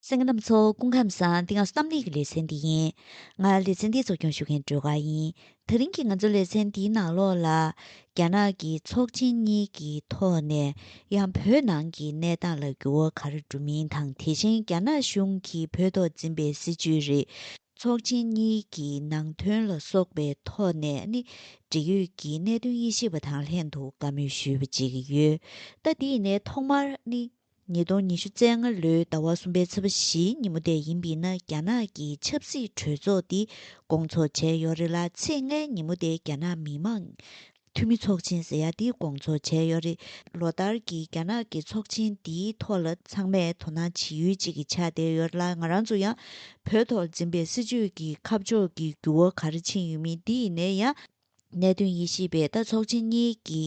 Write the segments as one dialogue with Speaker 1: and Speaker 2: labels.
Speaker 1: སེང་གེ་རྣམས་ཚོ་སྐུ་ཁམས་བཟང་འདི་ང་ཚོ་གཏམ་གླེང་གི་ལེ་ཚན་འདི་ཡིན། ང་ལེ་ཚན་འདི་གཙོ་སྐྱོང་ཞུ་མཁན་སྒྲོལ་དཀར་ཡིན། ད་རིང་གི་ང་ཚོ་ལེ་ཚན་འདིའི་ནང་ལོགས་ལ། རྒྱ་ནག་གི་ཚོགས་ཆེན་གཉིས་ཀྱི་ཐོག་ནས་ཡང་བོད་ནང་གི་གནས་སྟངས་ལ་འགྱུར་བ་ག་རེ་འགྲོ་མིན་དང་དེ་བཞིན་རྒྱ་ནག་གཞུང་གིས་བོད་ཐོག་འཛིན་པའི་སྲིད་བྱུས་རིགས་ཚོགས་ཆེན་གཉིས་ཀྱི་ནང་དོན་ལ་སོགས་པའི་ཐོག་ནས་ནི་འབྲེལ་ཡོད་ཀྱི་གནད་དོན་དབྱེ་ཞིབ་པ་དང་ལྷན་དུ་བཀའ་མོལ་ཞུས་པ་བྱེད་ཀྱི་ཡོད། ད་འདི་ནས་ཐོག་མར་ནི། ཉིས་སྟོང་ཉི་ཤུ་ཚེས་ལྔ་ལོའི་ཟླ་བ་གསུམ་པའི་ཚོུད་པ་བཞིའི་ཉིན་མོ་དེ་ཡིན་པས་ན་རྒྱ་ནག་གི་ཆབ་སྲིད་གྲོས་ཚོགས་འདི་སྐོང་ཚོགས་བྱས་ཡོད་རེད་ལ་ཚེས་ལྔའི་ཉིན་མོ་དེ་རྒྱ་ནག་མི་མང་འཐུས་མི་ཚོགས་ཆེན་ཟེར་ཡ་འདི་སྐོང་ཚོགས་བྱས་ཡོད་རེད། ལོ་ལྟར་གྱི་རྒྱ་ནག་གི་ཚོགས་ཆེན་འདིའི་ཐོག་ལ་ཚང་མས་དོ་སྣང་བྱེད་ཡུལ་གཅིག་གི་ཆགས་བསྡད་ཡོད་རེད་ལ་ང་རང་ཚོ་ཡང་བོད་ཐོག་འཛིན་པའི་སྲིད་བྱུས་ཀྱི་ཁ་ཕྱོགས་ཀྱི་འགྱུར་བ་ག་རེ་ཕྱིན་ཡོད་མིན་འདི་ཡིན་ནའི་ཡང་གནད་དོན་ཡེ་ཤེས་པའི་རྟ་ཚོགས་ཆེན་གཉིས་ཀྱི་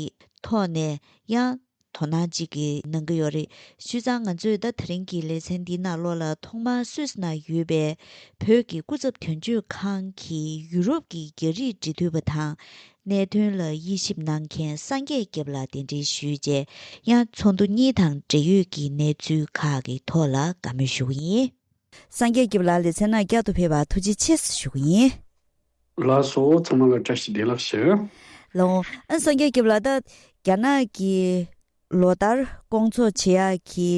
Speaker 1: ཐོག་ནས་ཡང་དོ་སྣང་གཅིག་གིས་གནང་གི་ཡོད་རེད། སུས་ཙང་ང་ཚོས་ཟླ་དེ་རིང་གི་ལེ་ཚན་འདི་ནང་ལོགས་ལ་ཐོག་མར་སུད་ན་ཡོད་པའི་བོད་ཀྱི་སྐུ་ཚབ་དོན་གཅོད་ཁང་གིས་ཡུ་རོབ་ཀྱི་རྒྱ་རིགས་འབྲེལ་མཐུད་པ་དང་གནད་དོན་ལ་དབྱེ་ཞིབ་གནང་མཁན་སངས་རྒྱས་སྐྱབས་ལ་གདན་འདྲེན་ཞུས་རྗེས་ཡང་ཚོགས་འདུ་གཉིས་དང་འབྲེལ་ཡོད་ཀྱི་གནས་ཚུལ་ཁག་གི་ཐོག་ལ་དགའ་མོས་ཞུ་གི་ཡིན། སངས་རྒྱས་སྐྱབས་ལ་ལེ་ཚན་ནང་བསྐྱར་དུ་ཕེབས་པར་ཐུགས་རྗེ་ཆེ་ཞུ་གི་ཡིན། ལ་སོགས་
Speaker 2: ཚང་མ་ལ་བཀྲ་ཤིས་བདེ་ལགས་ཞུ། ལོ་ངོ་ཨ་
Speaker 1: སངས་རྒྱས་བརྒྱབ་ལ་ད་རྒྱ་ནག་གི་ལོ་ལྟར་སྐོང་འཚོགས་བྱེད་ཡག་གི་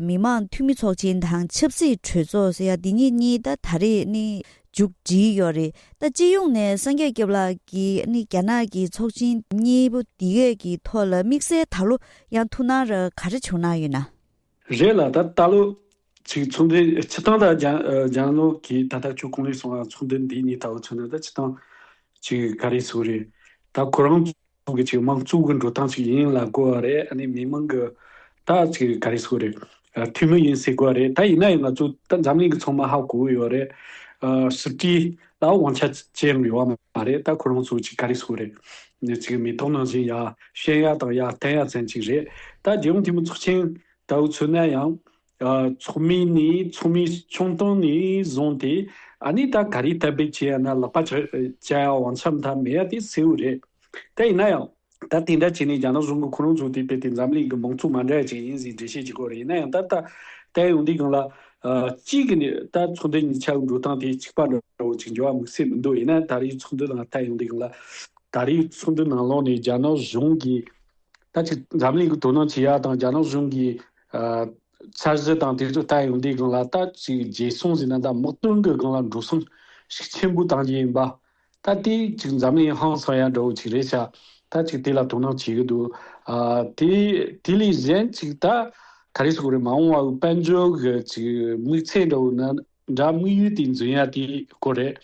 Speaker 1: མི་དམངས་འཐུས་མི་ཚོགས་ཆེན་དང་ཆབ་སྲིད་གྲོས་ཚོགས་ཟེར་ཡག་འདི་གཉིས་གཉིས་ད་ད་རེས་ནི་འཇུག་བསྒྲིལ་ཡོད་རེད་ད་སྤྱི་ཡོངས་ནས་སངས་རྒྱས་བརྒྱབ་ལགས་ཀྱི་ནི་རྒྱ་ནག་གི་ཚོགས་ཆེན་གཉིས་པོ་འདི་གས་ཀྱི་ཐོག་ལ་དམིགས་བསལ་ད་ལོ་ཡང་ཐུགས་སྣང་ར་ག་རེ་བྱུང་གནང་ཡོད་ན། རེད་
Speaker 2: ལ་ད་ད་ལོ་ཚིག་མཚུངས་འདི་ཆི་ཏང་དང་ལྗང་ནོ་གིས་ད་ལྟ་ཁྱོད་གང་ལས་སོང་ཨ་མཚུངས་འདི་འདི་གཉིས་ལྟ་བུ་མཚོན་ན་ད་ཆི་ཏང་གཅིག་ག་རེ་སུ་རེད་ད་ཁོ་རང་ཚོ་གི་ཅིག་དམངས་གཙོ་གི་འགྲོ་སྟངས་ཅིག་ཡིན་ལ་དགོས་བ་རེད་ཨ་ནི་མི་མང་གི་ད་ཅིག་ག་རེ་སུ་རེད་འཐུས་མི་ཡིན་ཟེར་དགོས་བ་རེད་ད་ཡིན་ན་ཡང་ང་ཚོ་ད་འཛམ་གླིང་གི་ཚོང་མ་ཧ་གོ་གི་ཡོད་རེད་སྲིད་ཀྱི་ད་དབང་ཆ་ཅི་ཡང་ཡོད་བ་མ་རེད་ད་ཁོ་རང་ཚོ་ཅིག་ག་རེ་སུ་རེད་ནས་ཅིག་མི་ཐོག་ནང་བཞིན་ཡ་བཤན་ཡ་དང་ཡ་བསྟན་ཡ་ཚན་ཅིག་རེད་ད་རྒྱལ་ཡོངས་འཐུས་མི་ཚོགས་ཆེན་ད་བུ་ཚོ་ན་ཡང། ཚོགས་མི་ནི་ཚོགས་མི་ཆུང་སྟོང་ནས་བཟུང་སྟེ། ཨ་ནི་ད་ག་རེ་ལྟ་བུས་བྱས་ཡ་ན་ལག་པ་བྱ་བྱ་ཡ་བང་ཆ་མཐའ་མེད་ཡ་དེ་སེའུ་རེད། ད་ཡིན་ན་ཡང། ད་དེ་འདྲ་བྱས་ནས་རྒྱ་ནག་གཞུང་གི་ཁོ་རང་ཚོ་དེ་བལྟས་ཏེ་འཛམ་གླིང་གི་མང་ཚོགས་མ་འདྲ་ཅན་ཡིན་ཟེར་འགྲེལ་བཤད་བྱེད་དགོས་རེད་ཡིན་ན་ཡང་ད་ལྟ་བལྟས་ཡོང་དུས་གང་ལ། གཅིག་གིས་ནི་ད་ཚོགས་འདུ་གཉིས་ཆ་གི་འགྲོ་སྟངས་དེ་གཅིག་པ་འདྲ་བོ་ཅིག་འབྱོར་བ་དམིགས་བསལ་མི་འདུག་ཡིན་ན་ད་རེའི་ཚོགས་འདུ་ནང་བལྟས་ཡོང་དུས་གང་ལ། ད་རེའི་ཚོགས་འདུ་ནང་ལོགས་ནས་རྒྱ་ནག་གཞུང་གིས། ད་ཆ་འཛམ་གླིང་གི་དོ་སྣང་བྱེད་ཡག་དང་རྒྱ་ནག་གཞུང་གིས་འཆར་གཞི་དང་དེ་ཚོ་ལྟ་ཡོང་དུས་སྒང་ལ་ལྟ་ཅི་རྗེས་སོང་ཟེར་ན་ད་དམག་དོན་གྱི་སྒང་ལ་འགྲོ་སོང་ཤུགས་ཆེན་པོ་བཏང་རྒྱུ་ཡིན་པ། ད་དེ་གཅིག་འཛམ་གླིང་ཧང་སང་ཡ་འདྲ་བོ་ཅིག་རེད་ཤག་ད་ཅིག་དེ་ལ་དོ་སྣང་བྱེད་ཀྱི་འདུག་དེ་དེ་ལས་གཞན་ཅིག་ད་ག་རེ་ཟོ་གི་རེད་མ་འོངས་བར་དཔལ་འབྱོར་གྱི་ཅིག་དམིགས་ཚད་འདྲ་བོ་ནི་འདྲ་དམིགས་ཡུལ་དེ་འཛིན་ཡག་དེའི་སྐོར་རེད།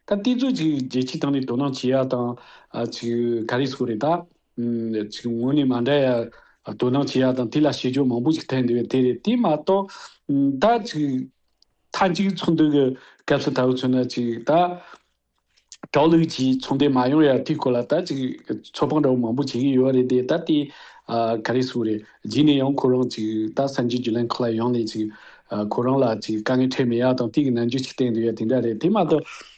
Speaker 2: ད་དེ་ཚོ་ཅིག་རྒྱལ་སྤྱིའི་སྟེང་ནས་དོ་སྣང་བྱེད་ཡག་དང་ཅིག་ག་རེ་ཟོ་གི་རེད་ད། ཚིག་ངོ་ནས་མ་འདྲ་ཡ། དོ་སྣང་བྱེད་ཡ་དང་དེ་ལ་བྱེད་སྦྱོར་མང་པོ་ཞིག་ཐལ་འདི་བས་དེ་རེད་དེ་མ་གཏོགས། ད་ཅིག། མཐའ་གཅིག་ཚོང་དོན་གྱི་སྐབས་སུ་ད་བུ་ཚོ་ན་ཅིག་ད། གྲོགས་ལུགས་ཀྱིས་ཚོང་དོན་མ་ཡོང་ཡ་དེའི་སྐོར་ལ་ད་ཅིག་ཚོད་དཔང་འདྲ་བོ་མང་པོ་བྱེད་ཀྱི་ཡོད་རེད་དེ་ད་དེ། ག་རེ་སུ་རེད་རྗེས་ནས་ཡང་ཁོ་རང་ཅིག་ད་བསམ་གྱི་རྒྱུ་ལན་ཁོ་ལ་ཡོང་ནས་ཅིག། ཁོ་རང་ལ་ཅིག་དཀའ་ངལ་འཕྲད་མེད་ཡ་དང་དེ་གི་ནང་འཇུག་ཅིག་བསྟན་འདི་བས་དེ་འདྲ་རེད་དེ་མ་གཏོགས།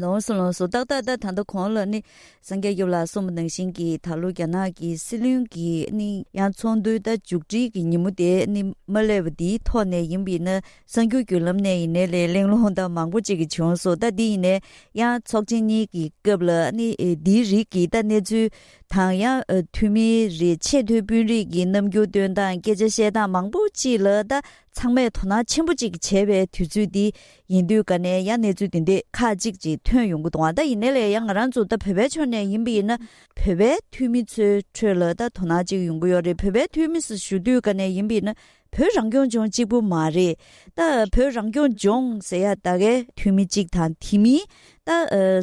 Speaker 2: ལོངས་སུ་ལོངས་སུ་
Speaker 1: རྟག་རྟག་རྟག་ད་ལྟ་གོང་ལ་ནི་སངས་རྒྱས་ཀྱི་ལ་གསུམ་པོ་ནང་བཞིན་གྱི་ད་ལོ་རྒྱ་ནག་གི་སྲིད་བློན་གྱི་ནི་ཡང་ཚོགས་འདུའི་ཟླ་མཇུག་སྒྲིལ་གྱི་ཉིན་མོ་དེ་ནི་མ་སླེབས་པ་འདིའི་ཐོག་ནས་ཡིན་པས་ན་གསར་འགྱུར་བརྒྱུད་ལམ་ནས་ཡིན་ནའི་ལས་གླེང་སློང་ད་མང་པོ་ཅིག་གི་བྱུང་སོང་ད་འདི་ཡིན་ནའི་ཡང་ཚོགས་ཆེན་གཉིས་ཀྱི་སྐབས་ལ་ནི་འདིའི་རིགས་ཀྱི་ད་གནས་ཚུལ་དང་ཡང་འཐུས་མི་རེ་ཆེ་མཐོའི་དཔོན་རིགས་ཀྱི་རྣམ་འགྱུར་སྟོན་སྟངས་སྐད་ཆ་བཤད་སྟངས་མང་པོ་ཅིག་ལ་ད་ཚང་མས་དོ་སྣང་ཆེན་པོ་ཅིག་བྱེད་པའི་དུས་ཚོད་འདི་ཡིན་དུས་ག་ནས་ཡང་གནས་ཚུལ་དེ་འདི་ཁ་ཅིག་ཅིག་ཐོན་ཡོང་གི་འདུག་ད་ཡིན་ན་ལས་ཡ་ང་རང་ཚོ་ད་བོད་པའི་ཕྱོགས་ནས་ཡིན་པ་ཡིན་ན་བོད་པའི་འཐུས་མི་ཚོའི་ཁྲོད་ལ་ད་དོ་སྣང་ཅིག་ཡོང་གི་ཡོད་རེད་བོད་པའི་འཐུས་མི་སུ་ཞུ་དུས་ག་ནས་ཡིན་པ་ཡིན་ན་བོད་རང་སྐྱོང་ལྗོངས་གཅིག་པུ་མ་རེད་ད་བོད་རང་སྐྱོང་ལྗོངས་ཟེར་ཡ་ད་གའི་འཐུས་མི་གཅིག་དང་དེ་མིན་ད་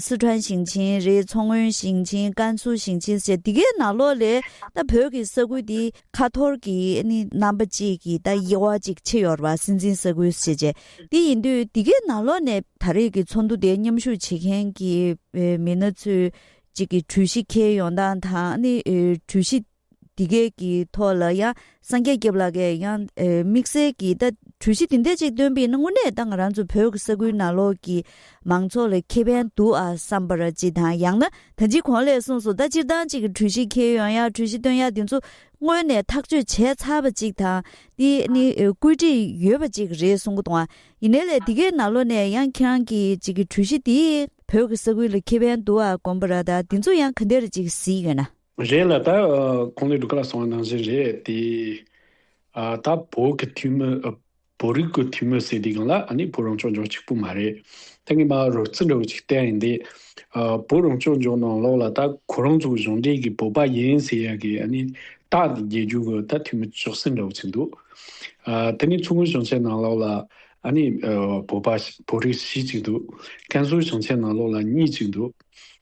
Speaker 1: སི་ཁྲོན་ཞིང་ཆེན་རེད་མཚོ་སྔོན་ཞིང་ཆེན་ཀན་སུའུ་ཞིང་ཆེན་ཟེར་ཡ་འདི་གའི་ནང་ལོགས་ལས་ད་བོད་ཀྱི་ས་ཁུལ་འདི། ཁ་ཐོར་གྱི་ནི་རྣམ་པ་གཅིག་གིས་ད་དབྱེ་བ་གཅིག་ཕྱེ་ཡོར་བ་སྲིད་འཛིན་ས་ཁུལ་ཞེས་བྱ། དེ་ཡིན་དུས་འདི་གའི་ནང་ལོགས་ནས་ད་རེས་ཀྱི་ཚོགས་འདུ་དེ་མཉམ་ཞུགས་བྱེད་མཁན་གྱི་མི་སྣ་ཚོས་གཅིག་གི་གྲོས་གཞི་འཁྱེར་ཡོང་སྟངས་དང་ནི་གྲོས་གཞི་འདི་གའི་གི་ཐོག་ལ་ཡང་སངས་རྒྱས་སྐྱབས་ལགས་ཀྱིས་ཡང་དམིགས་བསལ་གྱིས་ད་གྲོས་གཞི་འདི་འད་ཅིག་བཏོན་པས་ན་དངོས་གནས་ད་ང་རང་ཚོ་བོད་ཀྱི་ས་ཁུལ་ནང་ལོགས་ཀྱི་མང་ཚོགས་ལ་ཁེ་ཕན་འདུག་ཨ་བསམ་པར་གྱིས་དང་ཡང་ན། ད་ཅི་གོང་ལས་གསུངས་སོ་ད་སྤྱིར་བཏང་གཅིག་གི་གྲོས་གཞི་འཁྱེར་ཡོང་ཡ་གྲོས་གཞི་བཏོན་ཡ་དེ་ཚོ་སྔོན་ནས་ཐག་གཅོད་བྱས་ཚར་བ་ཅིག་དང་དེ་ནི་བཀོད་སྒྲིག་ཡོད་པ་ཅིག་རེད་གསུང་གི་དང་བ་ཡིན་ནའི་ལས་དེ་གའི་ནང་ལོ་ནས་ཡང་ཁྱེད་རང་གི་གཅིག་གི་གྲོས་གཞི་དེ་བོད་ཀྱི་ས་ཁུལ་ལ་ཁེ་ཕན་འདུ་བ་གོམ་པ་ར་ད་དེ་ཚོ་ཡང་ག་འདི་ར་ཅིག་གཟིགས་ཡོད་ན། རེད་ལ་ད་
Speaker 2: གོང་ལས་སྒྲུབ་ཁ་ལ་སོང་བ་ནང་བཞིན་རེད་དེ། ད་བོད་ཀྱི་འཐུས་མི་བོད་རིགས་ཀྱི་འཐུས་མི་ཟེར་དུས་གང་ལ་ནི་བོད་རང་སྐྱོང་ལྗོངས་གཅིག་པུ་མ་རེད། ད་ངས་མ་རོལ་རྩིས་འདྲ་བོ་ཅིག་བསྟན་ཡིན་དེ། བོད་རང་སྐྱོང་ལྗོངས་ནང་ལོགས་ལ་ད་ཁོ་རང་ཚོ་གཞུང་འབྲེལ་གྱི་བོད་པ་ཡིན་ཟེར་ཡག་གི་ནི་རྟགས་དེ་རྒྱལ་རྒྱུ་གི་ད་འཐུས་མི་ཅོག་ཙེ་འདྲ་བོ་ཅིག་འདུག། ད་ནི་མཚོ་སྔོན་ཞིང་ཆེན་ནང་ལོགས་ལ་ནི་བོད་པ་བོད་རིགས་བཞི་ཅིག་འདུག། ཀན་སུའུ་ཞིང་ཆེན་ནང་ལོགས་ལ་གཉིས་ཅིག་འདུག།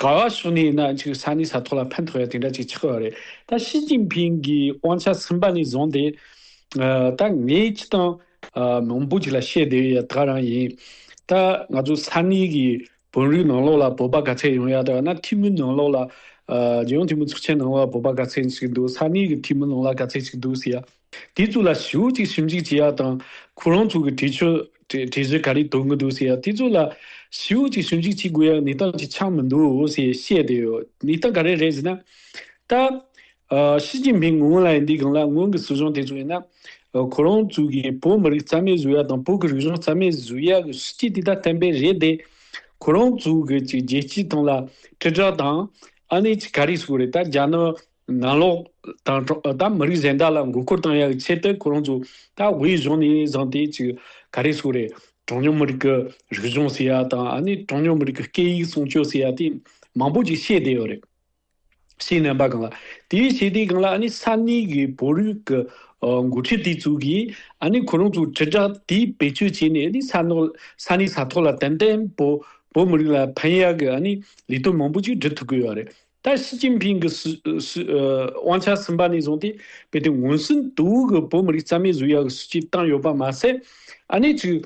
Speaker 2: ག་ག་སུ་ནས་ཡིན་ན་ཅིག་ས་ནི་ས་ཐོག་ལ་ཕན་ཐོགས་ཡ་དེ་འདྲ་ཅིག་ཆགས་ཡོད་རེད་ད་ཞི་ཅིན་ཕིན་གི་དབང་ཆ་ཚིམ་པ་ནས་བཟུང་སྟེ་ད་ངས་ཅི་དང་མང་པོ་ཅིག་ལ་བཤད་བསྡད་ཡ་ད་རང་ཡིན་ད་ང་ཚོ་ས་གནས་གི་བོན་རིགས་ནང་ལོགས་ལ་བོད་པ་ག་ཚད་ཡོང་ཡ་ད་ང་འཐུས་མི་ནང་ལོགས་ལ་རྒྱལ་ཡོངས་འཐུས་མི་ཚོགས་ཆེན་ནང་ལོགས་ལ་བོད་པ་ག་ཚད་ཅིག་འདུག་ས་གནས་གི་འཐུས་མི་ནང་ལ་ག་ཚད་ཅིག་འདུག་ཟེར་ཡ། དེའི་གཙུག་ལ་ཞུགས་གཅིག་ཞིམ་གཅིག་བྱེད་ཡག་དང། ཁོ་རང་ཚོ་གི་དྲི་ཆུ། དྲི་ཆུ་ག་རེ་དོར་གི་འདུག་ཟེར་ཡག་དེའི་གཙུག་ལ་ཞུགས་གཅིག་ཞིམ་གཅིག་བྱེད་དགོས་ཡག་ནི་ཏང་གི་ཆ་མི་འདུག་ཟེར་བཤད་དེ་ཡོད་ནི་ཏང་ག་རེ་རེད་ཟེར་ན། ད། ཞི་ཅིན་ཕིང་ངོས་ལ་ཡིན་དུས་གང་ལ་སྔོན་གི་སྲིད་གཞུང་དེ་ཚོ་ཡིན་ན། ཁོ་རང་ཚོ་གི་བོད་མི་རིགས་རྩ་མེད་བཟོ་ཡག་དང་བོད་ཀྱི་རིག་གཞུང་རྩ་མེད་བཟོ་ཡག་གི་སྲིད་སྤྱི་དེ་ད་བསྟན་པས་རེད་དེ། ཁོ་རང་ཚོ་གི་ཅིག་རྒྱལ་སྤྱིའི་སྟེང་ལ་དྲིལ་བསྒྲགས་དང། ཨ་ནི་ཅིག་ག་རེ་བྱེད་དགོས་རེད་ད་རྒྱ་ནག་ནང་ལོག་དང་ཐོག་དང་མི་རིགས་གཞན་དག་ལ་མགོ་སྐོར་བཏང་ཡག་ཆེད་དུ་ཁོ་རང་ཚོ་ད་དབུས་གཞུང་ནས་བཟང་སྟེ་ཅི་ག་རེ་སུ་རེད་གྲངས་ཉུང་མི་རིགས་ཀྱི་རིག་གཞུང་ཟེར་ཡག་དང་ཨ་ནི་གྲངས་ཉུང་མི་རིགས་ཀྱི་སྐད་ཡིག་སྲུང་སྐྱོབ་ཟེར་ཡག་དེ་མང་པོ་ཅིག་བཤད་བསྡད་ཡོད་རེད། བཤད་ནས་པ་གང་ལ་དེ་བྱས་དེ་གང་ལ་ཨ་ནི་ས་གནས་ཀྱི་བོད་རིགས་ཀྱི་མགོ་ཁྲིད་དེ་ཚོ་གིས་ཨ་ནི་ཁོ་རང་ཚོ་དྲིལ་བསྒྲགས་དེ་བེད་སྤྱོད་བྱས་ནས་ཨ་ནི་ས་ནོར་ས་གནས་ས་ཐོག་ལ་ཏན་ཏན་བོད་མི་རིགས་ལ་ཕན་ཡག་གི་ཨ་ནི་ལས་དོན་མང་པོ་ཅིག་སྒྲུབ་ཐུབ་ཀྱི་ཡོད་རེད། ད་ཞི་ཅིན་ཕིང་གི་དབང་ཆ་ཟིན་པ་ནས་བཟུང་སྟེ་བལ་དུ་ངོས་ཟིན་དུས་གི་བོད་མི་རིགས་རྩ་མེད་བཟོ་ཡག་གི་སྲིད་བྱུས་བཏང་ཡོད་པ་མ་ཟད། ཨ་ནེ་ཚོས་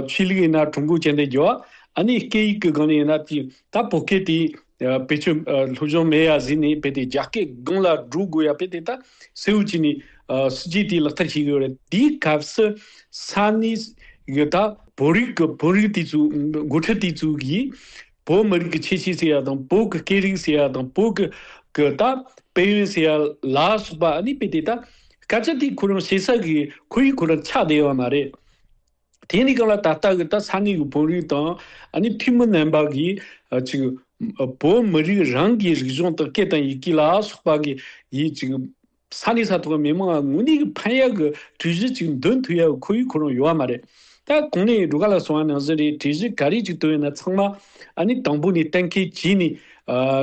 Speaker 2: ཆོས་ལུགས་ཡིན་ན་ཀྲུང་གོའི་སྤྱི་མཐའི་རྒྱལ་བ། ཨ་ནེ་སྐད་ཡིག་གི་སྒང་ནས་ཡིན་ན་དེ་ད་བོད་སྐད་དེ་བེད་སྤྱོད་ལྷོད་གཞུང་མེད་ཡ་ཟེར་ནས་བལ་དེ་རྒྱ་སྐད་སྒང་ལ་སྒྲོག་དགོས་ཡ་བལ་དེ་ད་སེ་འུ་ཅི་ནས་སྲིད་བྱུས་དེ་ལག་བསྟར་བྱེད་གི་ཡོད་རེད་དེའི་སྐབས་སུ་ས་གནས་ཡི་ད་བོད་རིགས་གི་བོད་རིགས་དེ་ཚོའི་འགོ་ཁྲིད་དེ་ཚོ་གིས། བོད་མི་རིགས་ཀྱི་ཆེས་ཆེའི་སྲས་ཡག་དང་བོད་ཀྱི་སྐད་རིགས་སྲས་ཡག་དང་བོད་ཀྱི་ཀྱི་ད་དཔལ་ཡོན་སྲས་ཡག་ལ་སོགས་པ་ནི་དཔེ་དེ་ད་སྐད་ཆ་དེ་ཁོ་རང་བྱེད་ས་གི་ཁོ་ཡི་ཁོ་རང་ཆགས་བསྡད་ཡོད་མ་རེད། དེ་ནི་གང་ལ་ད་ལྟ་གི་ད་ས་གནས་ཀྱི་བོད་རིགས་དང་ནི་འཐུས་མི་རྣམས་པ་གི་ཅིག་བོད་མི་རིགས་རང་གི་རིག་གཞུང་དང་སྐད་དང་ཡི་གེ་ལ་སོགས་པ་གི་ཡི་ཅིག་ས་གནས་ས་ཐོག་གི་མི་མང་ལ་དངོས་གནས་ཀྱི་ཕན་ཡག་གི་གྲོས་གཞི་གཅིག་འདོན་ཐུབ་ཡག་གི་ཁོར་ཡུག་ཁོ་རང་ཡོད་པ་མ་རེད། ད་གོང་ནས་འགྲོ་ག་ལ་སོང་བ་ནང་བཞིན་རེད་གྲོས་གཞི་ག་རེ་གཅིག་བཏོན་ཡོད་ན་ཚང་མ་ཨ་ནི་དང་པོ་ནས་གཏན་འཁེལ་བྱས་ནས་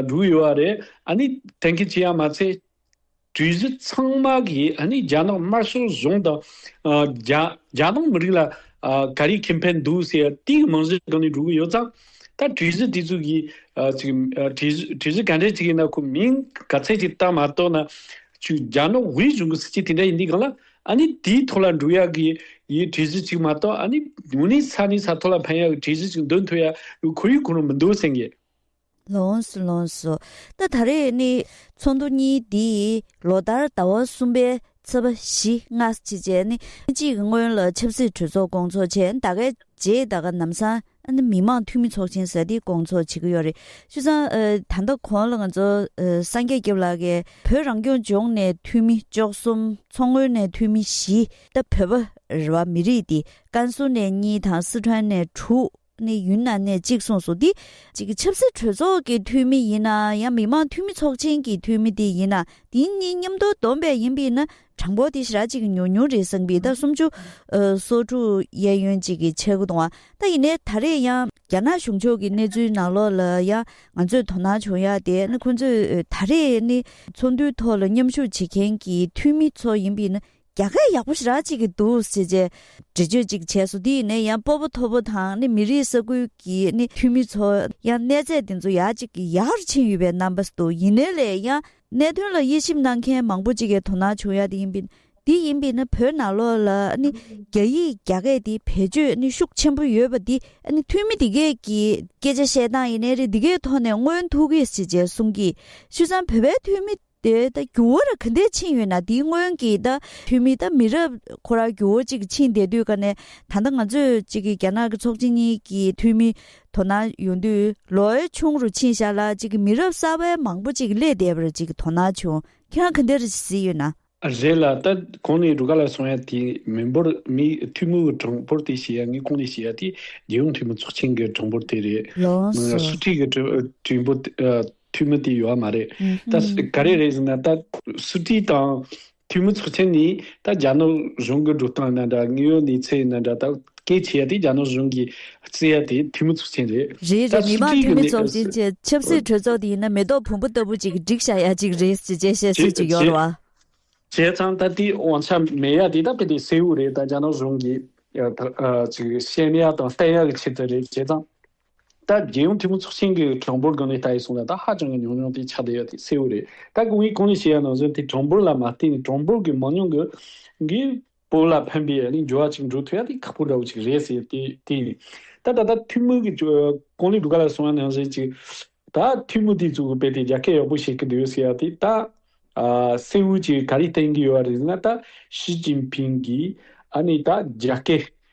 Speaker 2: འགྲོ་གི་ཡོད་པ་རེད། ཨ་ནི་གཏན་འཁེལ་བྱས་ཡ་མ་ཚད་གྲོས་གཞི་ཚང་མ་གིས་ཨ་ནི་རྒྱ་ནག་དམར་ཤོག་གཞུང་དང། རྒྱ་ནག་མི་རིགས་ལ་ག་རེ་ཁེ་ཕན་འདུག་ཟེར་ཡ་དེའི་མིང་གཞི་བསྒྲགས་ནས་འགྲོ་གི་ཡོད་ཙང། ད་གྲོས་གཞི་དེ་ཚོ་གི་གྲོས་གཞི་ག་འདྲའི་ཞིག་ཡིན་ན་ཁོ་མིང་ག་ཚད་ཅིག་བཏགས་མ་གཏོགས་ན། ཆུ་རྒྱ་ནག་དབུས་གཞུང་གི་སྲིད་སྤྱི་དེ་འདྲ་ཡིན་དུས་གང་ལ་ཨ་ནི་དེའི་ཐོག་ལ་འགྲོ་ཡག་གི་ཡི་གྲོས་གཞི་ཞིག་མ་གཏོགས་ཨ་ནི་ངོ་ནི་ས་ནས་ས་ཐོག་ལ་འཕེན་ཡག་གི་གྲོས་གཞི་ཞིག་འདོན་ཐུབ་ཡག་གི་ཁོར་ཡུག་ཁོ་ན་མི་འདུག་སེང་གེ། ལོངས་
Speaker 1: སུ་ལོངས་སོ། ད་ད་རེས་ནི་ཚོགས་འདུ་གཉིས་འདིས་ལོ་ལྟར་ཟླ་བ་གསུམ་པའི་ཚོ་པ་བཞི་ལྔ་ཅི་བྱས་ནི་གཅིག་སྔོན་ལ་ཆབ་སྲིད་གྲོས་ཚོགས་སྐོང་ཚོགས་བྱས་ད་གའི་རྗེས་ད་ག་ནམ་སང་མི་དམངས་འཐུས་མི་ཚོགས་ཆེན་ཟེར་དེ་སྐོང་ཚོགས་བྱེད་ཀྱི་ཡོད་རེད་ཆུ་ཚང་ད་ལྟ་གོང་ལ་ང་ཚོ་སངས་རྒྱས་སྐྱབས་ལགས་ཀྱིས་བོད་རང་སྐྱོང་ལྗོངས་ནས་འཐུས་མི་བཅོ་གསུམ་མཚོ་སྔོན་ནས་འཐུས་མི་བཞི་ད་བོད་པ་རེ་བ་མི་རིགས་དེ་ཀན་སུའུ་ནས་གཉིས་དང་སི་ཁྲོན་ནས་དྲུག། ནས་ཡུན་ནན་ནས་གཅིག་གསུངས་སོ་འདི་གཅིག་གི་ཆབ་སྲིད་གྲོས་ཚོགས་ཀྱི་འཐུས་མི་ཡིན་ན་ཡང་མི་མང་འཐུས་མི་ཚོགས་ཆེན་གྱི་འཐུས་མི་དེ་ཡིན་ན་དེ་གཉིས་མཉམ་དུ་བསྡོམས་པས་ཡིན་པས་ན་གྲངས་འབོར་དེ་ཞེ་དྲག་གཅིག་གི་ཉུང་ཉུང་རེད་གསུངས་པས་ད་སུམ་ཅུ་སོ་དྲུག་གཡས་གཡོན་གཅིག་གི་ཆ་དགུ་དང་བ་ད་ཡིན་ནས་ད་རེས་ཡང་རྒྱ་ནག་གཞུང་ཕྱོགས་ཀྱི་གནས་ཚུལ་ནང་ལོགས་ལ་ཡང་ང་ཚོས་དོ་སྣང་བྱུང་ཡག་དེ་ནི་ཁོང་ཚོས་ད་རེས་ནི་ཚོགས་འདུའི་ཐོག་ལ་མཉམ་ཞུགས་བྱེད་མཁན་གྱི་འཐུས་མི་ཚོ་ཡིན་པས་ན་རྒྱ་སྐད་ཡག་པོ་ཞིག་རག་བྱེད་ཀྱི་འདུག་ཟེར་བྱས། འགྲེལ་བརྗོད་ཅིག་བྱས་སོ་དེ་ཡིན་ནས་ཡང་སྤོ་བོ་ཐོ་བོ་དང་ནི་མི་རིགས་ས་ཁུལ་གྱི་ནི་འཐུས་མི་ཚོ་ཡང་གནས་ཚད་དེ་ཚོ་ཡག་ཅིག་གི་ཡག་རུ་ཕྱིན་ཡོད་པའི་རྣམ་པ་འདུག་ཡིན་ནས་ལས་ཡང་གནད་དོན་ལ་དབྱེ་ཞིབ་གནང་མཁན་མང་པོ་ཅིག་གི་དོ་སྣང་བྱུང་ཡག་དེ་ཡིན་པས་དེ་ཡིན་པས་ནི་བོད་ནང་ལོགས་ལ་ནི་རྒྱ་ཡིག་རྒྱ་སྐད་དེ་བེད་སྤྱོད་ནི་ཤུགས་ཆེན་པོ་ཡོད་པ་དེ་ནི་འཐུས་མི་དེ་གས་ཀྱི་སྐད་ཆ་བཤད་སྟངས་ཡིན་ནས་རེད་དེ་གས་ཐོག་ནས་མངོན་ཐུག་གིས་ཟེར་བྱས་གསུང་གིས་ཤུ་ཚང་བོད་པའི་འཐུས་མི། དེ་ད་རྒྱུ་བོ་ར་ག་འདས་ཕྱིན་ཡོད་ན་དེའི་སྔོན་གྱི་ད་ཐུ་མི་ད་མི་རབས་ཁོ་ར་རྒྱུ་བོ་ཅིག་ཕྱིན་བསྡད་དུས་ཀ་ནས་ད་ད་ང་ཚོས་ཅིག་གི་རྒྱ་ནག་གི་ཚོགས་ཆེན་གཉིས་ཀྱི་ཐུ་མི་དོ་ན་ཡོང་དུས་ལོ་ཨེ་ཆུང་རུ་ཕྱིན་བཞག་ལ་ཅིག་གི་མི་རབས་གསར་བས་མང་པོ་ཅིག་སླེད་བསྡད་པར་ཅིག་དོ་ན་བྱུང་ཁྱེད་རང་ག་འདས་ར་གཟིགས་ཡོད་ན། རེད་ལ་ད་
Speaker 2: གང་ནས་རུ་ག་ལ་སོང་ཡ་དེ་མི་འབོར་མི་ཐུ་མི་བོའི་གྲངས་འབོར་དེ་བྱེད་ཡ་ངས་གང་ནས་བྱེད་ཡ་དེ་རྒྱལ་ཡོངས་ཐུ་མི་ཚོགས་ཆེན་གྱི་གྲངས་འབོར་དེ་རེད་ལོངས་སུ། སུ་ཁྲིད་གྱི་གྲི་འབོར་འཐུས་མི་དེ་ཡོད་བ་མ་རེད་ད། ག་རེ་རེད་ཟེར་ན་ད། སུ་ཀྲི་དང་འཐུས་མི་ཚོགས་ཆེན་ནི་ད་རྒྱ་ནག་གཞུང་གི་འགྲོ་སྟངས་ན་འདྲ་ངེས་ཡོད་ནི་ཚེ་ན་འདྲ་ད་སྐད་ཆེ་ཡ་དེ་རྒྱ་ནག་གཞུང་གི་རྩེ་ཡ་དེ་འཐུས་མི་ཚོགས་ཆེན་རེད་རེད་རེད་ད་མི་སུ་མང་ཀྲི་འཐུས་
Speaker 1: མི་ཚོགས་ཆེན་གྱི་ཆབ་སྲིད་གྲོས་ཚོགས་དེ་ཡིན་ན་མེ་ཏོག་བོང་བུ་ལྟ་བུ་ཅིག་བསྒྲིགས་བྱ་ཡ་ཅིག་རེད་ཅེས་བཅད་བཤད་སུས་ཀྱི་ཡོད་རེད་བ། བྱས་ཙང་ད་
Speaker 2: དེ་དབང་ཆ་མེད་ཡ་དེ་ད་དཔེ་དེ་སེའུ་རེད་ད་རྒྱ་ནག་གཞུང་གི་ཅིག་བཤད་ཡ་དང་བསྟན་ཡ་གི་ཆེད་དུ་རེད་བྱས་ཙང། ད་རྒྱལ་ཡོངས་འཐུས་མི་ཚོགས་ཆེན་གྱི་གྲངས་འབོར་དགོན་ལས་ལྟ་ཡི་སོང་ལ་ད་ཧ་ཅང་གི་ཉུང་ཉུང་དེ་ཆགས་བསྡད་ཡོད་དེ་གསལ་བོ་རེད་ད་སྐུ་ངོས་གང་ནས་བཤད་ཡ་ན་གཟོད་དེ་གྲངས་འབོར་ལ་མ་བལྟས་ནས་གྲངས་འབོར་གྱི་མང་ཉུང་གི་གི་བོ་ལ་ཕན་པའི་ནི་འགྱུར་བ་ཅིག་འགྲོ་ཐུབ་ཡ་དེ་ཁག་པོ་འདྲ་བོ་ཅིག་རེད་ཟེར་དེ་དེ་ཡིན་ད་ད་ལྟ་འཐུས་མི་གི་གང་ལས་སྒྲུབ་ག་ལ་སོང་ཡ་ན་གཟོད་ཅིག་ད་འཐུས་མི་དེ་ཚོ་གི་དཔེ་དེ་རྒྱ་སྐད་ཡག་པོ་བཤད་གི་འདུག་ཟེར་ཡ་དེ་ད་གསལ་བོ་ཅིག་ག་རེ་བསྟན་གི་ཡོད་རེད་ན་ད་ཞི་ཅིན་ཕིན་གིས་ཨ་ནི་ད་རྒྱ་སྐད་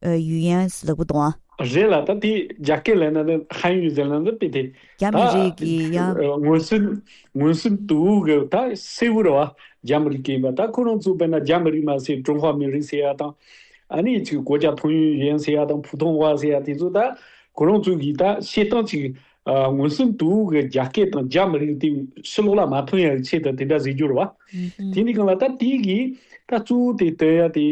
Speaker 1: ཡུས་ཡན་ལག་པོ་དང། རེད་ལ་ད་དེ་
Speaker 2: རྒྱ་སྐད་ལས་ན་ནི་ཧན་ཡུས་ཟེར་ལན་ནི་དཔེ་དེ་རྒྱ་མི་རིགས་ཀྱི་
Speaker 1: ཡང། ངོས་སུ་ངོས་
Speaker 2: སུ་དུ་བུ་གི་ད་སེ་བུ་ར་བ་རྒྱ་མི་རིགས་ཀྱི་ཡིན་པ་ད་ཁོ་རང་ཚོ་དཔེ་ན་རྒྱ་མི་རིགས་མ་ཟེར་ཀྲུང་ཧྭ་མི་རིགས་ཟེར་ཡ་དང། ཨ་ནེ་ཚོས་གོ་རྒྱ་ཐོང་ཡུས་ཡན་ཟེར་ཡ་དང་ཕུ་ཐོང་བྷ་ཟེར་ཡ་དེ་ཚོ་ད་ཁོ་རང་ཚོ་གིས་ད་བཤད་སྟངས་ཅིག་ངོས་སུ་དུ་བུ་གི་རྒྱ་སྐད་དང་རྒྱ་མི་རིགས་དེ་ཕྱི་ལོག་ལ་མ་ཐོན་ཡ་གི་ཆེད་དུ་དེ་འདྲ་ཟེར་རྒྱུ་ར་བ། དེ་ནི་གང་ལ་ད་དེ་གིས་ད་གཙོ་བོ་དེ་དོན་ཡ་དེ་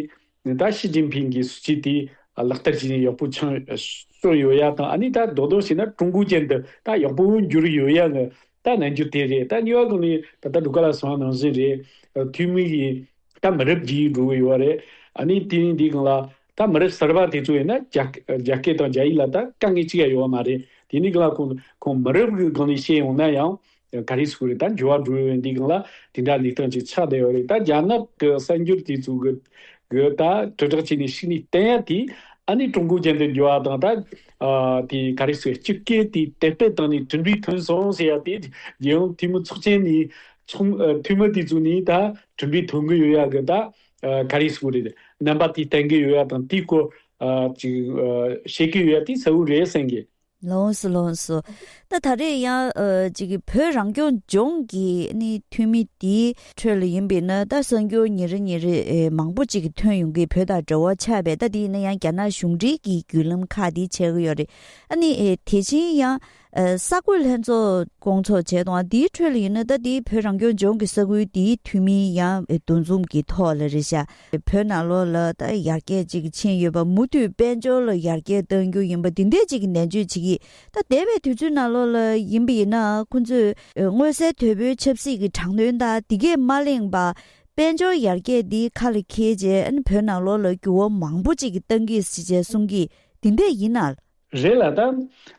Speaker 2: ད་ཞི་ཅིན་ཕིང་གིས་སྲིད་ཇུས་དེ་ལག་བསྟར་བྱས་ནས་ཡག་པོ་ཆང་བཅོ་ཡོད་ཡ་དང་ཨ་ནི་ད་རྡོག་རྡོག་བྱས་ན་ཀྲུང་གོའི་ཅན་དུ་ད་ཡག་པོ་འགྱུར་ཡོད་ཡ་ནི་ད་ནང་རྒྱུ་དེ་རེད་ད་གཉིས་བ་གོ་ནི་ད་ད་འགྲོ་ག་ལ་སོང་ཡ་ནང་བཞིན་རེད་འཐུས་མི་གིས་ད་མི་རབས་རྒྱས་འགྲོ་གི་ཡོད་རེད་ཨ་ནི་དེ་ནི་འདི་གང་ལ་ད་མི་རབས་གསར་པ་དེ་ཚོ་ཡིན་ན་རྒྱ་སྐད་དང་རྒྱ་ཡིག་ལ་ད་དཀའ་ངལ་གཅིག་ཡ་ཡོད་མ་རེད་དེ་ནི་གང་ལ་ཁོང་མི་རབས་གི་གང་ནས་བཤད་ཡོང་ན་ཡང་ག་རེ་ཟུག་རེད་ད་འགྱུར་བ་འགྲོ་འོས་འདུག་ལ་དེ་འདྲ་ལས་སྟངས་ཅིག་ཆགས་བསྡད་ཡོད་རེད་ད་རྒྱ་ནག་གི་གསར་འགྱུར་དེ་ཚོ་གི་གི་ད་དྲིལ་བསྒྲགས་བྱས་ནས་ཤི་ནས་བསྟན་ཡ་དེ་ཨ་ནི་ཀྲུང་གོ་རྒྱལ་འདི་འགྱུར་བ་དང་ད་དེ་ག་རེ་ཟུག་སྤྱི་སྐད་དེ་དད་པས་བཏང་ནས་དྲིན་པས་ཐོན་སོང་ཟེར་ཡ་དེ་རྒྱལ་ཡོངས་འཐུས་མི་ཚོགས་ཆེན་ནས་ཚོགས་འཐུས་མི་དེ་ཚོ་ནས་ད་དྲིན་པས་ཐོན་གི་ཡོད་ཡ་གི་ད་ག་རེ་ཟུག་རེད་རྣམ་པ་དེ་བསྟན་གི་ཡོད་ཡ་དང་དེའི་སྐོར་ཅིག་བཤད་གི་ཡོད་ཡ་དེ་གསལ་བོ་རེད་བསམ་གི་ལོངས་སུ་ལོངས་སུ།
Speaker 1: ད་ད་རེས་ཡང། བོད་རང་སྐྱོང་ལྗོངས་ཀྱི་ནི་འཐུས་མི་དེའི་ཁྲོད་ལ་ཡིན་པས་ན་ད་གསར་འགྱུར་ཉིན་རེ་ཉིན་རེ་མང་པོ་ཅིག་ཐོན་ཡོང་གི་བོད་དང་འབྲེལ་བ་ཆགས་པས་ད་དེ་ཡིན་ན་ཡང་རྒྱ་ནག་གཞུང་འབྲེལ་གྱི་བརྒྱུད་ལམ་ཁག་དེ་བྱེད་ཀྱི་ཡོད་རེད། ཨ་ནི་དེ་བཞིན་ཡང། ས་བགོས་ལྷན་ཚོགས་བསྐོང་ཚོགས་བྱས་དང་དེའི་ཁྲོད་ལ་ཡིན་ན་ད་དེ་བོད་རང་སྐྱོང་ལྗོངས་ཀྱི་ས་ཁུལ་དེའི་འཐུས་མི་ཡང་འདུ་འཛོམས་ཀྱི་ཐོག་ལ་རེད་ཤག་བོད་ནང་ལོ་ལ་ལྟར་ཡར་རྒྱས་ཅིག་ཕྱིན་ཡོད་པ་མུ་མཐུད་དཔལ་འབྱོར་ལ་ཡར་རྒྱས་གཏང་རྒྱུ་ཡིན་པ་འདི་འད་ཅིག་ནན་བརྗོད་བྱེད་ཀྱི་ད་འདས་པའི་དུས་ཚོད་ནང་ལོ་ལ་ཡིན་པ་ཡིན་ན་ཁོང་ཚོས་མངོན་གསལ་དོད་པོའི་ཆབ་སྲིད་ཀྱི་དྲང་དོན་དག་འདི་གས་མ་གླེང་པ་དཔལ་འབྱོར་ཡར་རྒྱས་འདི་ཁ་ལ་འཁེལ་རྗེས་བོད་ནང་ལོ་ལ་འགྱུར་བ་མང་པོ་ཅིག་གཏང་གི་སྲིད་ཅེས་གསུང་གི་འདི་འད་ཡིན་ན། རེད་ལ།
Speaker 2: ད་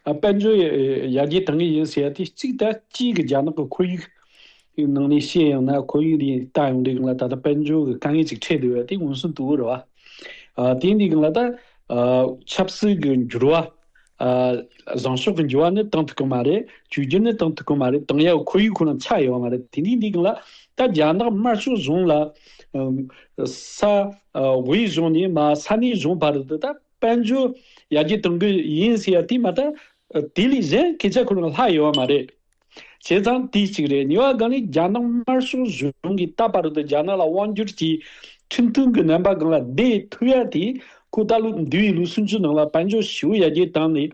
Speaker 2: དཔལ་འབྱོར་ཡར་རྒྱས་གཏང་གི་ཡིན་ཟེར་ཡ་དེ་གཅིག་ད་སྤྱིའི་གི་རྒྱ་ནག་གི་ཁོར་ཡུག་གི་ནང་ནས་བཤད་ཡང་ན་ཁོར་ཡུག་དེ་ལྟ་ཡོང་དུས་གི་ལ་ད་ད་དཔལ་འབྱོར་གི་དཀའ་ངལ་གཅིག་འཕྲད་འདུག་ཡ་དེ་འུན་སུན་དུ་རུ་བ། དེ་འདི་གི་ལ་ད་ཆབ་སྲིད་གི་འགྱུར་བ། བཟང་ཕྱོགས་གི་འགྱུར་བ་ནི་གཏང་ཐུབ་གི་མ་རེད་བཅོས་སྒྱུར་ནི་གཏང་ཐུབ་གི་མ་རེད་གཏང་ཡ་ཁོར་ཡུག་ཁོ་ན་ཆགས་ཡོང་བ་མ་རེད་དེ་འདི་འདི་གི་ལ་ད་རྒྱ་ནག་དམར་ཕྱོགས་གཞུང་ལ། ས་དབུས་གཞུང་ནས་མ་ས་གནས་གཞུང་བར་དུ་ད། དཔལ་འབྱོར་ཡར་རྒྱས་གཏོང་གི་ཡིན་ཟེར་ཡ་དེ་མ་གཏོགས་དེ་ལས་གཞན་སྐད་ཆ་ཁུར་ལ་ལྷག་ཡོད་བ་མ་རེད། བྱས་ཙང་དེ་གཅིག་རེད་ཉེ་བ་གང་ལས་རྒྱ་ནག་དམར་ཤོག་གཞུང་གིས་ད་བར་དུ་རྒྱ་ནག་ལ་དབང་བསྒྱུར་གྱིས་ཁྲིམས་མཐུན་གྱི་རྣམ་པ་གང་ལ་བསྡད་ཐུབ་ཡ་དེ་ཁོ་ད་ལོ་འདི་ཡི་ལོ་སུམ་ཅུ་ནང་ལ་དཔལ་འབྱོར་ཞི་བོ་ཡར་རྒྱས་བཏང་ནས།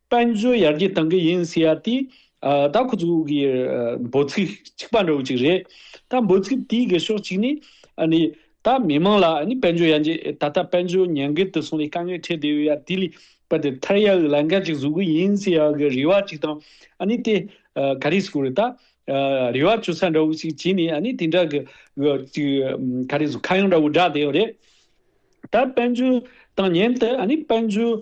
Speaker 2: དཔལ་འབྱོར་ཡར་རྒྱས་གཏང་གི་ཡིན་ཟེར་ཡ་དེ། ད་ཁོ་ཚོ་གི་འབོད་ཚིག་གཅིག་པ་འདྲ་བོ་ཅིག་རེད། ད་འབོད་ཚིག་དེའི་གི་ཕྱོགས་གཅིག་ནི། ད་མི་དམངས་ལ་དཔལ་འབྱོར་ཡར་རྒྱས་ད་ལྟ་དཔལ་འབྱོར་ཉེན་ཁའི་དུ་སོང་ལས་དཀའ་ངལ་འཕྲད་བསྡད་ཡོད་ཡ་དེ་ལས་པ་དེ་ཐར་ཡ་གི་ལས་འགན་གཅིག་བཟོ་གི་ཡིན་ཟེར་ཡ་གི་རེ་བ་གཅིག་དང། དེ་ག་རེ་ཟེར་ད། རེ་བ་བཅོལ་ས་འདྲ་བོ་ཅིག་བྱས་ནས་དེ་འདྲ་གི་ག་རེ་ཟེར་ཁ་གཡང་འདྲ་བོ་བསྒྲགས་བསྡད་ཡོད་རེད། ད་དཔལ་འབྱོར་བཏང་ཉེན་དུ་དཔལ་འབྱོར་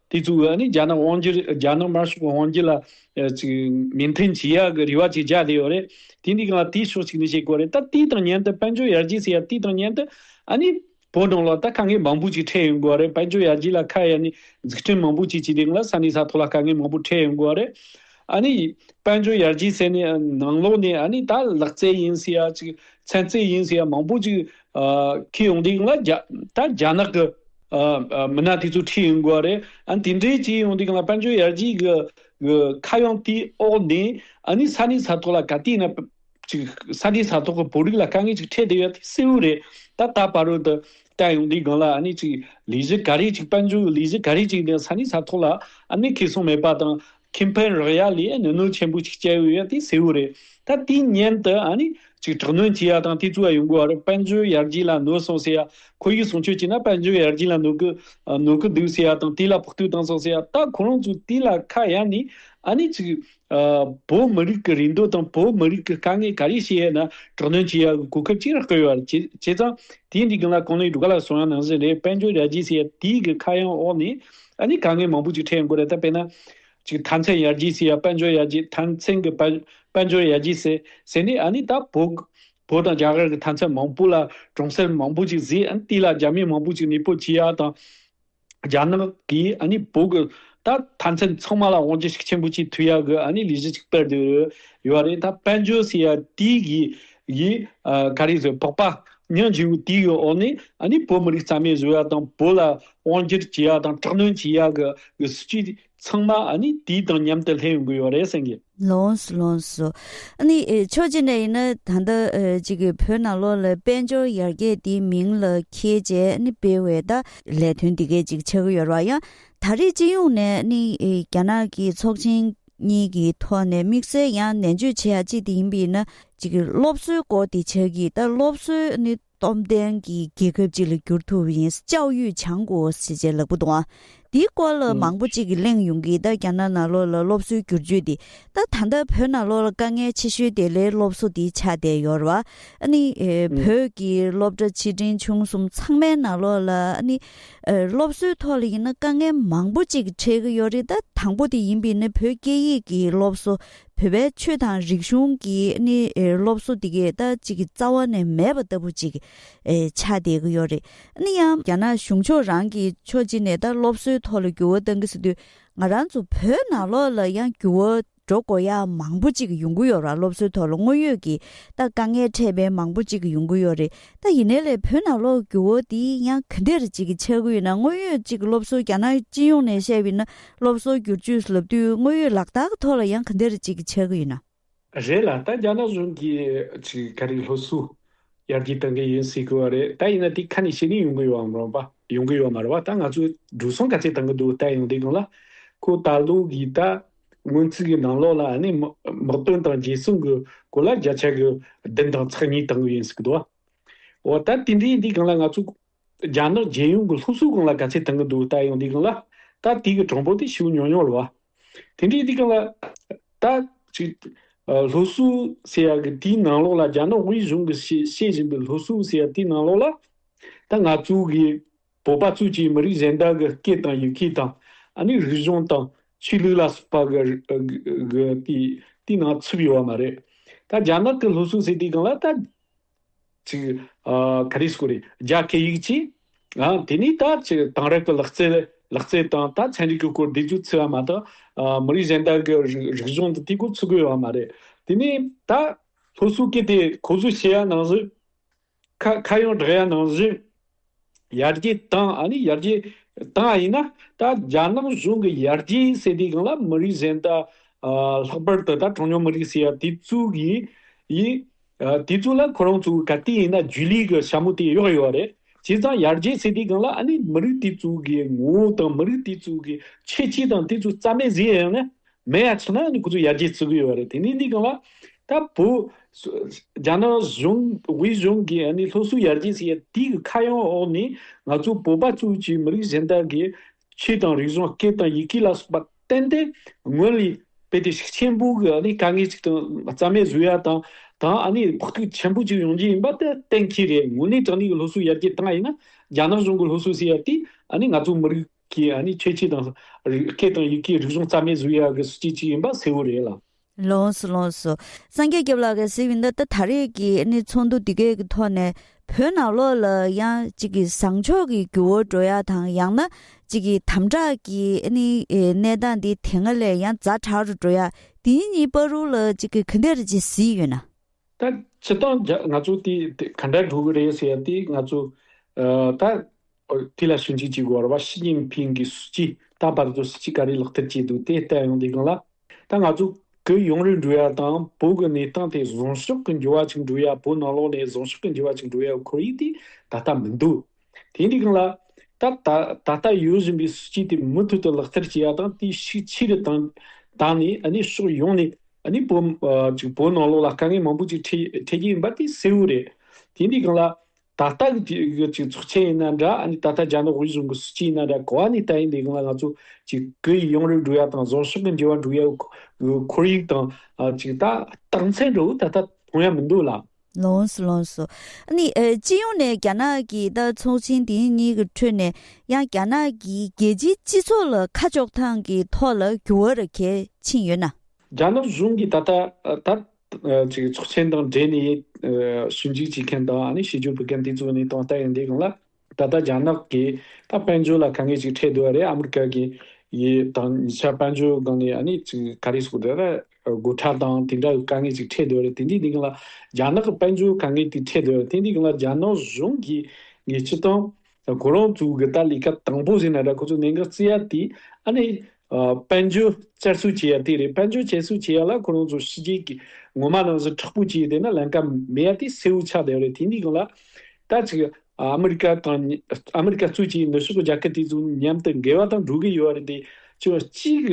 Speaker 2: དེ་གཙོ་བོ་ནི་རྒྱ་ནག་དབང་སྒྱུར་རྒྱ་ནག་དམར་ཤོག་གི་དབང་སྒྱུར་ལ་མི་མཐུན་ཇི་ཡག་གི་རེ་བ་ཅིག་བཅག་བསྡད་ཡོད་རེད། དེ་འདི་ག་ལ་དེའི་ཕྱོགས་གཅིག་ནས་བྱེད་དགོས་རེད་ད་དེའི་དང་མཉན་དུ་དཔལ་འབྱོར་ཡར་རྒྱས་སུ་ཡར་དེའི་དང་མཉན་དུ་ཨ་ནི་བོད་གྲོང་ལ་ད་དཀའ་ངལ་མང་པོ་ཅིག་འཕྲད་ཡོང་དགོས་རེད་དཔལ་འབྱོར་ཡར་རྒྱས་ལ་ཁ་གཡར་ནས་འཛུགས་སྐྲུན་མང་པོ་ཅིག་བྱས་ཏེ་ང་ལ་ས་གནས་ས་ཐོག་ལ་དཀའ་ངལ་མང་པོ་འཕྲད་ཡོང་དགོས་རེད། ཨ་ནི་དཔལ་འབྱོར་ཡར་རྒྱས་ཟེར་ནས་ནང་ལོགས་ནས་ཨ་ནི་ད་ལག་རྩལ་ཡིན་ཟེར་ཡ་ཅིག་ཚན་རྩལ་ཡིན་ཟེར་ཡ་མང་པོ་ཅིག་ཁེལ་ཡོང་སྟེ་ང་ལ་ད་རྒྱ་ནག་གི། མི་སྣ་དེ་ཚོ་ཁྲིད་ཡོང་དགོས་པ་རེད། ཨ་དེ་འདྲའི་བྱས་ཡོང་དུས་གང་ལ་དཔལ་འབྱོར་ཡར་རྒྱས་ཀྱི་ཁ་གཡང་དེའི་འོག་ནས་ཨ་ནི་ས་གནས་ས་ཐོག་ལ་ག་དུས་ན་ཅིག་ས་གནས་ས་ཐོག་གི་བོད་རིགས་ལ་དཀའ་ངལ་ཅིག་འཕྲད་བསྡད་ཡོད་དེ་གསལ་བོ་རེད། ད་ལྟ་ཕ་རོལ་དུ་བསྟན་ཡོང་དུས་གང་ལ་ཨ་ནི་ཅིག་ལས་གཞི་ག་རེ་ཅིག་དཔལ་འབྱོར་གྱི་ལས་གཞི་ག་རེ་ཅིག་ནས་ས་གནས་ས་ཐོག་ལ་ཨ་ནི་ཁེ་སོང་མེད་པ་དང་ཁྱིམ་ཕན་རག་ཡ་ལས་གནོད་གནོད་ཆེན་པོ་ཞིག་བསྐྱལ་ཡོད་ཡ་དེ་གསལ་བོ་རེད་ད་དེའི་སྙན་དུ་ཨ་ནི་ཅིག་དྲག་གནོན་བྱེད་ཡ་དང་དེ་ཚོའི་ཡོང་སྒོ་བར་དཔལ་འབྱོར་ཡར་རྒྱས་ལ་གནོད་སོང་ཟེར་ཡ་ཁོ་ཡིས་གསུང་ཆོས་བྱས་ན་དཔལ་འབྱོར་ཡར་རྒྱས་ལ་གནོད་གི་གནོད་གི་འདུག་ཟེར་ཡ་དང་དེ་ལ་ཕོག་ཐུག་བཏང་སོང་ཟེར་ཡ་ད་ཁོ་རང་ཚོས་དེ་ལ་ཁ་གཡར་ནས་ཨ་ནི་ཅིག་བོད་མི་རིགས་ཀྱི་རིན་དོད་དང་བོད་མི་རིགས་ཀྱི་དཀའ་ངལ་ག་རེ་བྱེད་ཡ་ན་དྲག་གནོན་བྱེད་ཡ་གི་གོ་སྐབས་གཅིག་ར་བསྐོལ་ཡོད་རེད་བྱས་ཙང་དེའི་འགྲིག་མཁན་ལ་གང་ལེགས་འགྲོ་ག་ལ་སོང་ཡ་ནང་བཞིན་རེད་དཔལ་འབྱོར་ཡར་རྒྱས་ཟེར་ཡ་དེའི་གི་ཁ་གཡང་འོག་ནས་ཨ་ནི་དཀའ་ངལ་མང་པོ་ཅིག་འཕྲད་ཡོང་གི་རེད་ད་དཔེ་ན། ཅིག་ཐཱན་ཚན་ཡར་རྒྱས་སི་ཡ་དཔལ་འབྱོར་ཡར་རྒྱས་ཐཱན་ཚན་གི་དཔལ་འབྱོར་ཡར་རྒྱས་སི་ཟེར་ནི་ཨ་ནི་ད་བོད་བོད་དང་རྒྱ་གར་གི་ཐཱན་ཚན་མང་པོ་ལ་གྲོང་གསེར་མང་པོ་ཅིག་བཟི་ཨ་ནི་དེ་ལ་རྒྱ་མི་མང་པོ་ཅིག་ནི་པོ་ཇི་ཡ་དང་རྒྱ་ནག་གིས་ཨ་ནི་བོད་གི་ད་ཐཱན་ཚན་ཚང་མ་ལ་དབང་ཆ་ཞིག་ཆེན་པོ་ཅིག་ཐུ་ཡ་གི་ཨ་ནི་ལས་གཞི་ཅིག་སྤེལ་དུ་ཡོད་རེད་ད་དཔལ་འབྱོར་སི་ཡ་དེའི་གི་གིས་ག་རེ་ཟེར་བོགས་པ་ཉིན་བཞི་བོ་དེའི་འོག་ནས་ནི་བོད་མི་རིགས་རྩ་མེད་བཟོ་བ་དང་བོད་ལ་དབང་སྒྱུར་བྱེད་ཡག་དང་དྲག་གནོན་བྱེད་ཡག་གི་གི་སྲིད་ཇུས་ཚང་མ་ནི་དེའི་དང་མཉམ་དུ་ལྷན་ཡོང་གི་ཡོད་རེད་བསམ་གི། ལོངས་སུ་ལོངས་སུ།
Speaker 1: ནི་ཆོས་ཅི་འདྲ་ཡིན་ན་ད་ལྟ་ཅིག་གི་བོད་ནང་ལོག་ལ་དཔལ་འབྱོར་ཡར་རྒྱས་དེའི་མིང་ལ་ཁྱེད་ཅེས་ནི་སྤེལ་བའི་ད་ལས་དོན་འདི་གའི་ཅིག་ཆགས་ཡོད་ར་ཡང་ད་རེས་སྤྱི་ཡོངས་ནས་ནི་རྒྱ་ནག་གི་ཚོགས་ཆེན་གཉིས་ཀྱི་ཐོག་ནས་དམིགས་བསལ་ཡང་ནན་བརྗོད་བྱེད་ཡ་གཅིག་དེ་ཡིན་པས་ན། གཅིག་སློབ་གསོའི་སྐོར་དེ་ཆགས་ཀྱི་ད་སློབ་གསོ་ནི་སྟོབས་ལྡན་གྱི་རྒྱལ་ཁབ་ཅིག་ལ་བསྒྱུར་ཐུབ་པ་ཡིན་ཅའོ་ཡུས་བྱང་གོ་ཞེས་བྱས་ལག་པ་དང། དེའི་སྐོར་ལ་མང་པོ་ཅིག་གླེང་ཡོང་གི་ད་རྒྱ་ནག་ནང་ལོགས་ལ་སློབ་གསོའི་བསྒྱུར་བཅོས་དེ་ད་ད་ལྟ་བོད་ནང་ལོགས་ལ་དཀའ་ངལ་ཆེ་ཤོས་དེ་ལས་སློབ་གསོ་དེ་ཆགས་བསྡད་ཡོད་རེད་བ། ཨ་ནི་བོད་ཀྱི་སློབ་གྲྭ་ཆེ་འབྲིང་ཆུང་གསུམ་ཚང་མའི་ནང་ལོགས་ལ་ཨ་ནི་སློབ་གསོའི་ཐོག་ལ་ཡིན་ན་དཀའ་ངལ་མང་པོ་ཅིག་འཕྲད་ཀྱི་ཡོད་རེད་ད་དང་པོ་དེ་ཡིན་པས་ནི་བོད་སྐད་ཡིག་གི་སློབ་གསོ་བོད་པའི་ཆོས་དང་རིག་གཞུང་གི་ནི་སློབ་གསོ་དེ་གས་ད་ཅིག་རྩ་བ་ནས་མེད་པ་ལྟ་བུ་ཅིག་ཆགས་བསྡད་ཀྱི་ཡོད་རེད་ནི་ཡང། རྒྱ་ནག་གཞུང་ཕྱོགས་རང་གིས་ཕྱོགས་གཅིག་ནས་ད་སློབ་གསོའི་ཐོག་ལ་འགྱུར་བ་གཏང་གི་ཟེར་དུས་ང་རང་ཚོ་བོད་ནང་ལོགས་ལ་ཡང་འགྱུར་བ་འགྲོ་མགོ་ཡ་མང་པོ་ཅིག་ཡོང་གི་ཡོད་ར་སློབ་གསོའི་ཐོག་ལ་དངོས་ཡོད་ཀྱི་ད་དཀའ་ངལ་འཕྲད་མཁན་མང་པོ་ཅིག་ཡོང་གི་ཡོད་རེད་ད་ཡིན་ནའི་ལས་བོད་ནང་ལོག་རྒྱུ་བོ་དེ་ཡང་ག་འདིར་ཅིག་གི་ཆག་གི་ཡོད་ན་དངོས་ཡོད་ཅིག་སློབ་གསོ་རྒྱ་ནག་སྤྱི་ཡོངས་ནས་བཤད་པའི་ན་སློབ་གསོ་སྒྱུར་བཅོས་ལབ་དུས་དངོས་ཡོད་ལག་རྟགས་གི་ཐོག་ལ་ཡང་ག་འདིར་ཅིག་གི་ཆག་གི་ཡོད་ན། རེད་ལ་ད་
Speaker 2: རྒྱ་ནག་གཞུང་གི་ཅིག་ག་རེ་སློབ་གསོ་ཡར་རྒྱས་གཏང་གི་ཡིན་ཟེར་གི་བ་རེད་ད་ཡིན་ན་དེ་ཁ་ནས་བཤད་ནི་ཡོང་གི་ཡོད་བམ་རུང་བ་ཡོང་གི་ཡོད་མ་རེད་བ་ད་ང་ཚོས་འགྲོ་སོང་ག་ཚད་གཏང་གི་འདུག་ད་ཡོང་དེ་གང་ལ་ཁོ་ད་ལོག་གི་ད་སྔོན་ཚིག་གི་ནང་ལོགས་ལ་ནི་དམག་དོན་དང་རྗེས་བཟུང་གི་གོ་ལ་བརྒྱ་ཆ་གི་བདུན་དང་ཚགས་གཉིས་བཏང་གི་ཡིན་ཟེར་གི་འདུག་འོ་ད་དེ་འདྲའི་འདི་གང་ལ་ང་ཚོ་རྒྱ་ནག་རྒྱལ་ཡོངས་ཀྱི་སློབ་གསོ་གང་ལ་ག་ཚད་བཏང་གི་འདུག་ད་ཡང་འདི་གང་ལ་ད་དེ་གི་གྲངས་འབོར་དེ་ཞིབ་ཉོག་ཉོག་ལ་བ་དེ་འདྲའི་འདི་གང་ལ་ད་ཅིག་སློབ་གསོ་ཟེར་ཡག་གི་དེའི་ནང་ལོགས་ལ་རྒྱ་ནག་དབུས་གཞུང་གི་བཤད་བཞིན་པའི་སློབ་གསོ་ཟེར་ཡག་དེའི་ནང་ལོགས་ལ་ད་ང་ཚོ་གི། བོད་པ་ཚོས་ཀྱིས་མི་རིགས་གཞན་དག་གི་སྐད་དང་ཡི་གེ་དང། རིག་གཞུང་དང། ཆོས་ལུགས་ལ་སོགས་པ་གི་གི་དེའི་ནང་ཚུད་ཡོད་པ་མ་རེད། ད་རྒྱ་ནག་གི་ལྷོ་སུའུ་ཟེར་དེའི་སྒང་ལ་ད། ཅིག། ག་རེ་སྐོར་རེད། རྒྱ་སྐད་ཡིག་ཅིག། དེ་ནས་ད་ཅིག་དེང་རབས་ཀྱི་ལག་རྩལ་ལག་རྩལ་དང་ད་ཚན་རིག་གི་སྐོར་བསྡད་རྒྱུ་ཚུད་པ་མ་ཐག། མི་རིགས་གཞན་དག་གི་རིག་རིག་གཞུང་དེ་དེའི་སྐོར་ཚུད་དགོས་ཡོད་པ་མ་རེད། དེ་ནས་ད། ལྷོ་སུའུ་སྐད་དེ་ཁོ་ཚོས་བཤད་ཡ་ནང་བཞིན། ཁ་གཡང་བྲག་ཡ་ནང་བཞིན། ཡར་རྒྱས་དང་ཨ་ནི་ཡར་རྒྱས་དང་ཨ་ཡིན་ན། ད་རྒྱ་ནག་གཞུང་གི་ཡར་རྒྱས་ཟེར་དུས་གང་ལ་མི་རིགས་གཞན་དག་ལྷག་པར་དུ་ད་གྲངས་ཉུང་མི་རིགས་ཟེར་ཡ་དེ་གཙོས་གི་ཡིན། དེ་ཚོ་ལ་ཁོ་རང་ཚོ་ག་དུས་ཡིན་ན་རྒྱུས་ལུས་ཀྱི་ཞྭ་མོ་དེ་གཡོགས་ཡོད་རེད། བྱས་ཙང་ཡར་རྒྱས་ཟེར་དུས་གང་ལ་ཨ་ནི་མི་རིགས་དེ་ཚོ་གི་ངོ་བོ་དང་མི་རིགས་དེ་ཚོ་གི་ཁྱད་ཆོས་དང་དེ་ཚོ་རྩ་མེད་བཟོས་ཡོད་ན། མེ་ཡ་ཚི་ན་ནི་ཁུ་ཚུར་ཡར་རྒྱས་བརྩི་གི་ཡོད་རེད་དེ་ནས་ནི་གང་བ། ད་བོད། རྒྱ་ནག་གཞུང་དབུས་གཞུང་གིས་ནི་སློབ་གསོ་ཡར་རྒྱས་བརྩི་ཡ་དེ་གི་ཁ་གཡང་འོག་ནས་ང་ཚོ་བོད་པ་ཚོའི་ཀྱི་མི་རིགས་གཞན་དག་གི་ཆོས་དང་རིག་གཞུང་སྐད་དང་ཡི་གེ་ལ་སོགས་པ་བསྟན་ཏེ་ངོས་ལི་པེ་ཏི་ཤིག་ཆེན་པོ་གི་ནི་དཀའ་ངལ་ཅིག་དང་རྩ་མེད་བཟོ་ཡ་དང་དང་ཨ་ནི་ཕོག་ཐུག་ཆེན་པོ་ཅིག་ཡོང་རྒྱུ་ཡིན་པ་དེ་གཏན་འཁེལ་རེད་དངོས་གནས་དྲང་གནས་ཀྱི་སློབ་གསོ་ཡར་རྒྱས་བཏང་ཡིན་ན་རྒྱ་ནག་གཞུང་གི་སློབ་གསོ་བརྩི་ཡ་དེ་ཨ་ནི་ང་ཚོ་མི་རིགས། ཀྱི་ཨ་ནི་ཁྱད་ཆོས་དང། རིགས་སྐད་དང་ཡི་གེའི་རིག་གཞུང་རྩ་མེད་བཟོ་ཡག་གི་སྲིད་ཇུས་གཅིག་ཡིན་པ་གསལ་བོ་རེད་ལ། ལོངས་སུ་ལོངས་སུ།
Speaker 1: སངས་རྒྱས་སྐྱབས་ལགས་ཀྱིས་གཟིགས་འདི་ལྟ་ད་རེས་ཀྱི་ཨ་ནི་ཚོགས་འདུ་འདི་གའི་གི་ཐོག་ནས་བོད་ནང་ལོགས་ལ་ཡང་གཅིག་གི་བཟང་ཕྱོགས་ཀྱི་རྒྱུ་བོར་འགྲོ་ཡག་དང་ཡང་ན་གཅིག་གི་དམ་དྲག་གི་ཨ་ནི་གནས་སྟངས་འདི་དེ་སྔ་ལས་ཡང་རྫ་དྲག་རུ་འགྲོ་ཡག་དེ་གཉིས་སྤར་རུང་ལ་གཅིག་གི་གི་འདིར་ཇི་སྲིད་ཡོད་ན། ད་ཕྱི་
Speaker 2: སྟངས་ཇག་ང་ཚོ་དེ་ག་འདྲ་འགྲོ་གི་རེད་ཟེར་ཡག་དེ་ང་ཚོ། ད། དེ་ལ་ཞིབ་འཇུག་བྱེད་དགོས་པར་བ་ཞི་ཅིན་ཕིང་གིས་སྲིད་ཇུས་ད་བར་དུ་སྲིད་ཇུས་ག་རེ་ལག་བསྟར་བྱས་འདུག་དེ་བལྟས་ཡོང་དེ་གང་ལགས། ད་ང་ཚོ་གི་ཡུང་རུའི་འབྲུ་གཡག་དང་བོད་ཀྱི་གནས་སྟངས་དེ་བཟང་ཕྱོགས་ཀྱི་འགྱུར་བ་ཅིག་འགྲོ་ཡ་བོད་ནང་ལོགས་ནས་བཟང་ཕྱོགས་ཀྱི་འགྱུར་བ་ཅིག་འགྲོ་ཡའི་ཁོར་ཡུག་དེ་ད་ལྟ་མི་འདུག་དེ་འདི་གང་ལགས། ད་ད་ལྟ་ཡོད་བཞིན་པའི་སྲིད་ཇུས་དེ་མུ་མཐུད་དུ་ལག་བསྟར་བྱེད་ཡ་དང་དེ་ཤུགས་ཆེ་རུ་བཏང་བཏང་ནས་ནི་ཕྱོགས་ཡོངས་ནས་ནི་བོད་བོད་ནང་ལོགས་ལ་དཀའ་ངལ་མང་པོ་ཅིག་འཕྲད་འཕྲད་ཀྱི་ཡིན་པ་དེ་གསལ་བོ་རེད་དེ་འདི་གང་ལགས། ད་ལྟ་གི་དུས་ཀྱི་གཅིག་ཚོགས་ཆེན་ཡིན་ན་འདྲ་ད་ལྟ་རྒྱ་ནག་དབུས་གཞུང་གི་སྲིད་སྤྱི་ཡིན་ན་འདྲ་གོ་བ་ནི་ལྟ་ཡིན་དེ་གང་ལ་ང་ཚོ་གཅིག་གི་ཡི་ཡོངས་རེ་འགྲུག་ཡ་དང་བཟོ་ཕྱོགས་གི་འགྱུར་བ་འགྲུག་ཡ་བའི་ཁོར་ཡུག་དང་གཅིག་ད་རྟགས་མཚན་འདྲ་བོ་ད་ལྟ་མཐོང་ཡ་མི་འདུག་ལ། ལོངས་སུ་ལོངས་སོ།
Speaker 1: ནི། སྤྱི་ཡོངས་ནས་རྒྱ་ནག་གི་ད་ཚོགས་ཆེན་དེ་གཉིས་ཀྱི་ཁྲོད་ནས་ཡང་རྒྱ་ནག་གི་རྒྱལ་སྤྱིའི་སྤྱི་ཚོགས་ལ་ཁ་ཕྱོགས་ཐང་གི་ཐོག་ལ་འགྱུར་བ་ར་གས་ཕྱིན་ཡོད་ན། རྒྱ་ནག་གཞུང་
Speaker 2: གིས་ད་ལྟ་ད། ཚོགས་ཆེན་དང་འབྲེལ་ནས་ཞིབ་འཇུག་བྱེད་མཁན་དང་ཞིབ་འཇུག་བོད་མཁན་དེ་ཚོ་ནི་ཏང་ལྟ་ཡི་འདི་གང་ལ། ད་ལྟ་རྒྱ་ནག་གིས་ད་དཔལ་འབྱོར་ལ་ག་ངེས་ཅིག་འཕྲད་འདོད་ཨ་རེད་ཨ་མི་ཀ་གི་ཡི་དང་ཉི་ཆ་དཔལ་འབྱོར་སྒང་ནས་ཨ་ནི་ག་རེ་ཟུག་འདོད་ཨ་རེསྒོ་ཁྲ་དང་དེ་འདྲ་ག་ངེས་ཅིག་འཕྲད་འདོད་ཨ་རེད་དེ་འདི་འདི་གང་ལ། རྒྱ་ནག་གི་དཔལ་འབྱོར་ག་ངེས་དེ་འཕྲད་འདོད་ཨ་རེད་དེ་འདི་གང་ལ་རྒྱ་ནག་གཞུང་གིས་ངེས་ཅི་དང། ད་ཁོ་རང་ཚོའི་གི་ད་ལས་ཀ་དང་པོ་ཟེར་ན་ད་ཁོ་ཚོ་གནད་འགག་བརྩི་ཡ་དེ་ཨ་ནི། དཔལ་འབྱོར་བསྐྱར་གསོ་བྱེད་ཡ་དེ་རེད་དཔལ་འབྱོར་བསྐྱར་གསོ་བྱེད་ཡ་ལ་ཁོ་རང་ཚོ་ཕྱི་རྒྱལ་གི་ངོ་མ་ནང་བཞིན་དྲག་པོ་བྱེད་དེ་ན་ལན་ཀ་མེད་ཡ་དེ་སེའུ་ཆགས་བསྡད་རེད་དེ་འདི་གང་ལ། ད་ཅིག་ཨ་མི་རི་ཀ་དང་ཨ་མི་རི་ཀ་གཙོས་བྱས་ནུབ་ཕྱོགས་གི་རྒྱ་ཁབ་དེ་ཚོ་མཉམ་དུ་འགལ་བ་དང་འགྲོ་གི་ཡོད་རེད་དེ། ཅིག་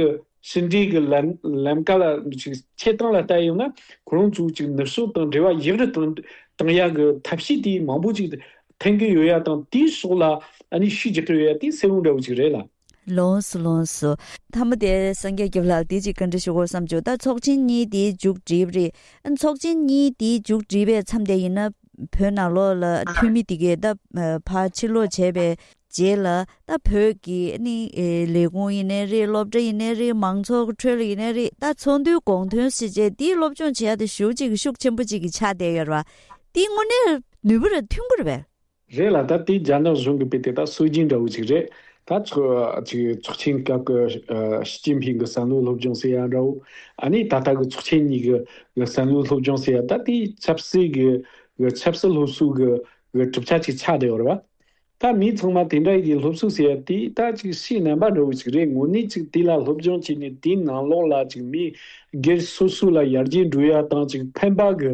Speaker 2: ཟིན་བྲིས་ཀྱི་ལམ་ཀ་ལ་ཞིག་ཆེད་སྟངས་ལ་བལྟ་ཡོང་ན་གོ་རིམ་ཚུལ་གཅིག་ནུབ་ཕྱོགས་དང་འབྲེལ་བ་ཡིག་རིགས་དང་དང་ཡག་གི་ཐབས་ཤེས་དེ་མང་པོ་ཅིག་འཐེན་གྱི་ཡོད་ཡ་དང་དེའི་སོགས་ལ་ནི་ཤུགས་རྒྱག་གི་ཡོད་ཡ་དེ་གསལ་བོ་འདྲ་བོ་ཅིག་རེད་ལ། ལོངས་སུ་ལོངས་
Speaker 1: སུ། ཐ་མ་དེ་སངས་རྒྱས་སྐྱབས་ལགས་དེ་ཅིག་བཀའ་འདྲི་ཞུ་དགོས་བསམ་བྱུང་ད་ཚོགས་ཆེན་གཉིས་དེའི་མཇུག་བསྒྲིལ་རེད་ཨ་ཚོགས་ཆེན་གཉིས་དེའི་མཇུག་བསྒྲིལ་པའི་མཚམས་དེ་ཡིན་ན་བོད་ནང་ལོགས་ལ་འཐུས་མི་དེ་གས་ད་བར་ཕྱིར་ལོག་བྱས་པའི་རྗེས་ལ་ད་བོད་ཀྱི་ནི་ལས་ཁུངས་ཡིན་ནའི་རེད་སློབ་གྲྭ་ཡིན་ནའི་རེད་མང་ཚོགས་ཁྲོད་ཡིན་ནའི་རེད་ད་ཚོགས་འདུའི་དགོངས་དོན་ཞེས་བྱས་འདིའི་སློབ་སྦྱོང་བྱེད་ཡ་དེ་ཞུ་གཅིག་ཤུགས་ཆེན་པོ་གཅིག་གི་ཆ་དེ་ཡོད་རེད་བ། དེའི་དངོས་གནས་ནུས་པ་
Speaker 2: རེད་ཐུགས་
Speaker 1: འཁུར་བས།
Speaker 2: རེད་ལ་
Speaker 1: ད་
Speaker 2: དེའི་རྒྱ་ནག་གཞུང་གི་དཔེ་
Speaker 1: དེ་
Speaker 2: དག་སྲོལ་རྒྱུན་འདྲ་བོ་གཅིག་རེད། ད་ཚོགས་ཆེན་སྐབས་ཀྱི་ཞི་ཅིན་ཕིང་གི་བསམ་བློའི་སློབ་སྦྱོང་ཟེར་ཡ་འདྲ་བོ། ཨ་ནི་ད་ལྟ་གི་ཚོགས་ཆེན་གཉིས་ཀྱི་བསམ་བློའི་སློབ་སྦྱོང་ཟེར་ཡ་ད་དེའི་ཆབ་སྲིད་ཀྱི་ཆབ་སྲིད་སློབ་གསོའི་གྲུབ་ཆ་གཅིག་ཆ་དེ་ཡོད་རེད་བ། ད་མི་ཚང་མ་དེ་འདྲ་ཡི་སློབ་གསོ་ཟེར་ཡ་དེ་ད་ཅིག་ཤེས་ནན་པ་འདྲ་བོ་ཅིག་རེད་ངོ་ནས་ཅིག་དེ་ལ་སློབ་སྦྱོང་བྱས་ནས་དེ་ནང་ལོག་ལ་ཅིག་མི་སྒེར་སོ་སོ་ལ་ཡར་རྒྱས་འགྲོ་ཡ་དང་ཅིག་ཕན་པ་གི་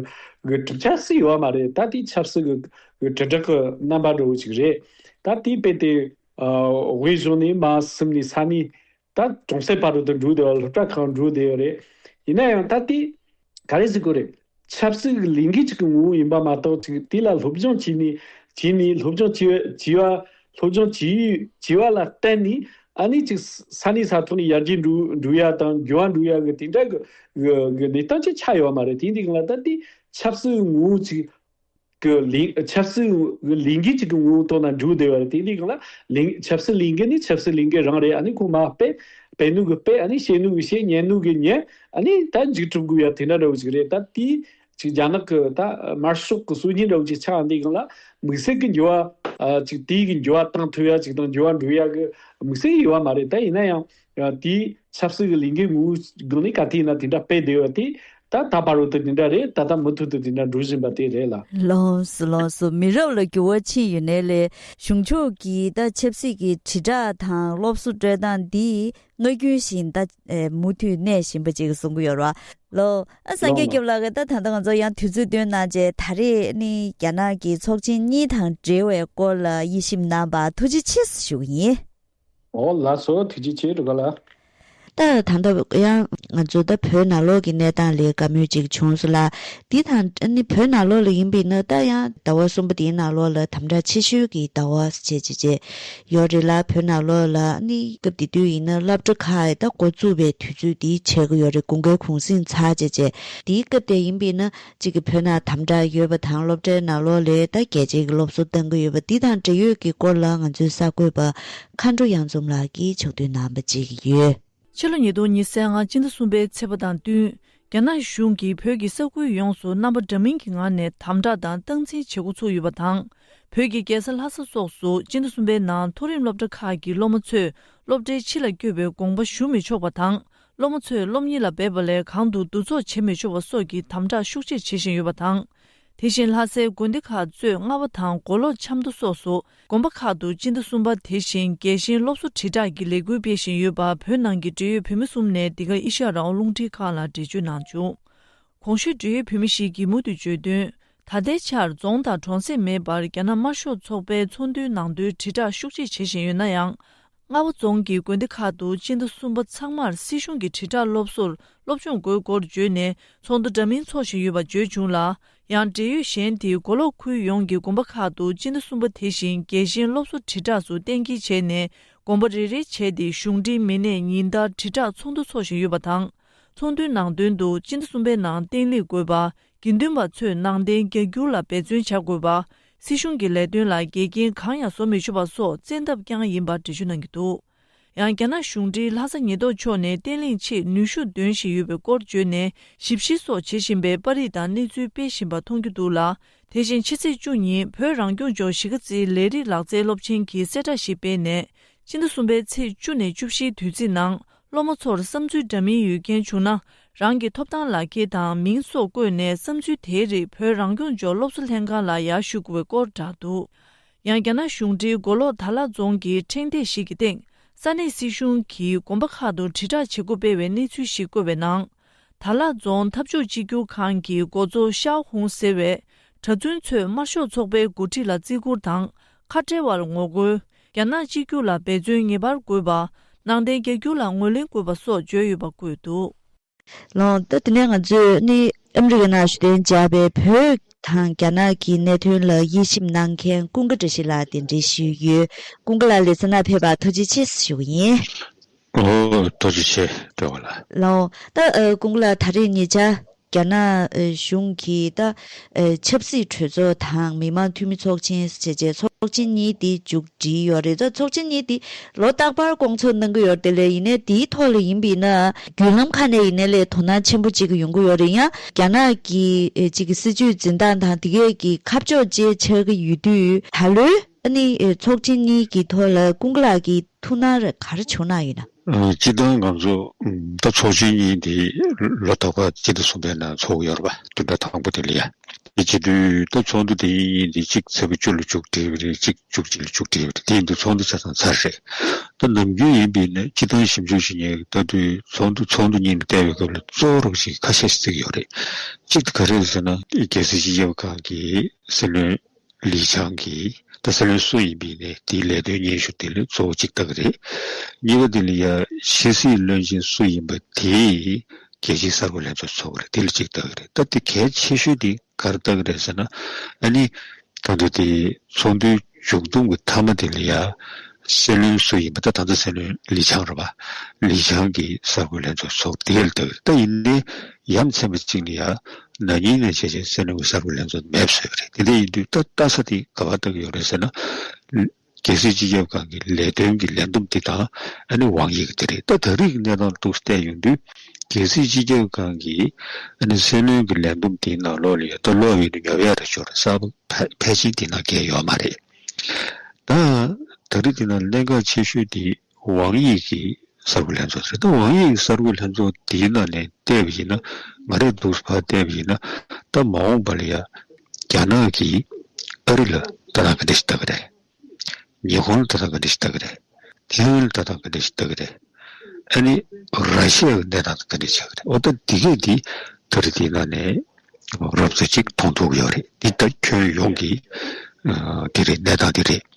Speaker 2: གི་དྲི་ཆབ་སྲིད་ཡོད་མ་རེད་ད་དེ་ཆབ་སྲིད་གི་གི་དྲི་བྲག་གི་རྣམ་པ་འདྲ་བོ་ཅིག་རེད་ད་དེ་དཔེ་དེ་དབུས་གཞུང་ནས་མ་སིམ་ནས་ས་གནས་ད་གྲོང་གསེབ་བར་དུ་དུ་འགྲུལ་བདེ་བ་སློབ་གྲྭ་ཁག་འགྲུལ་བདེ་ཡོད་རེད། ཡིན་ན་ཡང་ད་ལྟའི་ག་རེ་ཟེར་དགོས་རེད། ཆབ་སྲིད་ཀྱི་ལས་འགུལ་ཅིག་གི་ངོ་བོ་ཡིན་པ་མ་གཏོགས་ཅིག་དེ་ལ་སློབ་སྦྱོང་བྱས་ནས་བྱས་ནས་སློབ་སྦྱོང་བྱས་བྱས་བ་སློབ་སྦྱོང་བྱས་བྱས་བ་ལ་བརྟེན་ནས་ཨ་ནེ་ཅིག་ས་གནས་ས་ཐོག་ནས་ཡར་རྒྱས་འགྲོ་འགྲོ་ཡ་དང་རྒྱུ་བ་འགྲོ་ཡ་གི་དེ་འདྲ་གི་གི་གནས་སྟངས་ཅིག་ཆགས་ཡོད་མ་རེད་དེའི་སྟེང་ལ་ད་ལྟའི་ཆབ་སྲིད་ཀྱི་ངོ་བོ་ཅིག་གི་ལིང། ཆབ་སྲིད་ལིང་གའི་གཅིག་གི་ངོ་བོ་ཐོག་ན་འབྲུ་བདེ་བ་རེད་དེ་ནི་གང་ལ། ལིང། ཆབ་སྲིད་ལིང་ག་ནི་ཆབ་སྲིད་ལིང་གའི་རང་རེད་ཨ་ནི་ཁོང་མ་པེ། བེད་ནུས་ཀྱི་པེ་ཨ་ནི་ཤེས་ནུས་ཀྱི་ཤེས་ཉན་ནུས་ཀྱི་ཉན། ཨ་ནི་ད་འཇིགས་གྲུབ་དགོས་ཡ་དེ་འདྲ་ར་བུ་ཅིག་རེད་ད་དེའི། ཅིག་རྒྱ་ནག་གི་ད་དམར་ཤོག་གི་སྲོལ་རྒྱུན་ར་བུ་ཅིག་ཆགས་ཨ་འདི་གང་ལ། དམིགས་བསལ་གི་འགྱུར་བ། ཅིག་དེའི་གི་འགྱུར་བ་བཏང་ཐུབ་ཡ་ཅིག་དང་འགྱུར་བ་འགྲོ་ཡ་གི་དམིགས་བསལ་གི་ཡོད་བ་མ་རེད་ད་ཡིན་ན་ཡང། དེས་ཆབ་སྲིད་ཀྱི་ལས་འགན་མུ་དགོས་ནི་ག་དུས་ན་དེ་འདྲ་སྤེལ་བདེ་བ་དེ། ད་ད་བར་བོད་དུ་དེ་འདྲ་རེད་ད་ལྟ་མུ་མཐུད་དུ་དེ་འདྲ་འགྲོ་བཞིན་པ་དེ་རེད་ལ། ལོངས་སུ་ལོངས་སུ་
Speaker 1: མི་རབས་ལ་འགྱུར་བ་ཕྱིན་ཡོད་ནའི་ལས་གཞུང་ཕྱོགས་ཀྱིས་ད་ཆབ་སྲིད་ཀྱི་དྲིལ་བསྒྲགས་དང་སློབ་གསོ་སྤྲོད་སྟངས་འདི་ངག་རྒྱུན་བཞིན་ད་མུ་མཐུད་གནས་བཞིན་པ་ཅིག་གསུང་གི་ཡོད་རོ། ལོ། ཨ་སངས་རྒྱས་སྐྱབས་ལགས་ཀྱིས་ད་ད་ལྟ་ང་ཚོ་ཡང་དུས་ཚོད་བཏོན་གནང་རྗེས་ད་རེས་ནི་རྒྱ་ནག་གི་ཚོགས་ཆེན་གཉིས་དང་འབྲེལ་བའི་སྐོར་ལ་དབྱེ་ཞིབ་གནང་བར་ཐུགས་རྗེ་ཆེ་ཞུ་གི་ཡིན། འོ་ལ་
Speaker 2: སོ་ཐུགས་རྗེ་ཆེ་དྲུག་ག་ལ། ད་
Speaker 1: དང་ད་ཡང་ང་ཚོ་ད་བོད་ནང་ལོག་གི་གནས་སྟངས་ལས་དགའ་མོས་ཅིག་བྱུང་སོང་ལ། འདི་དང་ད་ནི་བོད་ནང་ལོག་ལ་ཡིན་པས་ན་ད་ཡང་ཟླ་བ་གསུམ་པ་འདིའི་ནང་ལོག་ལ་དམ་དྲག་ཆེ་ཤོས་ཀྱི་ཟླ་བ་བྱེད་ཅེས་བྱས་ཡོད་རེད་ལ་བོད་ནང་ལོག་ལ་ནི་སྐབས་དེ་དུས་ཡིན་ན་བླ་བྲེ་ཁ་ཡི་ད་འགོ་བཙུགས་པའི་དུས་ཚོད་འདི་བྱེད་ཀྱི་ཡོད་རེད་དགུང་ཁའི་གུང་སེང་ཚར་བྱེད་ཅེས་འདིའི་སྐབས་དེ་ཡིན་པས་ན་གཅིག་གི་བོད་ནང་དམ་དྲག་ཡོད་པ་དང་སློབ་གྲྭའི་ནང་ལོ་ལེགས་ཟླ་རྒྱལ་བྱེད་ཀྱི་སློབ་གསོ་གཏང་གི་ཡོད་པ་འདི་དང་འབྲེལ་ཡོད་ཀྱི་སྐོར་ལ་ང་ཚོའི་གསར་འགོད་པ་མཁའ་འགྲོ་དབྱངས་འཛོམས་ལགས་ཀྱིས་ཕྱོགས་བསྡུས་གནང་བ་བརྗེད་ཀྱི་ཡོད། ཕྱི་ལོ་ཉིས་སྟོང་ཉིས་གསལ་
Speaker 3: ངང་སྤྱི་ཟླ་གསུམ་པའི་ཚེས་པ་དང་བསྟུན་རྒྱ་ནག་གཞུང་གིས་བོད་ཀྱི་ས་ཁུལ་ཡོངས་སུ་རྣམ་པ་འདྲ་མིན་གྱི་ངང་ནས་དམ་དྲག་དང་སྟངས་འཛིན་བྱེད་འགོ་ཚུགས་ཡོད་པ་དང། བོད་ཀྱི་རྒྱལ་ས་ལྷ་ས་སོགས་སུ་སྤྱི་ཟླ་གསུམ་པའི་ནང་མཐོ་རིམ་སློབ་གྲྭ་ཁག་གི་སློབ་མ་ཚོས་སློབ་གྲྭའི་ཕྱི་ལ་བསྐྱོད་པའི་དགོངས་པ་ཞུ་མི་ཆོག་པ་དང་སློབ་མ་ཚོས་སློབ་གཉེར་ལ་འབད་པ་ལས་གང་དུ་འདུ་ཚོགས་བྱེད་མི་ཆོག་པ་སོགས་ཀྱི་དམ་བསྒྲགས་ཤུགས་ཆེར་བྱེད་བཞིན་ཡོད་པ་དང། དེ་བཞིན་ལྷ་སའི་དགོན་སྡེ་ཁག་གཙོས་རྔ་བ་དང་མགོ་ལོག་ཆབ་མདོ་སོགས་སུ་དགོན་པ་ཁག་ཏུ་སྤྱི་ཟླ་གསུམ་པ་དེ་བཞིན་རྒྱལ་གཤེན་སློབ་གསོ་དྲིལ་བསྒྲགས་ཀྱི་ལས་འགུལ་སྤེལ་བཞིན་ཡོད་པར་བོད་ནང་གི་འབྲེལ་ཡོད་བོད་མི་གསུམ་ནས་འདི་ག་ཨེ་ཤ་ར་ཨོ་རླུང་འཕྲིན་ཁང་ལ་འགྲེལ་བརྗོད་གནང་བྱུང། གོང་ཞུས་འབྲེལ་ཡོད་བོད་མི་ཞིག་གིས་མུ་མཐུད་བརྗོད་དོན། ད་ལྟའི་ཆར་རྫོང་དང་གྲོང་གསེབ་མེད་པར་རྒྱ་ནག་དམར་ཤོག་ཚོགས་པའི་ཚོགས་འདུའི་ནང་དོན་དྲིལ་བསྒྲགས་ཤུགས་ཆེ་བྱེད་བཞིན་ཡོད་ན་ཡང། རྔ་བ་རྫོང་གི་དགོན་སྡེ་ཁག་ཏུ་སྤྱི་ཟླ་གསུམ་པ་ཚང་མར་སྲིད་གཞུང་གི་དྲིལ་བསྒྲགས་སློབ་གསོར་སློབ་སྦྱོང་དགོས་སྐོར་བརྗོད་ནས་ཚོགས་འདུ་འདྲ་མིན་འཚོགས་བཞིན་ཡོད་པ་བརྗོད་བྱུང་ལ། ཡང་འབྲེལ་ཡོད་གཞན་དེས་མགོ་ལོག་ཁུལ་ཡོངས་ཀྱི་དགོན་པ་ཁག་ཏུ་སྤྱི་ཟླ་གསུམ་པ་དེ་བཞིན་རྒྱལ་གཤེན་སློབ་གསོ་དྲིལ་བསྒྲགས་སུ་གཏན་འཁེལ་བྱས་ནས་དགོན་པ་རེ་རེ་བྱས་ཏེ་གཞུང་འབྲེལ་མི་སྣས་ཉིན་ལྟར་དྲིལ་བསྒྲགས་ཚོགས་འདུ་འཚོགས་བཞིན་ཡོད་པ་དང། ཚོགས་འདུའི་ནང་དོན་དུ་སྤྱི་ཟླ་གསུམ་པའི་ནང་བརྟན་ལྷིང་དགོས་པ། དགེ་འདུན་པ་ཚོས་ནང་བསྟན་རྒྱ་སྒྱུར་ལ་འབད་བརྩོན་བྱ་དགོས་པ། སྲིད་གཞུང་གི་ལས་དོན་ལ་འགལ་རྐྱེན་གང་ཡང་བཟོ་མི་ཆོག་པ་སོགས་བཙན་ཐབས་རྐྱང་ཡིན་པར་འགྲེལ་བརྗོད་གནང་གི་འདུག་ཡང་རྒྱ་ནག་གཞུང་འབྲེལ་ལྷ་ས་ཉི་ཐོག་ཕྱོགས་ནས་བརྟན་ལྷིང་ཆེད་ནུས་ཤུགས་འདོན་བཞིན་ཡོད་པའི་སྐོར་བརྗོད་ནས་ཞིབ་བཤེར་སོགས་བྱེད་བཞིན་པའི་པར་རིས་དང་གནས་ཚུལ་སྤེལ་བཞིན་པ་མཐོང་རྒྱུ་འདུག་ལ་དེ་བཞིན་ཕྱི་ཚེས་བཅུ་ཉིན་བོད་རང་སྐྱོང་ལྗོངས་གཞིས་ཀ་རྩེའི་ལས་རིགས་ལག་རྩལ་སློབ་ཆེན་གྱིས་གསལ་བསྒྲགས་ཤིག་སྤེལ་ནས་སྤྱི་ཟླ་གསུམ་པའི་ཚེས་བཅུ་ནས་བཅུ་བཞིའི་དུས་ཚིགས་ནང་སློབ་མ་ཚོར་བསམ་ཚུལ་འདྲ་མིན་ཡོད་མཁན་བྱུང་ན་རང་གི་ཐོབ་ཐང་ལག་འཁྱེར་དང་མིང་སོགས་བཀོད་ནས་བསམ་ཚུལ་དེའི་རིགས་བོད་རང་སྐྱོང་ལྗོངས་སློབ་གསོ་ལྷན་ཁང་ལ་ཡར་ཞུ་དགོས་པའི་སྐོར་བསྒྲགས་འདུག་ཡང་རྒྱ་ནག་གཞུང་འབྲེལ་མགོ་ལོག་དར་ལག་རྫོང་གི་ཕྲེང་སྟེགས་ཤིག་གི་སྟེང་ས་གནས་སྲིད་གཞུང་གིས་དགོན་པ་ཁག་ཏུ་དྲིལ་བསྒྲགས་བྱེད་སྒོ་སྤེལ་བའི་གནས་ཚུལ་ཞིག་བཀོད་པའི་ནང། དར་ལག་རྫོང་འཐབ་ཕྱོགས་གཅིག་གྱུར་ཁང་གི་འགོ་གཙོ་ཤའོ་ཧུང་ཟེར་བས་གྲྭ་བཙུན་ཚོས་དམར་ཤོག་ཚོགས་པའི་འགོ་ཁྲིད་ལ་བརྩི་བཀུར་དང་ཁ་བྲལ་བར་ངོ་རྒོལ། རྒྱ་ནག་གཅིག་གྱུར་ལ་འབད་བརྩོན་ངེས་པར་དགོས་པ། ནང་བསྟན་རྒྱ་འགྱུར་ལ་ངོས་ལེན་དགོས་པ་སོགས་བརྗོད་ཡོད་པ་བཀོད་འདུག། ལངས་
Speaker 1: ཏེ་དེ་ནས་ང་ཚོས་ནི་ཨ་མི་རི་ཀའི་ནང་ཞུ་གཏན་བཅག་པའི་བོད་དང་རྒྱ་ནག་གི་གནད་དོན་ལ་དབྱེ་ཞིབ་གནང་མཁན་ཀུན་དགའ་བཀྲ་ཤིས་ལགས་དེ་འདྲི་ཞུས་ཡོད། ཀུན་དགའ་ལགས་ལས་ཚ་ནག་ཕེབས་པར་ཐུགས་རྗེ་ཆེ་ཞུ་གི་ཡིན། རྡོ་
Speaker 4: རྗེ་ཆེ་སྤྲོ་བ་ལ། ལའོ། ད་
Speaker 1: དགུང་ལ་ད་རེས་ངེད་ཅག་རྒྱ་ནག་གཞུང་གིས་ད་ཆབ་སྲིད་གྲོས་ཚོགས་དང་མི་མང་འཐུས་མི་ཚོགས་ཆེན་ཟེར་བྱས་བྱས་ཚོགས་ཆེན་གཉིས་དེ་མཇུག་བསྒྲིལ་ཡོད་རེད་ད་ཚོགས་ཆེན་གཉིས་དེ་ལོ་རྟག་པར་སྐོང་ཚོགས་གནང་གི་ཡོད་དེ་ལས་ཡིན་ནའི་དེའི་ཐོག་ལ་ཡིན་པའི་ན་བརྒྱུད་ལམ་ཁག་ནས་ཡིན་ནའི་ལས་དོ་སྣང་ཆེན་པོ་བྱེད་གི་ཡོང་གི་ཡོད་རེད་ཡང་རྒྱ་ནག་གི་ཅིག་གི་སྲིད་བྱུས་འཛིན་སྟངས་དང་དེ་གས་ཀྱི་ཁ་ཕྱོགས་བཅས་ཆགས་གི་ཡོད་དུས་ད་ལོའི། ཨ་ནི་ཚོགས་ཆེན་གཉིས་ཀྱི་ཐོག་ལ་ཀུན་གླ་ཀྱི་ཐུགས་སྣང་རེ་ག་རེ་བྱུང་ན་ཡིན་ན། སྤྱི་བཏང་གམ་
Speaker 4: ཚོགས་ད་ཚོགས་ཆེན་གཉིས་དེ་ལོ་ད་ག་གཅིག་དང་གསུམ་པའི་ནང་ཚོགས་ཡོད་རེད་པ་དུ་ད་དང་པོ་དེ་ལ་ཡ། དེ་བྱེད་དུས་ད་ཚོགས་འདུ་དེ་གཉིས་གཉིས་དེ་གཅིག་ཚེས་པ་བཅུ་ལ་བཅུག་དེ་རེད་གཅིག་བཅུ་གཅིག་ལ་བཅུག་དེ་རེད་དེ་ཡིན་དུས་ཚོགས་འདུ་ཆ་ཚང་ཚར་རེད། ད་ནམ་རྒྱུན་ཡིན་པའི་ནི་སྤྱི་བཏང་ཞིབ་འཇུག་ཞིག་ཉེ་ད་དུས་ཚོགས་འདུ་ཚོགས་འདུ་གཉིས་མི་སྟེར་བའི་སྐབས་ལ་གཙོ་བོ་རོགས་ཞིག་ཁ་ཤས་ཤིག་བརྩིགས་ཡོད་རེད། གཅིག་དེ་ག་རེད་ཟེར་ན། རྒྱལ་སྲིད་སྤྱི་ཁྱབ་ཁང་གི་སྲིད་བློན། ལིས་ཆང་གིས་ད་ས་ལོའི་སོ་ཡིན་པས་ནས་དེའི་ལས་དོན་སྙན་ཞུ་དེ་ལས་གཙོ་བོ་གཅིག་བཏགས་རེད། གཉིས་པ་དེ་ལ་ཡ་ཤི་སིའི་བློན་ཆེན་སུ་ཡིན་པ་དེས་རྒྱལ་སྤྱིའི་གསར་འགོད་ལྷན་ཚོགས་འཚོགས་རེད་དེ་ལས་གཅིག་བཏགས་རེད་སྟབས་དེ་གལ་ཆེ་ཤོས་དེ་གར་བཏགས་རེད་ཟེར་ན་ཨ་ནི། ད་དུང་དེ་ཚོགས་འདུའི་མཇུག་བསྡོམས་ཀྱི་མཐའ་མ་དེ་ལ་ཡ་སེ་བློན་སུ་ཡིན་པ་ད་ད་ད་ས་ལོའི་ལིས་ཆང་རེད་པ། ལིས་ཆང་གིས་གསར་འགོད་ལྷན་ཚོགས་འཚོགས་དེ་ལས་བཏགས་རེད་ད་ཡིན་ནའི་ཡ་མཚན་པ་གཅིག་ནི་ཡང་ན་ཉིན་ནས་བྱས་བྱས་སེར་ནུ་བའི་གསར་བུ་ལེན་ཚོ་མེད་བཟོས་པ་རེད་དེ་འདྲ་ཡིན་དུས་ད་ལྟ་ས་དེའི་ག་བ་ལྟ་གི་ཡོད་རེད་ཟེར་ན། རྒྱལ་སྲིད་སྤྱི་ཁྱབ་ཁང་གི་ལས་དོན་གྱི་ལས་བསྡོམས་དེ་དང་ཨ་ནི་དབང་ཡིག་གི་དེ་རེད་ད་ད་རིག་གནས་དང་ལྡོག་བལྟས་ཡོང་དུས་རྒྱལ་སྲིད་སྤྱི་ཁྱབ་ཁང་གི་ཨ་ནི་སྲན་ལོན་གི་ལས་བསྡོམས་དེའི་ནང་ལོག་ལ་ཡོད་ད་ལོག་ཡོད་ནི་ཉོབ་ཡ་རེད་ཞོར་རེད་གསར་བུ་ཕལ་ཕལ་ཆེན་དེའི་ནང་བཀལ་ཡོད་མ་རེད་ད། ད་རིག་དེ་ནང་གླེན་ཁ་ཆེ་ཤོས་དེ་དབང་ཡིག་གི་གསར་འགོད་ལྷན་ཚོགས་ཟེར། དབང་ཡིག་གསར་འགོད་ལྷན་ཚོགས་འདིའི་ནང་ནས་བལྟས་པ་ཡིན་ན། ང་རེ་འདུག་བར་བལྟས་པ་ཡིན་ན། ད་མ་འོངས་པ་ལ་ཡང་རྒྱ་ནག་གིས་ཨ་རི་ལ་ལྟ་སྟངས་ག་འདྲ་ཞིག་ལྟ་གི་རེད། ཉི་ཧོང་ལ་ལྟ་སྟངས་ག་འདྲ་ཞིག་ལྟ་གི་རེད། ཐེ་ཝན་ལ་ལྟ་སྟངས་ག་འདྲ་ཞིག་ལྟ་གི་རེད། ཨ་ནི་ར་ཤི་ཡ་གི་གནས་སྟངས་དང་ག་འདྲ་ཆགས་གི་རེད། འོ་ད་འདི་གས་འདི་ད་རེ་འདིའི་ནང་ནས་རབ་ཚོད་ཅིག་མཐོང་ཐུབ་ཀི་ཡོད་རེད། འདི་ད་ཁྱོན་ཡོངས་ཀྱི་འདི་རེད་གནས་སྟངས་འདི་རེད།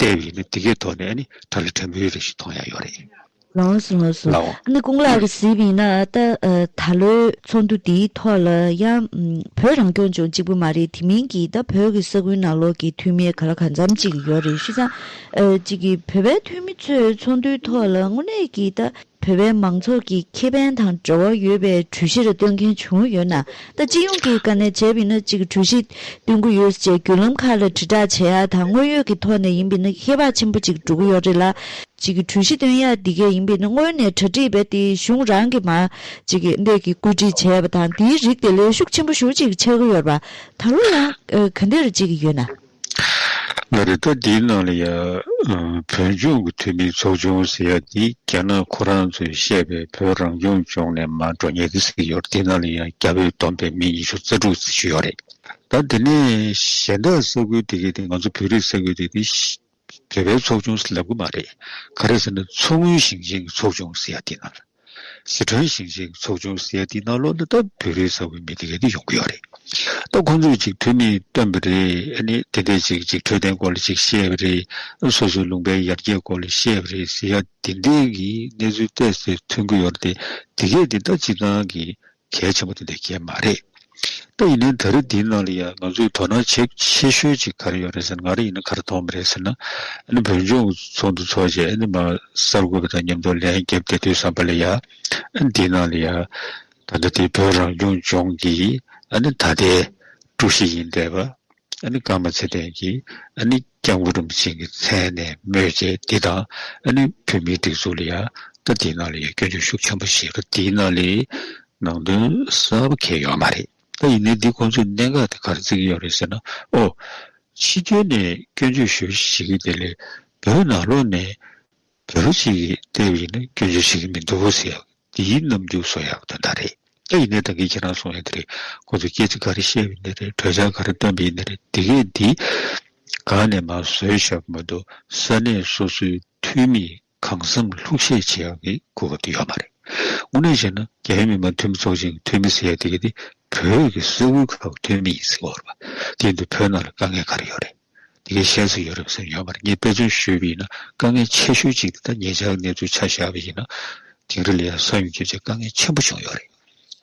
Speaker 4: ལྟས་ཡིན་ནི་འདི་གའི་ཐོག་ནས་ནི་ཁྲ་ལི་ཁྲ་མོའི་རིགས་ཤིག་མཐོང་ཡ་ཡོད་རེད། ལོངས་སུ་ངོས་སུ་ལའོ། ནི་ཀུང་ལགས་ཀྱི་གཟིགས་ཡིན་ན་ད་ད་ལོའི་ཚོགས་འདུ་འདིའི་ཐོག་ལ་ཡང་བོད་རང་སྐྱོང་ལྗོངས་གཅིག་པུ་མ་རེད་དེ་མིན་གྱི་ད་བོད་ཀྱི་ས་ཁུལ་ནང་ལོགས་ཀྱི་འཐུས་མི་ག་ལ་ག་
Speaker 1: འཚམ་གཅིག་ཡོད་རེད་ཤི་ཙང་གཅིག་གི་བོད་པའི་འཐུས་མི་ཚོའི་ཚོགས་འདུའི་ཐོག་ལ་དངོས་གནས་ཀྱི་ད། བོད་པའི་མང་ཚོགས་ཀྱི་ཁེ་ཕན་དང་འབྲེལ་བ་ཡོད་པའི་གྲོས་གཞིར་བཏོན་མཁན་བྱུང་ཡོད་ན་ད་སྤྱི་ཡོངས་ཀྱི་དཀའ་གནད་འཇལ་བི་ན་ཅིག་གྲོས་གཞི་བཏོན་གི་ཡོད་ཅེས་བརྒྱུད་ལམ་ཁག་ལ་དྲིལ་བསྒྲགས་བྱེད་ཡ་དང་དངོས་ཡོད་ཀྱི་ཐོག་ནས་ཡིན་པི་ན་ཧེ་བག་ཆེན་པོ་ཅིག་འགྲོ་གི་ཡོད་རེད་ལ། ཅིག་གྲོས་གཞི་བཏོན་ཡ་འདི་གས་ཡིན་པི་ན་སྔོན་
Speaker 4: ནས་གྲ་སྒྲིག་བས་ཏེ་གཞུང་རང་གི་མ་ཅིག་འདེགས་ཀྱི་བཀོད་སྒྲིག་བྱས་པ་དང་དེའི་རིགས་དེ་ལས་ཤུགས་ཆེན་པོ་ཞུ་ཅིག་ཆག་གི་ཡོད་པ་ད་ལོ་ཡང་ག་འདིར་ཅིག་ཡོད་ན། ལ་རེ་ད་འདིའི་ནང་ལ་ཡང་བོད་ལྗོངས་ཀྱི་འཐུས་མིའི་ཚོགས་ཆུང་ཟེར་ཡ་འདི་རྒྱ་ནག་ཁོ་རང་ཚོས་བཤད་པའི་བོད་རང་སྐྱོང་ལྗོངས་ནས་མ་འགྲོ་ཉེ་གི་ཟིག་ཡོད་རེད་འདི་ནང་ལ་ཡང་རྒྱ་བོད་བསྡོམས་པས་མི་ཉི་ཤུ་རྩ་དྲུག་ཟེར་ཞིག་ཡོད་རེད་ད་འདི་ནས་གཞན་དག་ས་ཁུལ་དེ་གའི་དེ་ང་ཚོ་བོད་རིགས་ས་ཁུལ་དེ་གའི་བོད་པའི་ཚོགས་ཆུང་ཟེར་ལབ་གི་མ་རེད་ག་རེད་ཟེར་ན་མཚོ་སྔོན་ཞིང་ཆེན་གྱི་ཚོགས་ཆུང་ཟེར་ཡ་འདི་ནང་ལ། ཟི་ཁྲོན་ཞིང་ཆེན་གྱི་ཚོགས་ཆུང་གསལ་ཐིག་ནང་ལོ་འདི་ལྟ་བུའི་རིགས་བཟང་བོའི་མི་དེ་ག་དེ་ཡོང་གི་ཡོད་རེད་ད་ཁོང་ཚོས་ཅིག་འཐུས་མིས་བཏོན་པ་རེད་ཨ་ནི་དེ་འདྲས་ཅིག་ཅིག་འཕྲོད་བསྟེན་སྐོར་ལ་ཅིག་བཤད་པ་རེད་སོ་སོའི་ལུང་པའི་ཡར་རྒྱས་སྐོར་ལ་བཤད་པ་རེད་ཟེར་ཡ་དེ་འདྲས་ཀྱི་གནས་ཚུལ་བལྟས་ཚེ་མཐུན་གི་ཡོད་རེད་དེ་གས་དེ་ལྟ་ཅིག་གང་གི་གལ་ཆེན་པོ་དེ་འདྲ་གལ་མ་རེད། ད་ཡིན་ནའི་ད་རེས་འདིའི་ནང་ལ་ཡང་ང་ཚོས་དོ་སྣང་བྱེད་ཆེ་ཤོས་ཅིག་ག་རེ་ཡོད་རེད་ཟེར་ན་ང་རེ་ཡིན་ན་ག་རེ་མཐོང་གི་རེད་ཟེར་ན། ཨ་ནི་བོད་ལྗོངས་ཚོགས་འདུ་འཚོགས་རྗེས་ཨ་ནི་མ་གསར་འགོད་པ་དང་མཉམ་དུ་ལན་བརྒྱབ་བསྡད་དུས་བསམ་པ་ལ་ཡང་ཨ་ནི་འདིའི་ནང་ལ་ཡང། ད་ལྟ་དེ་བོད་རང་སྐྱོང་ལྗོངས་ཀྱི་ཨ་ནི་ད་ལྟའི་ཀྲུའུ་ཞི་ཡིན་བསྡད་པ། ཨ་ནི་ཀརྨ་ཚེ་བརྟན་གྱིས་ཨ་ནི་སྐྱབས་མགོན་རིན་པོ་ཆེ་གི་མཚན་ནས་མོས་བྱས་འདི་དང་ཨ་ནི་བོད་མིའི་སྒྲིག་འཛུགས་ལ་ཡང་ད་འདི་ནང་ལ་ཡང་སྐྱོན་བརྗོད་ཤུགས་ཆེན་པོ་བྱེད་ཀ་འདི་ནང་ལའི་ནང་དོན་གསལ་པོ་གས་ཡོད་མ་རེད་ད་ཡིན་ནའི་འདི་ཁོང་ཚོས་གནད་འགག་དེ་གར་བརྩི་གི་ཡོད་རེད་ཟེར་ན་ཨོ། ཕྱི་རྒྱལ་ནས་སྐྱོན་བརྗོད་ཞུ་ཞིག་གི་དེ་ལས་བོད་ནང་ལོགས་ནས་བོད་པ་ཞིག་གི་ལྟས་བ་ཡིན་ན་སྐྱོན་བརྗོད་བྱེད་ཀྱི་མི་འདུག་ཟེར་འདི་ཡིན་ནམ་རྒྱུགས་སོང་ཡག་དོན་དག་རེད་སྐྱ་ཡིན་ནའི་ད་གིན་ཁྱེད་རང་སོང་ཡག་དེ་རེད་ཁོ་ཚོ་སྐད་ཆ་ག་རེ་བཤད་བའི་ནི་རེད་གྲོས་འཆར་ག་རེ་བཏོན་པའི་ཡིན་ནི་རེད་དེ་གས་འདི་གང་ནས་མ་བཟོས་ཞབས་མ་འདུག་ས་གནས་སོ་སོའི་འཐུས་མིས་གང་བསམ་ལྷུག་བཤད་བྱེད་ཡག་གི་དགོས་པ་དེ་ཡོད་མ་རེད་དངོས་གནས་བཤད་ན་རྒྱ་ཡོལ་མི་མང་འཐུས་མི་ཚོགས་ཆེན་གི་འཐུས་མི་ཟེར་ཡག་དེ་གས་འདི་བོད་ཀྱི་ས་ཁུལ་ཁག་གི་འཐུས་མི་ཡིན་ཟེར་བ་རེད་པ་དེ་འདི་བོད་ནང་ལ་དཀའ་ངལ་ག་རེ་ཡོད་རེད། དེ་གའི་ཤེས་ཚད་ཡོད་རབས་ཟེར་ཡོད་པར་ངས་དཔེ་མཚོན་ཞུས་པ་ཡིན་ན་དཀའ་ངལ་ཆེ་ཤོས་གཅིག་དེ་ད་ངེད་ཅག་གི་གནས་ཚུལ་ཆ་བཞག་པ་ཡིན་ན་དིང་རི་ལ་ཡང་ས་ཡོམ་བརྒྱུད་ཆེས་དཀའ་ངལ་ཆེན་པོ་བྱུང་ཡོད་རེད།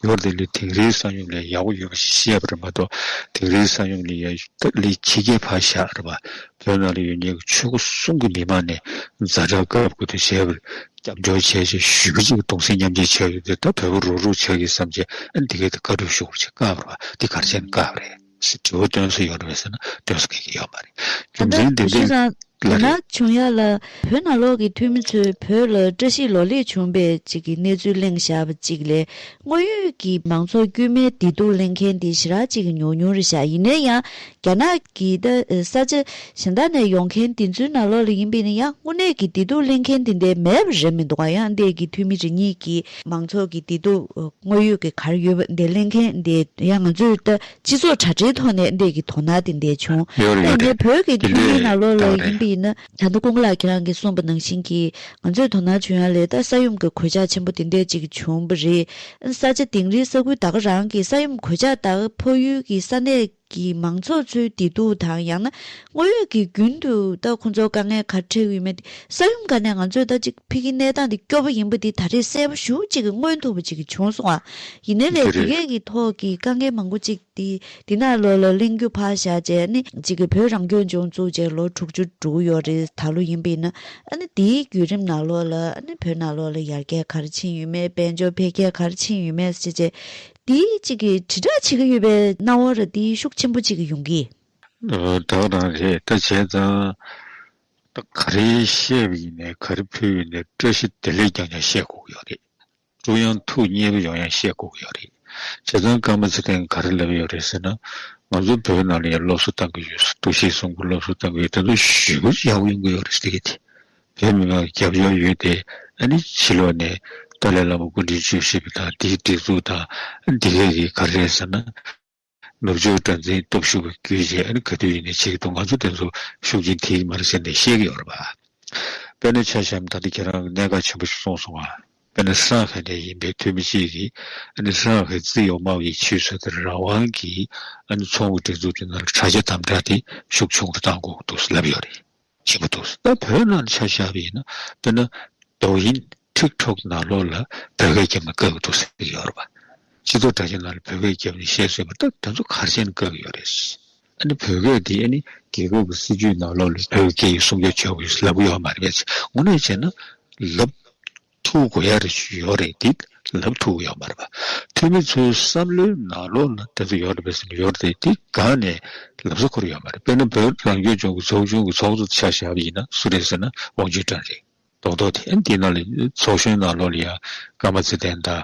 Speaker 4: ལོ་འདི་ལོའི་དིང་རིའི་ས་ཡོམ་ལས་ཡག་པོ་ཡོད་པ་ཞིག་ཤེས་པ་རེད་མ་གཏོགས་དིང་རིའི་ས་ཡོམ་ལས་ཡག་ཐབས་ལས་ཕྱི་རྒྱལ་ཕར་བཞག་རེད་པ་བོད་ནང་ལ་ཡོད་ཉེས་ཀྱི་ཆོས་སྒོ་སྲུང་གི་མི་མང་ནས་རྫ་དྲག་བཀབ་དགོས་དོན་བྱས་པར་སྐྱབས་འཇོག་བྱས་རྗེས་ཞུས་པ་ཅིག་གདུང་སེམས་མཉམ་བསྐྱེད་བྱས་ཡོད་དེ་ད་བོད་པོ་རོགས་རུག་བྱ་གི་བསམ་བྱས་ཨ་འདི་གའི་ད་དཀའ་སྡུག་ཤོར་བ་ཆེས་དཀའ་བར་བ་འདི་གར་བྱས་ན་དཀའ་བ་རེད། ཞེས་དྲི་བ་བཏོན་སྲོལ་ཡོད་རེད་ཟེར་ན་བཏོན་སྲོལ་ག་གི་ཡོད་མ་རེད་རྒྱུ་ད་ལྟ་མཚན་དེ་འདྲ་ཤི་སང་ལ་དེ་ན་རེད། བྱུང་ཡ་
Speaker 1: ལ་བོད་ནང་ལོག་གི་འཐུས་མི་ཚོས་བོད་ལ་བཀྲ་ཤིས་ལོ་ལེགས་བྱུང་པའི་ཅིག་གི་གནས་ཚུལ་གླེང་བཞག་པ་ཅིག་ལས་དངོས་ཡོད་ཀྱི་མང་ཚོགས་དཀྱུས་མའི་བདེ་སྡུག་གླེང་མཁན་དེ་ཞི་རག་ཅིག་གི་ཉུང་ཉུང་རེད་བཞག་ཡིན་ནའི་ཡང་རྒྱ་ནག་གི་ད་ས་ཆ་གཞན་དག་ནས་ཡོང་མཁན་དེ་ཚོའི་ནང་ལོག་ལ་ཡིན་པའི་ཡང་དངོས་གནས་ཀྱི་བདེ་སྡུག་གླེང་མཁན་དེ་འདའི་མེད་པ་རེད་མི་འདུག་ག་ཡང་འདས་ཀྱི་འཐུས་མི་རེ་གཉིས་ཀྱིས། མང་ཚོགས་ཀྱི་བདེ་སྡུག་དངོས་ཡོད་ཀྱི་གར་ཡོད་པ་འདི་གླེང་མཁན་འདི་ཡང་ང་ཚོའི་ལྟ་སྤྱི་ཚོགས་དྲ་འབྲེལ་ཐོག་ནས་འདས་ཀྱི་དོ་ན་དེ་འདས་བྱུང་ཡོད་རེད་ཡོད་རེད་བོད་ཀྱི་འདི་ཐུན་མིན་ལ་ལོ་ལེགས་ཡིན་པ་ཡིན་ན། ད་ལྟ་ཀུན་ལགས་ཁྱེད་རང་གིས་གསུངས་པ་ནང་བཞིན་གྱིས་ང་ཚོའི་དོ་ན་བྱུང་ཡང་ལས་ད་ས་ཡོམ་གྱི་གོད་ཆག་ཆེན་པོ་དེ་འད་ཅིག་བྱུང་པ་རེད་ཨ་ས་ཆ་དིང་རིའི་ས་ཁུལ་ད་ག་རང་གིས་ས་ཡོམ་གོད་ཆག་དག་ཕོག་ཡུལ་གྱི་ས་གནས་གི་མང་ཚོགས་ཚོའི་བདེ་སྡུག་དང་ཡང་ན་དངོས་ཡོད་ཀྱི་རྒྱུན་དུ་ད་ཁོ་ཚོར་དཀའ་ངལ་ག་འཕྲད་ཡོད་མེད་དེ་ས་ཡོམ་ག་ནས་ང་ཚོས་ད་ཅིག་ཕིག་གི་གནས་སྟངས་དེ་སྐྱོ་བོ་ཡིན་པ་དེ་ད་རེས་གསལ་པོ་ཞུ་གཅིག་གི་མངོན་ཐུབ་པ་ཅིག་བྱུང་སོང་བ་ཡིན་ནའི་ལས་དེ་གས་ཀྱི་ཐོག་གི་དཀའ་ངལ་མང་པོ་ཅིག་དེ་འདི་ན་ལོ་ལ་གླེང་རྒྱུ་ཕར་བཞག་རྗེས་ནི་ཅིག་གི་བོད་རང་སྐྱོང་ལྗོངས་བཙུགས་རྗེས་ལོ་དྲུག་ཅུ་དྲུག་ཡོལ་རེ་ད་ལོ་ཡིན་པ་ཡིན་ན་ནི་དེའི་བརྒྱུད་རིམ་ན་ལོ་ལ་ནི་བོད་ན་ལོ་ལ་ཡར་རྒྱས་ག་རེ་ཕྱིན་ཡོད་མེད་དཔལ་འབྱོར་འཕེལ་རྒྱས་ག་རེ་ཕྱིན་ཡོད་མེད་བྱས་རྗེས་དེའི་གཅིག་གིས་དྲིལ་བསྒྲགས་བྱེད་ཀྱི་ཡོད་པའི་སྣང་བ་ར་འདི་ཤུགས་ཆེན་པོ་གཅིག་ཡོང་གི། བདག་རང་
Speaker 4: རེད་ད་བྱས་ཙང། ད་ག་རེ་བཤད་པ་ཡིན་ནས་ག་རེ་ཕུལ་བ་ཡིན་ནས་བཀྲ་ཤིས་བདེ་ལེགས་ཀྱང་ཀྱང་བཤད་དགོས་ཀྱི་ཡོད་རེད། ཀྲུའུ་དབྱང་ཐུགས་མཉེས་པོ་ཡོང་ཡང་བཤད་དགོས་ཀྱི་ཡོད་རེད། བྱས་ཙང་སྐར་མ་ཚེ་བརྟན་ག་རེ་ལབ་ཡོད་རེད་ཟེར་ན། ང་ཚོ་བོད་ནང་ལ་ཡང་སློབ་གསོ་བཏང་གི་ཡོད་ཟེར་འདུག་ཤེས་སོང་གི་སློབ་གསོ་བཏང་གི་ཡོད་དེ་ཚོ་ཞུ་གི་ཡག་པོ་ཡོང་གི་ཡོད་རེད་ཟེར་གི་དེ། དེའི་མིང་ལ་རྒྱབ་སྐྱོར་ཡོད་དེ། ཨ་ནི་ཕྱི་ལོགས་ནས་ཏཱ་ལའི་བླ་མ་སྐུ་འདྲེན་བྱོས་ཞེས་པ་དང་དེའི་སྒྲིག་འཛུགས་དང་འདི་ག་གིས་ག་རེད་ཟེར་ན། ནུབ་ཕྱོགས་དགྲ་འཛིན་སྟོབས་ཤུགས་པ་གྱོད་ཅེས་ཨ་ནི་ག་དུས་ཡིན་ནས་བྱེད་ཀྱི་འདུག་ང་ཚོ་དེ་ཚོ་ཤུགས་རྐྱེན་ཐེབས་ཀྱི་མ་རེད་ཟེར་ནས་བཤད་ཀྱི་ཡོད་རེད་པ། དཔེར་ན་ཆ་གཞམ་ད་ལྟ་ཁྱེད་རང་གནད་འགག་ཆེན་པོ་ཞིག་སོང་སོང་ཨ། དཔེར་ན་སི་རང་ཧའི་ནས་ཡིན་པའི་འཐུས་མི་གཅིག་གིས་ཨ་ནི་སི་རང་ཧའི་ཙི་ཡོ་མའོ་ཡི་ཆུས་སོ་ཏི་ར་ཝང་གིས་ཨ་ནི་མཚོ་སྔོན་སྒྲིག་འཛུགས་ཀྱི་ནང་ལ་དྲ་རྒྱ་དམ་དྲག་དེ་ཤུགས་ཆུང་རུ་བཏང་དགོས་ཀྱི་འདུག་ཟེར་ལབ་ཡོད་རེད། བྱེད་ཀྱི་འདུག་ད་བོད་ནང་ཆ་བཞག་པ་ཡིན་ན་དཔེར་ན་དོ་དབྱིན་ཐིག་ཐོག་ནང་ལོགས་ལ་བོད་སྐད་རྒྱབ་ནས་བཀག་གི་འདུག་ཟེར་གྱི་ཡོད་རེད་པ། སྤྱི་ཚོགས་དྲ་རྒྱ་ནང་ལ་བོད་སྐད་རྒྱབ་ནས་བཤད་སྲོལ་བ་ད་དེ་ཚོ་གར་བྱས་ནས་བཀག་གི་ཡོད་རེད། ཨ་ནི་བོད་སྐད་དེ་ཨ་ནི་རྒྱལ་ཁབ་ཀྱི་སྲིད་ཇུས་ནང་ལོགས་ལ་བོད་སྐད་ཡིག་སྲུང་སྐྱོབ་བྱེད་དགོས་ཞེས་ལབ་གི་ཡོད་མ་རེད་པས་ཚེ་སྔོན་ནས་བྱས་ན་ལབ། ཐུགས་གོ་ཡར་ཡོད་རེད་འདི་ལབ་ཐུགས་ཡོད་མ་རེད་པ་འཐུས་མི་ཚོའི་བསམ་བློའི་ནང་ལོག་ན་དེ་ཚོ་ཡོད་རེད་བེད་སེམས་ཡོད་རེད་འདི་གང་ནས་ལབ་ས་ཁུར་ཡོད་མ་རེད་དཔེར་ན་བོད་རང་སྐྱོང་ལྗོངས་ཀྱི་ཚོགས་ཆུང་གི་ཚོགས་གཙོ་ཆགས་ཞབས་ཡིན་ན་སུ་རེད་ཟེར་ན་ཝང་ཅུན་ཀྲང་རེད་མདོག་མདོག་དེ་འདི་ནང་ལ་ཚོགས་གཞོན་ནང་ལོག་ལ་ཡང་སྐར་མ་ཚེ་བརྟན་དང་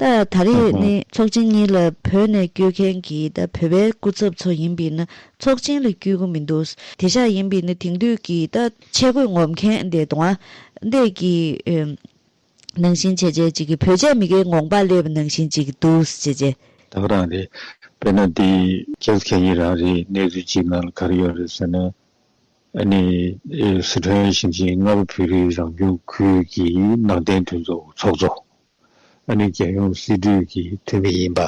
Speaker 1: ད་ད་རེས་ནི་ཚོགས་ཆེན་གཉིས་ལ་བོད་ནས་བསྐྱོད་མཁན་གྱི་ད་བོད་པའི་སྐུ་ཚབ་ཚོ་ཡིན་པས་ན་ཚོགས་ཆེན་ལ་བསྐྱོད་གི་མི་འདུག་དེ་ཤག་ཡིན་པས་ནི་དེང་དུས་ཀྱི་ད་ཆས་གོས་ངོམ་མཁན་དེ་དང། འདས་ཀྱི་ནང་བཞིན་བྱས་བྱས་ཅིག་གི་བོད་ཆས་མི་ཁའི་ངོམ་པ་སླེ་བ་ནང་བཞིན་ཅིག་གི་འདུག་བྱས་བྱས། ད་ག་རང་རེད་
Speaker 4: དཔེར་ན་དེ་རྒྱལ་ཁབ་གཞན་གྱི་རང་རེད་གནས་ཚུལ་གཅིག་ནང་ལ་ག་རེ་ཡོད་རེད་ཟེར་ན། ཨ་ནི་སི་ཁྲོན་ཞིང་ཆེན་རྔ་པ་བོད་རིགས་རང་སྐྱོང་ཁུལ་གྱི་ནང་བསྟན་མཐུན་ཚོགས་ཚོགས་གཙོ། ཨ་ནི་རྒྱལ་ཡོངས་སྲིད་གྲོས་ཀྱི་འཐུས་མི་ཡིན་པ།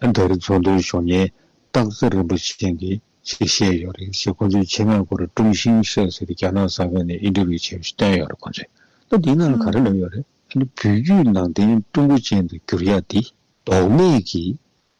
Speaker 4: ཨ་མདའ་རི་ཚོང་དོན་གཞོན་ཉེན་རྟགས་རྩེ་རིན་པོ་ཆེ་ཡང་དེ་ཕྱིར་བཤད་ཡོད་རེད་ཅེས་ཁོང་ཚོའི་ཆེད་མངགས་སྐོར་ཀྲུང་ཤིང་ཧྲེ་ཟེར་རྒྱ་ནག་གསར་ཁང་ནས་ཨིན་ཏེར་བྷྱུ་བྱས་པ་ཞིག་བཏོན་ཡོད་རེད་ཁོང་ཚོས་ལྟ་འདིའི་ནང་ལ་ག་རེ་ལོས་ཡོད་རེད། ཨ་ནི་བོད་བརྒྱུད་ནང་བསྟན་ཀྲུང་གོ་ཅན་དུ་འགྱུར་ཡག་འདི། ལྡོག་མེད་ཀྱིས་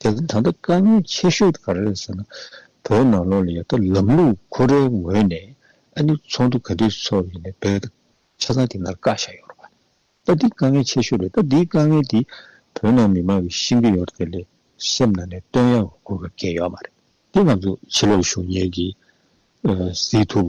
Speaker 4: དེ་ལ་ད་ལྟ་དཀའ་ངལ་ཆེ་ཤོས་ག་རེ་རེད་ཟེར་ན། བོད་ནང་ལོགས་ལ་ཡོད་ད་ལམ་ལུགས་ཁོ་རའི་ངོས་ནས་ཨ་ནུ་ཚོགས་འདུ་ག་དུས་ཚོགས་ཡིན་ནས་བོད་ཆ་ཚང་དེ་ནར་བཀག་བཞག་ཡོད་རོགས། ད་འདི་དཀའ་ངལ་ཆེ་ཤོས་རེད་ད་འདི་དཀའ་ངལ་འདི་བོད་ནང་མི་མང་གི་ཤིང་གི་ཡོར་དེ་ལས་སེམས་ནང་ནས་བཏོན་ཡག་དགོས་ཀ་གལ་ཡོད་མ་རེད། འདི་ང་ཚོ་ཕྱི་ལོགས་ཞུགས་ཉེས་ཀྱི་ཟིག་ཐུབ།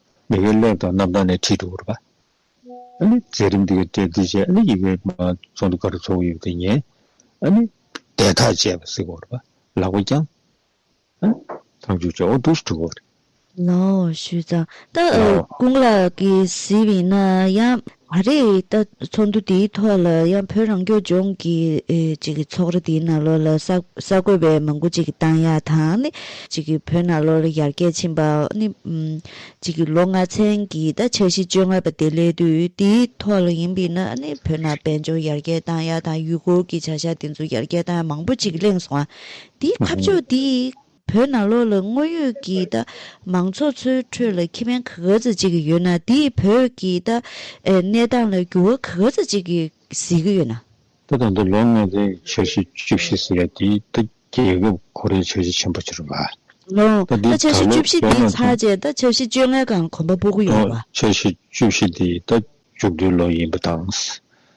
Speaker 4: ཡི་གེ་ལེགས་དང་རྣམ་དག་ནས་ཁྲིད་དུ་འོར་བ། ཨ་ནི་མཛད་རིམ་དེ་གའི་གྲལ་འདི་བྱས་ཨ་ནི་ཡི་གེ་མ་ཚོགས་འདུ་གར་ཚོགས་ཡོད་དེ་ཉན། ཨ་ནི་བཟླས་ཐག་བཅད་པ་གཟིགས་འོར་བ། ལག་པ་བརྐྱང། ཨ་ནི་ཐང་ཆུ་བཅོ་བོ་འདུག་འདྲི་འོར། ལའོ།
Speaker 1: ཞུས་ཙང། ལའོ། ཀུན་ལ་གྱིས་གཟིགས་པས་ན་ཡང། མ་རེད་ད། ཚོགས་འདུ་དེའི་ཐོག་ལ་ཡང་བོད་རང་སྐྱོང་ལྗོངས་ཀྱི་ཚོགས་ར་དེའི་ནང་ལོགས་ལ་གསར་འགོད་པའི་མང་པོ་ཞིག་གཏང་ཡག་དང། བོད་ནང་ལོགས་ལ་ཡར་རྒྱས་ཕྱིན་པ། ལོ་ལྔ་ཚན་གྱི་འཆར་གཞི་བཅོ་ལྔ་པ་དེ་སླེབས་དུས་དེའི་ཐོག་ལ་ཡིན་པས་ན་བོད་ནང་དཔལ་འབྱོར་ཡར་རྒྱས་གཏང་ཡག་དང་ཡུལ་སྐོར་གྱི་བྱ་གཞག་དེ་ཚོ་ཡར་རྒྱས་གཏང་ཡག་མང་པོ་ཞིག་གླེང་སོང། དེའི་ཁ་ཕྱོགས་དེ། བོད་ནང་ལོགས་ལ་དངོས་ཡོད་ཀྱི་ད་མང་ཚོགས་ཚོའི་
Speaker 4: ཁྲོད་ལ་ཁེ་ཕན་ག་ག་ཚད་ཅིག་གི་ཡོད་ན་དེས་བོད་ཀྱི་ད་གནས་སྟངས་ལ་འགྱུར་བ་ག་ག་ཚད་ཅིག་གི་བཟི་གི་ཡོད་ན། ད་ད་དུ་ལོ་ལྔ་ཚན་གྱི་འཆར་གཞི་བཅུ་བཞི་ཟེར་བ་དེ་ད་རྒྱལ་ཁབ་ཁོ་རའི་འཆར་གཞི་ཆེན་པོ་ཆགས་པ། ལོངས། ད་འདི་འཆར་གཞི་
Speaker 1: ད་བཅུ་ལོ་བཞི་བརྒྱ་དེ་ནང་ཚུན། ཚར་རྗེས་ད་འཆར་གཞི་བཅོ་ལྔའི་སྒང་གོམ་པ་སྤོ་གི་ཡོད་ལོངས་པ། འཆར་གཞི་བཅུ་བཞི་དེ་ད་མཇུག་བསྡུའི་ལོ་ཡིན་པ་དང།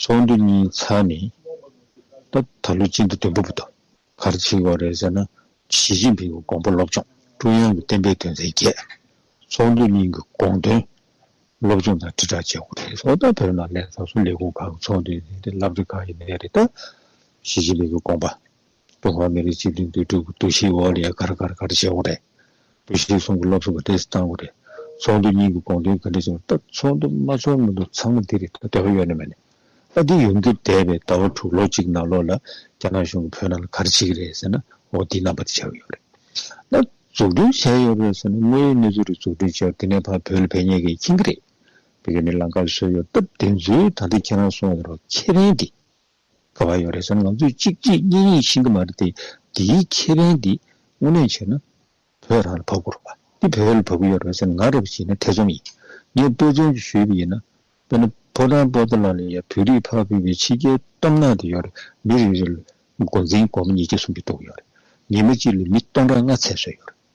Speaker 4: ཚོགས་འདུ་གཉིས་ཚར་ནས་ད་ད་ལོ་ཅི་འདྲ་དོན་པོ་པོ་དང་གར་ཆིག་བ་རེད་ཟེར་ན། ཞི་ཅིན་ཕིང་གི་དགོངས་པ་སློབ་སྦྱོང་ཀྲུང་དབྱང་གི་གཏན་འབེབས་དོན་ཚན་བརྒྱད། ཚོགས་འདུ་གཉིས་ཀྱི་དགོངས་དོན་སློབ་སྦྱོང་དང་དྲིལ་བསྒྲགས་བྱེད་དགོས། ཚོགས་ད་བོད་ནང་ལས་བཟོ་ལས་ཁུངས་ཁག་གི་ཚོགས་འདུ་ཡིན་ཏེ་བསླབ་བྱ་ཁག་ཡིན་ནི་རེད། ཞི་ཅིན་ཕིང་གི་དགོངས་པ་ཀྲུང་ཧྭ་མི་རིགས་གཅིག་མཐུན་འདུས་གྲུབ་ཀྱི་འདུ་ཤེས་འོག་ལས་ཀར་གར་གར་བྱེད་དགོས་རེད། འདུ་ཤེས་གསུམ་གྱི་སློབ་གསོ་ག་འདྲས་སུ་གཏང་དགོས་རེད། ཚོགས་འདུ་གཉིས་ཀྱི་དགོངས་དོན་ག་འདྲས་བྱུང་སྟབས་ཚོགས་འདུ་མ་འཚོགས་མིན་དུ་ཚང་མ་འདི་རེད་ད་འདོད་པ་ཡོད་ནི་མེད་ནི། ཨ་འདི་ཡོང་རྒྱུ་འདས་པའི་ཟླ་བ་དྲུག་ལོ་གཅིག་ནང་ལོགས་ལ་རྒྱ་ནག་གཞུང་གིས་བོད་ནང་ལ་གར་བྱེད་ཀྱི་རེད་ཟེར་ན་འོ་འདི་རྣམ་པ་འདི་བྱས་ཡོད་རེད། ན་འཛུགས་སྐྲུན་བྱས་ཡོད་རེད་ཟེར་ན་དངོས་ཡོད་གནས་ཚུལ་རེ་འཛུགས་སྐྲུན་བྱས་ཡོད་རེད་དེ་ནས་ཕར་བོད་ལ་ཕན་ཉེས་ཀྱི་མཁྱེན་གྱི་རེད། དེ་ག་ནི་ལང་ཀར་བཟོས་ཡོད་སྟབས་དེ་ཚོའི་ད་ལྟ་ཁྱེད་རང་སོང་ཡོད་རོགས་ཁྱེད་རན་འདི། ག་བ་ཡོད་རེད་ཟེར་ན་ང་ཚོས་གཅིག་གཅིག་གཉིས་གཉིས་ཤེས་གི་མ་རེད་དེ། འདིའི་ཁེ་ཕན་འདི་དངོས་གནས་བྱས་ན་བོད་རང་ལ་བབ་དགོས་རེད་པ། འདི་བོད་ལ་བབ་གི་ཡོད་རེད་པ་ཟེར་ན་ང་རེད་པ་ཞིག་ཡིན་ན་ཐེ་ཚོམ་ཡིན། ངས་དཔེ་མཚོན་ཅིག་ཞུས་པ་ཡིན་ན། དཔེར་ན་ཕོ་བྲང་པོ་ཏཱ་ལ་ལ་ཡའི་བོད་རིགས་ཕ་བུ་བའི་ཕྱི་རྒྱལ་གཏོམ་ནང་དུ་ཡོད་རེད་མི་རེ་རེ་ལ་སྒོ་འཛིན་སྒོར་མོ་ཉིས་བརྒྱ་སུམ་བརྒྱ་གཏོང་གི་ཡོད་རེད། ཉིན་མ་གཅིག་ལ་མི་སྟོང་ཕྲག་ལྔ་ཚད་བཟོས་ཡོད་རེད།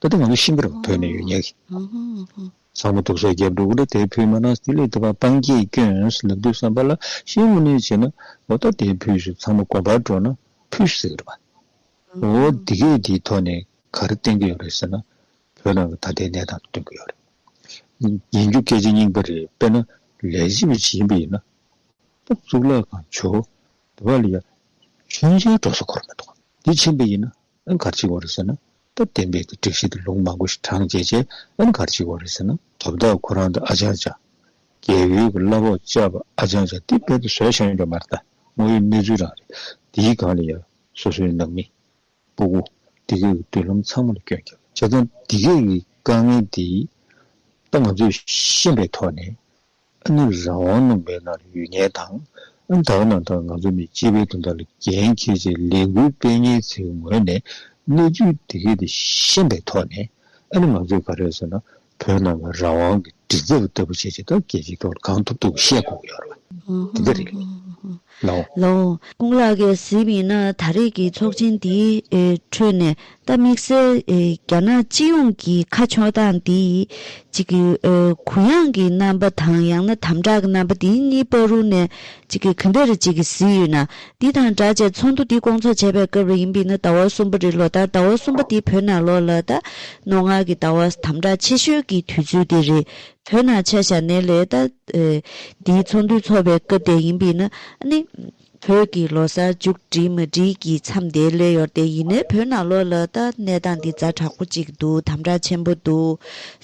Speaker 4: ད་ལྟ་ང་ཚོ་ཤིང་ཕོར་བོས་ནས་ཡོད་ཉལ་གི། ཚང་མ་དུག་སོགས་རྒྱབ་འདུག་ལ་དེའི་ཕུད་མ་ནག་སྟེ་ལེགས་བཏབ་པ་སྤང་རྒྱས་སྐྱོན་ལབ་དུས་བསམ་པ་ལ་ཤིང་ལུ་ནས་བྱས་ན་འོ་ད་དེའི་ཕུད་སུ་ཚང་མ་གོམ་པར་འགྲོ་ན་ཕུད་ཤིག་ཟེར་གི་རེད་པ། འོ་འདི་གས་འདིའི་ཐོག་ནས་ག་རེ་བསྟན་གི་ཡོད་རེད་ཟེར་ན་བོད་ནང་གི་ད་ལྟའི་གནས་སྟངས་དེ་སྟོན་གི་ཡོད་རེད། ཡིན་རྒྱུ་སྐད་ཆ་རྙིང་པ་རེད་དཔེར་ན་ལས་བྱེད་པའི་བྱིས་ཡིན་པ་ཡིན་ན་ཏོག་གཙུག་ལག་ཁང་བྱོས། དེ་བ་ལ་ཡང་ཆོས་མཇལ་འགྲོ་ས་གོ་རེ་མི་འདུག་ག། དེ་བྱིན་པ་ཡིན་ན་ཨན་གར་ཅིག་བོར་ཟེར་ན་སྟབས་བདེ་འབེལ་གྱི་སྒྲིག་གཞི་དེ་ལུང་མང་པོ་ཞིག་དྲངས་རྗེས་རྗེས་ཨན་གར་ཅིག་བོར་ཟེར་ན། དོ་བདག་ཁོ་རང་དང་ཨ་ཅང་ཅང། རྒྱལ་ཡུལ་གྱི་གླ་ཕོགས་བཅའ་བ་ཨ་ཅང་ཅང་སྟེ་དཔལ་དུ་བཟོས་ཤར་འགྲོ་མར་ལྟ་དངོས་ཡོད་གནས་ཚུལ་རང་རེད། འདིའི་སྒང་ལ་ཡང་སོ་སོའི་ནང་མི། སྤུ་གུ། འདི་གའི་མདུན་ལམ་ཚང་མ་ལ་སྐྱོན་རྒྱབ། བྱས་ཙང་འདི་གའི་དཀའ་ངལ་འདི། ད་ང་ཚོས་ཤེས་པའི་ཐོག་ནས་ཨ་ནི་རང་དབང་ནང་མེད་ན་ལ་ཡུལ་ངན་དང། ཨ་ནི་ད་བར་ནང་ལྟར་ང་ཚོ་ནི་སྤྱི་པའི་དོན་དག་ལ་འགན་འཁྱེར་ཆེད་ལས་འགུལ་སྤེལ་ངེས་ཚེ་ངོས་ནས་གནས་ཚུལ་དེ་གས་དེ་ཤེས་པའི་ཐོག་ནས་ཨ་ནི་ང་ཚོས་ག་རེ་ཟེར་ན་བོད་ནང་གི་རང་དབང་གི་སྒྲིག་འཛེག་པ་ལྟ་བུ་བྱས་ཆེད་ད་གས་ཀྱི་ཐོག་ལ་གང་ཐུབ་ཐུབ་ཤེས་དགོས་ཀྱི་ཡོད་རེད། དེ་འདྲ་རེད། ལོ།
Speaker 1: ཀུན་ལ་གེ་གཟིགས་ཡིན་ན་ད་རེས་ཀྱི་ཚོགས་ཆེན་འདིའི་ཁྲོད་ནས་རྟ་དམིགས་བསལ་རྒྱ་ནག་སྤྱི་ཡོངས་ཀྱི་ཁ་ཕྱོགས་སྟངས་འདི་ཡིས་གུ་ཡངས་ཀྱི་རྣམ་པ་དང་ཡང་ན་དམ་དྲག་གི་རྣམ་པ་འདི་གཉིས་པ་རུ་ནས་གང་འདྲ་རེ་གཟིགས་ཡོད་ན་འདི་དང་འདྲ་བྱས་ཚོགས་འདུ་འདི་སྐོང་ཚོགས་བྱས་པའི་སྐབས་རེ་ཡིན་པས་ན་ཟླ་བ་གསུམ་པ་རེ་ལོ་ལྟར་ཟླ་བ་གསུམ་པ་འདི་བོད་ནང་ལོ་ལ་རྟ་ནོར་སྔགས་ཀྱི་ཟླ་བ་དམ་དྲག་ཆེ་ཤོས་ཀྱི་དུས་ཚོད་དེ་རེད་བོད་ནང་ཆ་བཞག་ནས་ལས་རྟ། འདིའི་ཚོགས་འདུའི་ཚོགས་པའི་སྐབས་དེ་ཡིན་པས་ན་ནི། བོད་ཀྱི་ལོ་སར་མཇུག་སྒྲིལ་མ་སྒྲིལ་གྱི་མཚམས་དེའི་སླད་ཡོར་དེ་ཡིན་ནའི་བོད་ནང་ལོ་ལ་ལྟ་གནས་སྟངས་འདི་རྫ་དྲག་པོ་གཅིག་འདུག་དམ་དྲག་ཆེན་པོ་འདུག་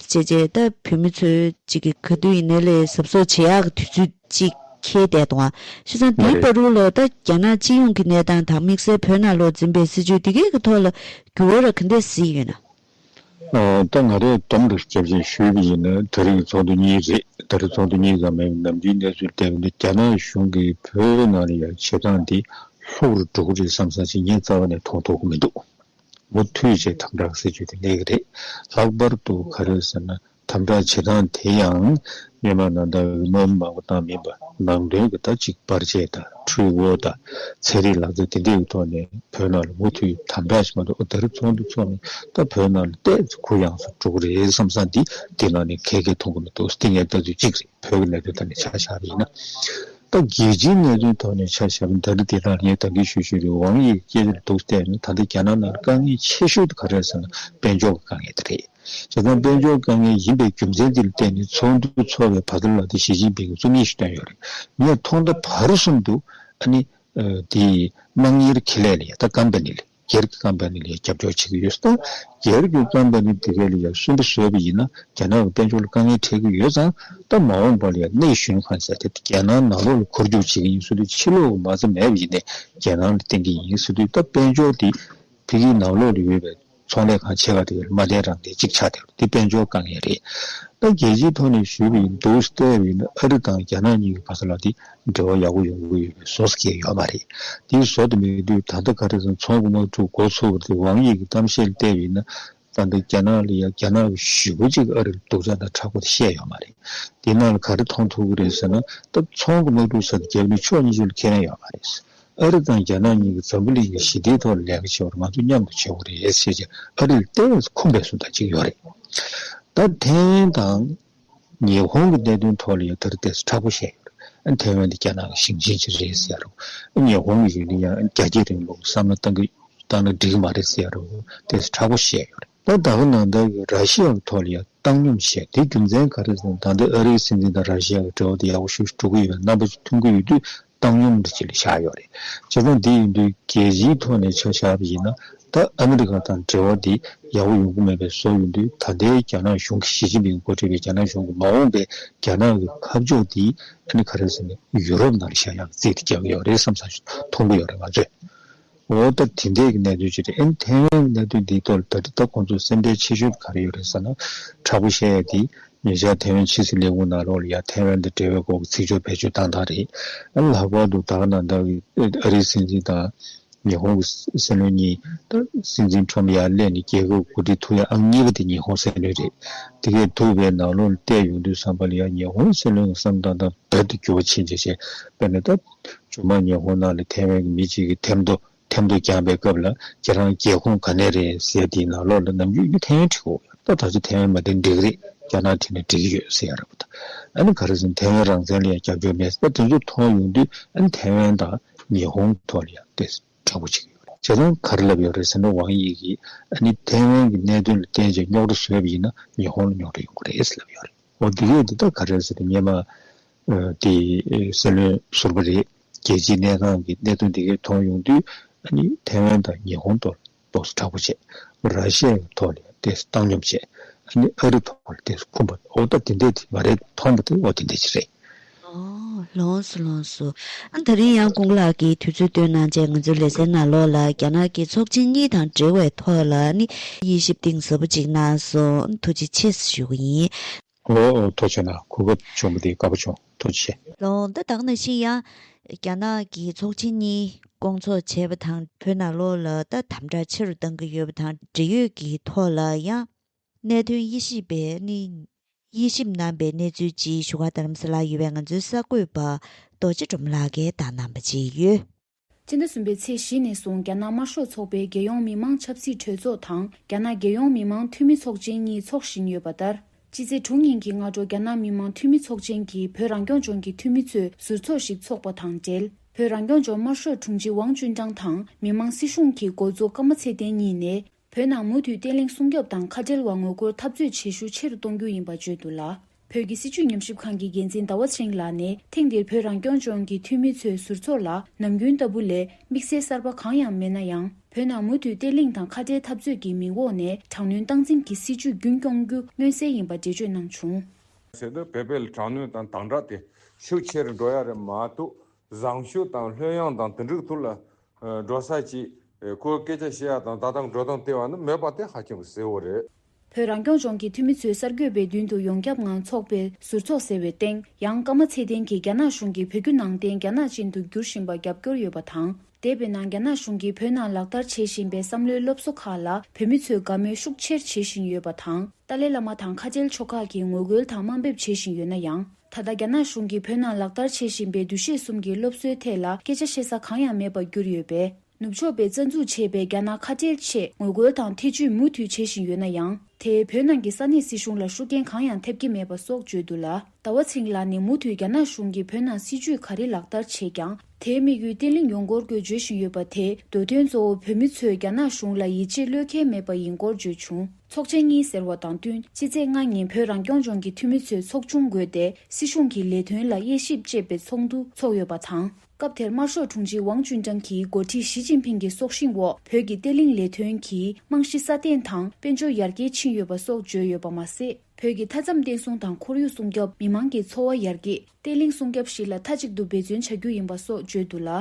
Speaker 1: ཅེས་བྱས་ལྟ་བུ་མི་ཚོས་གཅིག་གི་ག་དུས་ཡིན་ནའི་ལས་ཟབ་གསོ་བྱེད་ཡག་གི་དུས་ཚོད་ཅིག་ཁེལ་བསྡད་འདུག་ཤི་ཚང་འདིའི་པར་རུ་ལོ་ལྟ་རྒྱ་ནག་སྤྱི་ཡོངས་ཀྱི་གནས་སྟངས་དང་དམིགས་བསལ་བོད་ནང་ལོ་འཛིན་པའི་སྲིད་བྱུས་འདི་གའི་གི་ཐོག་ལ་འགྱུར་བ་རག་གི་འདས་གཟིགས་ཡོད་ན། ད་
Speaker 4: ང་རེ་དོམ་རེར་སྐྱབས་བཅོལ་ཞུས་ཀྱི་ཡིན་ན་ད་རིགས་ཚོགས་འདུ་གཉིས་རེད་ད་རིགས་ཚོགས་འདུ་གཉིས་ཀ་མེད་པའི་ནམ་རྒྱུན་གནས་ཚུལ་བལྟས་པ་འདི་རྒྱ་ནག་གཞུང་གིས་བོད་ནང་ལ་ཡང་བྱེད་སྟངས་འདི་ལྷུག་རུ་འགྲོ་གི་རེད་བསམ་བསམ་བྱས་ངས་རྩ་བ་ནས་མཐོང་ཐོག་གི་མི་འདུག་མུ་མཐུད་བྱས་དམ་དྲག་སྲིད་ཇུས་དེ་གནས་ཀྱི་རེད་ལྷག་པར་དུ་ག་རེ་ཟེར་ན་དམ་བསྒྲགས་བྱེད་སྟངས་དེ་ཡང། སྨྱན་མ་ནང་དང་འོས་མ་མང་པོ་དང་མིན་པ། ནང་དོན་གྱི་ད་གཅིག་པར་བཅད་དང་འཁྲུལ་བོ་དང་ཚན་རིག་ལག་རྩལ་དེ་འདྲས་ཀྱི་ཐོག་ནས་བོད་ནང་ལ་མུ་མཐུད་དམ་བསྒྲགས་བྱེད་མ་ཐུབ་ཨོ་ད་རེབ་ཚོགས་འདུ་ཚོགས་ནས་ད་བོད་ནང་ལ་ལྟས་ཚོ་གུ་ཡངས་སུ་འགྲོ་གི་རེད་བསམ་བསམ་དེ་དེ་ནང་ནས་གལ་གལ་མཐོང་གི་མི་འདུག་དེ་ངའི་ལྟ་ཚུལ་གཅིག་རེད་བོད་ཀྱི་གནད་དོན་ཐོག་ནས་ཆ་བཞག་པ་ཡིན་ན། ད་རྒྱལ་སྤྱིའི་གནད་དོན་ཐོག་ནས་ཆ་བཞག་པ་འདི་འདྲ་དེ་དག་ངས་དང་གིས་ཞུ་ཞུ་རེད་ཝང་དབྱིའི་སྐད་ཆ་འདི་སྡུག་ལྟས་ན་ད་ལྟ་རྒྱ་ནག་ནང་ལ་དཀའ་ངལ་ཆེ་ཤོས་དེ་ག་རེད་ཟེར་ན་དཔལ་འབྱོར་གྱི་དཀའ་ངལ་དེ་རེད། བྱེད་སྟངས་དཔལ་འབྱོར་དཀའ་ངལ་ཡིན་པའི་རྒྱུ་མཚན་དེ་ལ་བརྟེན་ནས་ཚོགས་འདུ་འཚོགས་པའི་བར་དོ་ལ་དེ་ཞི་ཅིན་ཕིང་གིས་རྩོམ་ཡིག་ཞིག་བཏོན་ཡོད་རེད། ངས་མཐོང་ད་བར་གསུམ་དུ། ཨ་ནི། དེ། དམངས་གཉེར་ཁེ་ལས་ལ་ཡང་ད་ཀམ་པ་ནི་ལ་སྒེར་གྱི་ཀམ་པ་ནི་ལ་ཡང་རྒྱབ་སྐྱོར་བྱེད་ཀྱི་ཡོད། ད་སྒེར་གྱི་ཀམ་པ་ནི་དེ་ག་ལ་ཡང་གསོན་པོ་བཟོས་པ་ཡིན་ན་རྒྱ་ནག་གི་དཔལ་འབྱོར་ལ་དཀའ་ངལ་འཕྲད་ཀྱི་ཡོད་ཙང་ད་མ་འོངས་པ་ལ་ཡང་གནས་གཞོན་ཁང་ཟེར་ཏེ་རྒྱལ་ནང་ནང་ལོགས་ལ་འཁོར་རྒྱུག་བྱེད་ཀྱི་ཡིན་ཟེར་དུས་ཕྱི་ལོགས་ཀྱི་མ་རྩ་མེད་པ་ཡིན་ནས་རྒྱལ་ནང་ལ་བསྟེན་གྱི་ཡིན་ཟེར་དུས་ད་དཔལ་འབྱོར་དེ་ཕི་གིའི་ནང་ལོགས་ལ་ཡོད་པའི་ཚོང་ལས་ཁང་ཆེ་བ་དེ་མ་བསྡད་རང་བསྡད་ཅིག་ཆགས་བསྡད་འདི་དཔལ་འབྱོར་དཀའ་ངལ་རེད། ད་རྒྱལ་སྤྱིའི་ཐོག་ནས་ཞུས་པ་ཡིན་འདུག་ལྟས་བས་ན་ཨ་རི་དང་རྒྱ་ནག་གཉིས་ཀྱི་བར་ས་ལ་དེ་འབྲེལ་བ་ཡག་པོ་ཡོང་གི་ཡོད་པའི་བཟོ་ས་སྐྱེས་ཡོད་མ་རེད། དེ་བཟོ་དེ་མེད་དུས་ད་ལྟ་ག་རེ་ཟང་ཚོང་གི་མ་འཁྲུག་འགོ་ཚུགས་པ་དེ་ཝང་ཡིག་གི་གཏམ་བཤད་ལྟས་བས་ན་ད་ལྟ་རྒྱ་ནག་ལ་ཡ་རྒྱ་ནག་གི་ཞུ་བ་ཅིག་ཨ་རི་ལ་སྡུག་ཅག་དང་དྲག་པོ་དེ་བཤད་ཡོད་མ་རེད། དེ་ནང་ལ་ག་རེ་མཐོང་ཐུབ་གི་རེད་ཟེར་ན་ད་ཚོང་གི་མ་འཁྲུག་ས་དེ་རྒྱབ་ནས་ཕྱོགས་གཉིས་ཆོད་ལ་ཁས་ལེན་ཡོད་མ་རེད། ཨ་རི་དང་རྒྱ་ནག་གཉིས་ཀྱིས་འཛམ་བུ་གླིང་གི་ཞི་བདེའི་ཐོག་ལས་ཀ་བྱེད་པར་ང་ཚོ་མཉམ་དུ་བྱེད་དགོས་རེད་ཞེས་བཤད་རྗེས་ཨ་རིར་ལྟེ་བའི་ཁོངས་པའི་སུ་དང་གཅིག་ཡོད་རེད། ད་ཐེ་ཝན་དང་ཉི་ཧོང་གི་གནད་དོན་ཐོག་ལ་ཡང་ད་རེ་ལྟས་སུ་དྲག་པོ་བཤད་ཡོད་རེད། ཐེ་ཝན་དེ་རྒྱ་ནག་གི་ཞིང་ཆེན་ཞིག་རེད་ཟེར་ཡ་རེད། ཉི་ཧོང་གི་ཡུལ་ནི་ཡང་རྒྱ་སྐྱེད་རིང་ལུགས་བསམ་བློ་གཏང་གིན་གཏང་ན་འགྲིག་གི་མ་རེད་ཟེར་ཡ་རེད་ལྟས་སུ་དྲག་པོ་བཤད་ཡོད་རེད། ད་ད་ག་ནང་བདག་གིས་ར་ཤི་ཡ་གི་ཐོག་ལ་ཡང་བཏང་སྙོམས་བཤད་དེའི་རྒྱུ་མཚན་ག་རེ་ཟེར་ན་ད་ལྟའི་ཨ་རིའི་སྲིད་འཛིན་དང་ར་ཤི་ཡ་གི་འབྲེལ་བ་དེ་ཡག་པོ་ཞུ་ཞུ་གི་ཡོད་རེད་རྣམ་པ་ཚོ་མཐུན་གི་ཡོད་དུས་བཏང་སྙོམས་འདི་བཅས་ལས་བྱ་ཡོད་རེད། བྱེད་སྟངས་འདི་ཡིན་དུས་རྒྱལ་སྤྱིའི་ཐོག་ནས་ཆ་བཞག་པ་ཡིན་ན་ད་ཨ་མི་རི་ཀ་དང་འབྲེལ་བ་འདི་ཡག་པོ་ཡོང་གི་མེད་པའི་བཟོ་ཡོད་དུས་ད་ལྟའི་རྒྱ་ནག་གཞུང་གིས་ཞི་ཅིན་ཕིང་མགོ་ཁྲིད་པའི་རྒྱ་ནག་གཞུང་གིས་མ་འོངས་པའི་རྒྱ་ནག་གི་ཁ་ཕྱོགས་འདི་ཨ་ནི་ཁ་རེད་ཟེར་ནས་ཡུ་རོབ་ནང་ལས་བྱ་ཡག་བརྩིས་འདི་རྒྱག་གི་ཡོད་རེད་བསམ་བསམ་ཞིག་མཐོང་གི་ཡོད་རེད་ང་ཚོས། འོ་ད་དེ་འདྲས་ཀྱི་གནད་དོན་ཅི་རེད་ཨེ་ཐེ་ཝན་གྱི་གནད་དོན་འདིའི་ཐོག་ལ་ད་ཅི་ད་ཁོང་ཚོ་སེམས་ཁྲལ་ཆེ་ཤོས་ཀྱི་ག་རེ་ཡོད་རེད་ཟེར་ན། དྲག་པོ་བཤད་ཡ་དེ། ཉེ་ཆར་ཐེ་ཝན་ཕྱི་སྲིད་ལས་ཁུངས་ནང་རོགས་ལ་ཡ་ཐེ་ཝན་དང་འབྲེལ་བའི་སྐོར་གྱི་ཚིག་སྦྱོར་བེད་སྤྱོད་བཏང་ཐག་རེད། ལྷག་པར་དུ་ད་ནང་ལྟར་གྱི་ཨ་རིའི་སྲིད་འཛིན་དང། ཉི་ཧོང་གི་སྲིད་བློན་གཉིས། སྲིད་འཛིན་ཁྲོམ་ཡར་སླེབས་ནས་རྒྱལ་ཁབ་གོ་སྒྲིག་ཐུབ་ཡ་ཨང་གཉིས་པ་དེ་ཉི་ཧོང་སྲིད་བློན་རེད། དེ་གས་ཐུབ་པས་ནང་ལོགས་ལ་བལྟས་ཡོང་དུས་བསམ་པ་ལ་ཡ་ཉི་ཧོང་སྲིད་བློན་གྱི་བསམ་སྟངས་དང་རྦད་དེ་འགྱུར་བ་ཕྱིན་ཆེ་ཞེས་དཔེར་ན་ད། ཇོ་མཱ་ཉེ་ཧོང་ནང་ལ་ཐེ་ཝན་གྱི་མི་གཅིག་གིས་ཐེམ་ཐོ་ཐེམ་ཐོ་རྒྱག་པའི་སྐབས་ལ་ཁྱེད་རང་རྒྱལ་ཁོངས་ག་ནས་རེད་ཟེར་དེའི་ནང་ལོགས་ལ་ནམ་རྒྱུན་ཡུ་ཐེ་ཝན་བྲིས་འོ་ཡ་ད་ད་ཆ་ཐེ་ཝན་མ་བྲིས་འགྲིག་རེད་རྒྱ་ནག་བྲིས་ན་འགྲིག་གི་ཡོད་ཟེར་ཡ་རབས་ད་ཨ་ནི་ག་རེ་ཟེར་ཐེ་ཝན་རང་བཙན་ལ་ཡང་རྒྱབ་སྐྱོར་མེད་ཟེར་དེ་ཚོ་མཐོང་ཡོང་དུས་ཨ་ནི་ཐེ་ཝན་དང་ཉེ་ཧོང་གི་ཐོག་ལ་ཡང་དེ་འདྲ་བོ་བྱེད་ཀྱི་ཡོད་རེད་ཁྱེད་རང་ག་རེ་ལབ་ཡོད་རེད་ཟེར་ན་ཝང་དབྱིས་ཀྱིས་ཨ་ནི་ཐེ་ཝན་གྱི་གནད་དོན་ལ་བརྟེན་ཅིང་རྙོག་དྲ་བཟོས་པ་ཡིན་ན་ཉེ་ཧོང་ལ་རྙོག་དྲ་ཡོང་གི་རེད་ཟེར་ལབ་ཡོད་རེད་འོ་དེ་གས་དེ་ད་ག་རེ་ཟེར་ངེད་མ་དེ་གསལ་ལོན་ཟུར་པ་རེད། རྒྱལ་སྤྱིའི་གནས་སྟངས་ཀྱི་གནད་དོན་དེ་གས་མཐོང་ཡོང་དུས། ནི་ཐེ་ཝན་དང་ཉི་ཧོང་ཐོག་ལ་དོགས་སུ་དྲག་པོ་བྱས། ར་ཤི་ཡའི་ཐོག་ལ་ཡང་དེས་བཏང་སྙོམས་བྱས། ནི་ཨ་རི་ཐོག་ལ་དེས་འཁུམས་པ། ཨོ་ད་དེ་འད་དེ་མ་རེད་མཐོང་པ་དེ་ཨོ་དེ་འད་ཅི་རེད། ཨོ། ལོངས་སུ་ལོངས་
Speaker 1: སུ། ཨ་ད་རིང་ཡང་ཀུང་ལགས་ཀྱིས་དུས་ཚོད་སྟོན་གནང་རྗེས་ང་ཚོའི་ལེ་ཚན་ནང་ལོགས་ལ་རྒྱ་ནག་གི་ཚོགས་ཆེན་གཉིས་དང་འབྲེལ་བའི་ཐོག་ལ་ནི་དབྱེ་ཞིབ་གཏིང་ཟབ་པོ་ཅིག་གནང་སོང། ཐུགས་རྗེ་ཆེ་ཞུ་གི་ཡིན། ཨོ། ཐོ་
Speaker 4: ཆོད་ན་གོ་སྐབས་བྱུང་བ་འདི་དགའ་པོ་བྱུང་ཐོ་ཆེ་ཆེ། ལོ་འདི་དག་ནང་
Speaker 1: བཞིན་ཡང་རྒྱ་ནག་གི་ཚོགས་ཆེན་གཉིས་བསྐོང་ཚོགས་བྱས་པ་དང་བོད་ནང་ལོ་ལ་ལྟ་དམ་དྲག་ཆེ་རུ་གཏང་གི་ཡོད་པ་དང་འབྲེལ་ཡོད་ཀྱི་ཐོག་ལ་ཡང་གནད་དོན་དབྱེ་ཞིབ་པས་ནི་དབྱེ་ཞིབ་གནང་པའི་གནས་ཚུལ་སྤྱིའི་ཞུ་བ་དར་རམ་ས་ལ་ཡོད་པའི་ང་ཚོའི་གསར་འགོད་པ་རྡོ་རྗེ་འབྲོམ་ལགས་ཀྱིས་བརྡ་གནང་པ་བཅས་ཡོད། སྤྱི་ཟླ་གསུམ་
Speaker 5: པའི་ཚེས་བཞི་ནས་བཟུང་རྒྱ་ནག་དམར་ཤོག་ཚོགས་པའི་རྒྱལ་ཡོངས་མི་དམངས་ཆབ་སྲིད་གྲོས་ཚོགས་དང་རྒྱ་ནག་རྒྱལ་ཡོངས་མི་དམངས་འཐུས་མི་ཚོགས་ཆེན་གཉིས་འཚོགས་བཞིན་ཡོད་པ་ལྟར། སྤྱི་ཚེས་དྲུག་ཉིན་གྱི་སྔ་དྲོ་རྒྱ་ནག་མི་དམངས་འཐུས་མི་ཚོགས་ཆེན་གྱིས་བོད་རང་སྐྱོང་ལྗོངས་ཀྱི་འཐུས་མི་ཚོས་ཟུར་ཚོགས་ཤིག་འཚོགས་པ་དང་འབྲེལ། བོད་རང་སྐྱོང་ལྗོངས་དམར་ཤོག་དྲུང་ཆེ་ཝང་ཅུན་ཀྲང་དང་མི་དམངས་སྲིད་གཞུང་གི་འགོ་གཙོ་ཀརྨ་ཚེ་བརྟན་གཉིས་ནས། བོད་ནང་མུ་མཐུད་བརྟན་ལྷིང་སྲུང་སྐྱོབ་དང་ཁ་བྲལ་བ་ངོ་རྒོལ་འཐབ་རྩོད་བྱེད་ཤུགས་ཆེ་རུ་གཏོང་རྒྱུ་ཡིན་པ་བརྗོད་འདུག་ལ། བོད་ཀྱི་སྲིད་བྱུས་ཉམས་ཞིབ་ཁང་གི་འགན་འཛིན་ཟླ་བ་ཆེན་ལགས་ནས་ཐེངས་འདིར་བོད་རང་སྐྱོང་ལྗོངས་ཀྱི་འཐུས་མི་ཚོའི་ཟུར་ཚོགས་ལ་ནམ་རྒྱུན་ལྟ་བུ་ལས་དམིགས་བསལ་གསར་པ་གང་ཡང་མེད་ན་ཡང་བོད་ནང་མུ་མཐུད་བརྟན་ལྷིང་དང་ཁ་བྲལ་འཐབ་རྩོད་ཀྱི་མིང་འོག་ནས་དྲག་གནོན་སྟངས་འཛིན་གྱི་སྲིད་བྱུས་རྒྱུན་སྐྱོང་རྒྱུ་མངོན་གསལ་ཡིན་པ་འགྲེལ་བརྗོད་གནང་བྱུང། ཚེ་
Speaker 6: སྟོད་བོད་པའི་དྲག་གནོན་དང་དང་དྲག་དེ་ཤུགས་ཆེ་རུ་འགྲོ་ཡ་རེད་མ་གཏོགས་བཟང་ཤོས་དང་ལྷོད་ཡངས་དང་དུད་འགྲིག་ཐུགས་ལ་འགྲོ་ས་ཅིག། ཁོའི་སྐད་ཆ་བཤད་ཡ་དང་ད་ལྟ་འགྲོ་སྟངས་བལྟས་བ་ནི་མོས་པ་དེ་ཧ་ཅང་གི་གསལ་བོ་རེད། བོད་རང་སྐྱོང་ལྗོངས་
Speaker 5: ཀྱི་འཐུས་མི་ཚོས་གསར་འགོད་པའི་མདུན་དུ་ཡོངས་ཁྱབ་ངང་ཚོགས་པའི་ཟུར་ཚོགས་ཟེར་བའི་སྟེང་ཡང་ཀརྨ་ཚེ་བརྟན་གྱིས་རྒྱ་ནག་གཞུང་གིས་བོད་བརྒྱུད་ནང་བསྟན་རྒྱ་ནག་ཅན་དུ་བསྒྱུར་བཞིན་པར་རྒྱབ་སྐྱོར་ཡོད་པ་དང། འདས་པའི་ནང་རྒྱ་ནག་གཞུང་གིས་བོད་ནང་ལག་བསྟར་བྱེད་བཞིན་པའི་བསམ་བློའི་སློབ་གསོ་ཁག་ལ་བོད་མི་ཚོས་དགའ་མོས་ཤུགས་ཆེར་བྱེད་བཞིན་ཡོད་པ་དང། ཏཱ་ལའི་བླ་མ་དང་ཁ་ཆེལ་ཕྱོགས་ཁག་གིས་ངོ་རྒོལ་དང་དམའ་འབེབས་བྱེད་བཞིན་ཡོད་ན་ཡང། ད་ལྟ་རྒྱ་ནག་གཞུང་གིས་བོད་ནང་ལག་བསྟར་བྱེད་བཞིན་པའི་འདུ་ཤེས་གསུམ་གྱི་སློབ་གསོའི་ཐད་ལ་སྐད་ཆ་བཤད་ས་གང་ཡང་མེད་པར་གྱུར་ཡོད་པས། ནུབ་ཕྱོགས་པས་རྩ་འཛུགས་བྱས་པའི་རྒྱ་ནག་ཁ་བྲལ་ཆེད་ངོ་རྒོལ་དང་ཐེ་ཇུས་མུ་མཐུད་བྱེད་བཞིན་ཡོད་ན་ཡང། དེས་བོད་ནང་གི་ས་གནས་སྲིད་གཞུང་ལ་ཤུགས་རྐྱེན་གང་ཡང་ཐེབས་ཀྱི་མེད་པ་སོགས་བརྗོད་འདུག་ལ། ཟླ་བ་ཚེ་རིང་ལགས་ནས་མུ་མཐུད་རྒྱ་ནག་གཞུང་གིས་བོད་ནང་སྲིད་ཇུས་ག་རེ་ལག་བསྟར་བྱས་ཀྱང། དེའི་དམིགས་ཡུལ་བརྟན་ལྷིང་ཡོང་སྐོར་སྐྱོད་བརྗོད་བཞིན་ཡོད་པ་དེ་འདོད་དོན་གཙོ་བོ་བོད་མི་ཚོས་རྒྱ་ནག་གཞུང་ལ་ཡིད་ཆེས་བློས་འཁེལ་མེད་པ་ཡིན་སྐོར་བརྗོད་བྱུང། ཚོགས་ཆེན་གཉིས་ཟེར་བ་དང་བསྟུན་ཕྱི་ཚེས་ལྔ་ཉིན་བོད་རང་སྐྱོང་ལྗོངས་ཀྱི་འཐུས་མི་ཚོས་ཚོགས་ཆུང་བགོས་ཏེ་སྲིད་གཞུང་གི་ལས་དོན་ལ་དབྱེ་ཞིབ་ཅེས་པའི་ཚོགས་འདུ་འཚོགས་ཡོད་པ་དང། སྐབས་དེར་དམར་ཤོག་དྲུང་ཆེ་ཝང་ཅུན་ཀྲང་གིས་མགོ་ཁྲིད་ཞི་ཅིན་ཕིང་གི་སྲོག་ཤིང་འོག་བོད་ཀྱི་བརྟན་ལྷིང་ལས་དོན་གྱི་རྨང་གཞི་སྲ་བརྟན་དང་དཔལ་འབྱོར་ཡར་རྒྱས་ཕྱིན་ཡོད་པ་སོགས་བརྗོད་ཡོད་པ་མ་ཟད། བོད་ཀྱི་མཐའ་མཚམས་བརྟན་སྲུང་དང་ཁོར་ཡུག་སྲུང་སྐྱོབ་མི་དམངས་ཀྱི་འཚོ་བ་ཡར་རྒྱས་བརྟན་ལྷིང་སྲུང་སྐྱབས་བཞི་ལ་མཐའ་གཅིག་ཏུ་འབད་བརྩོན་བྱ་རྒྱུ་ཡིན་པ་སོགས་བརྗོད་འདུག་ལ།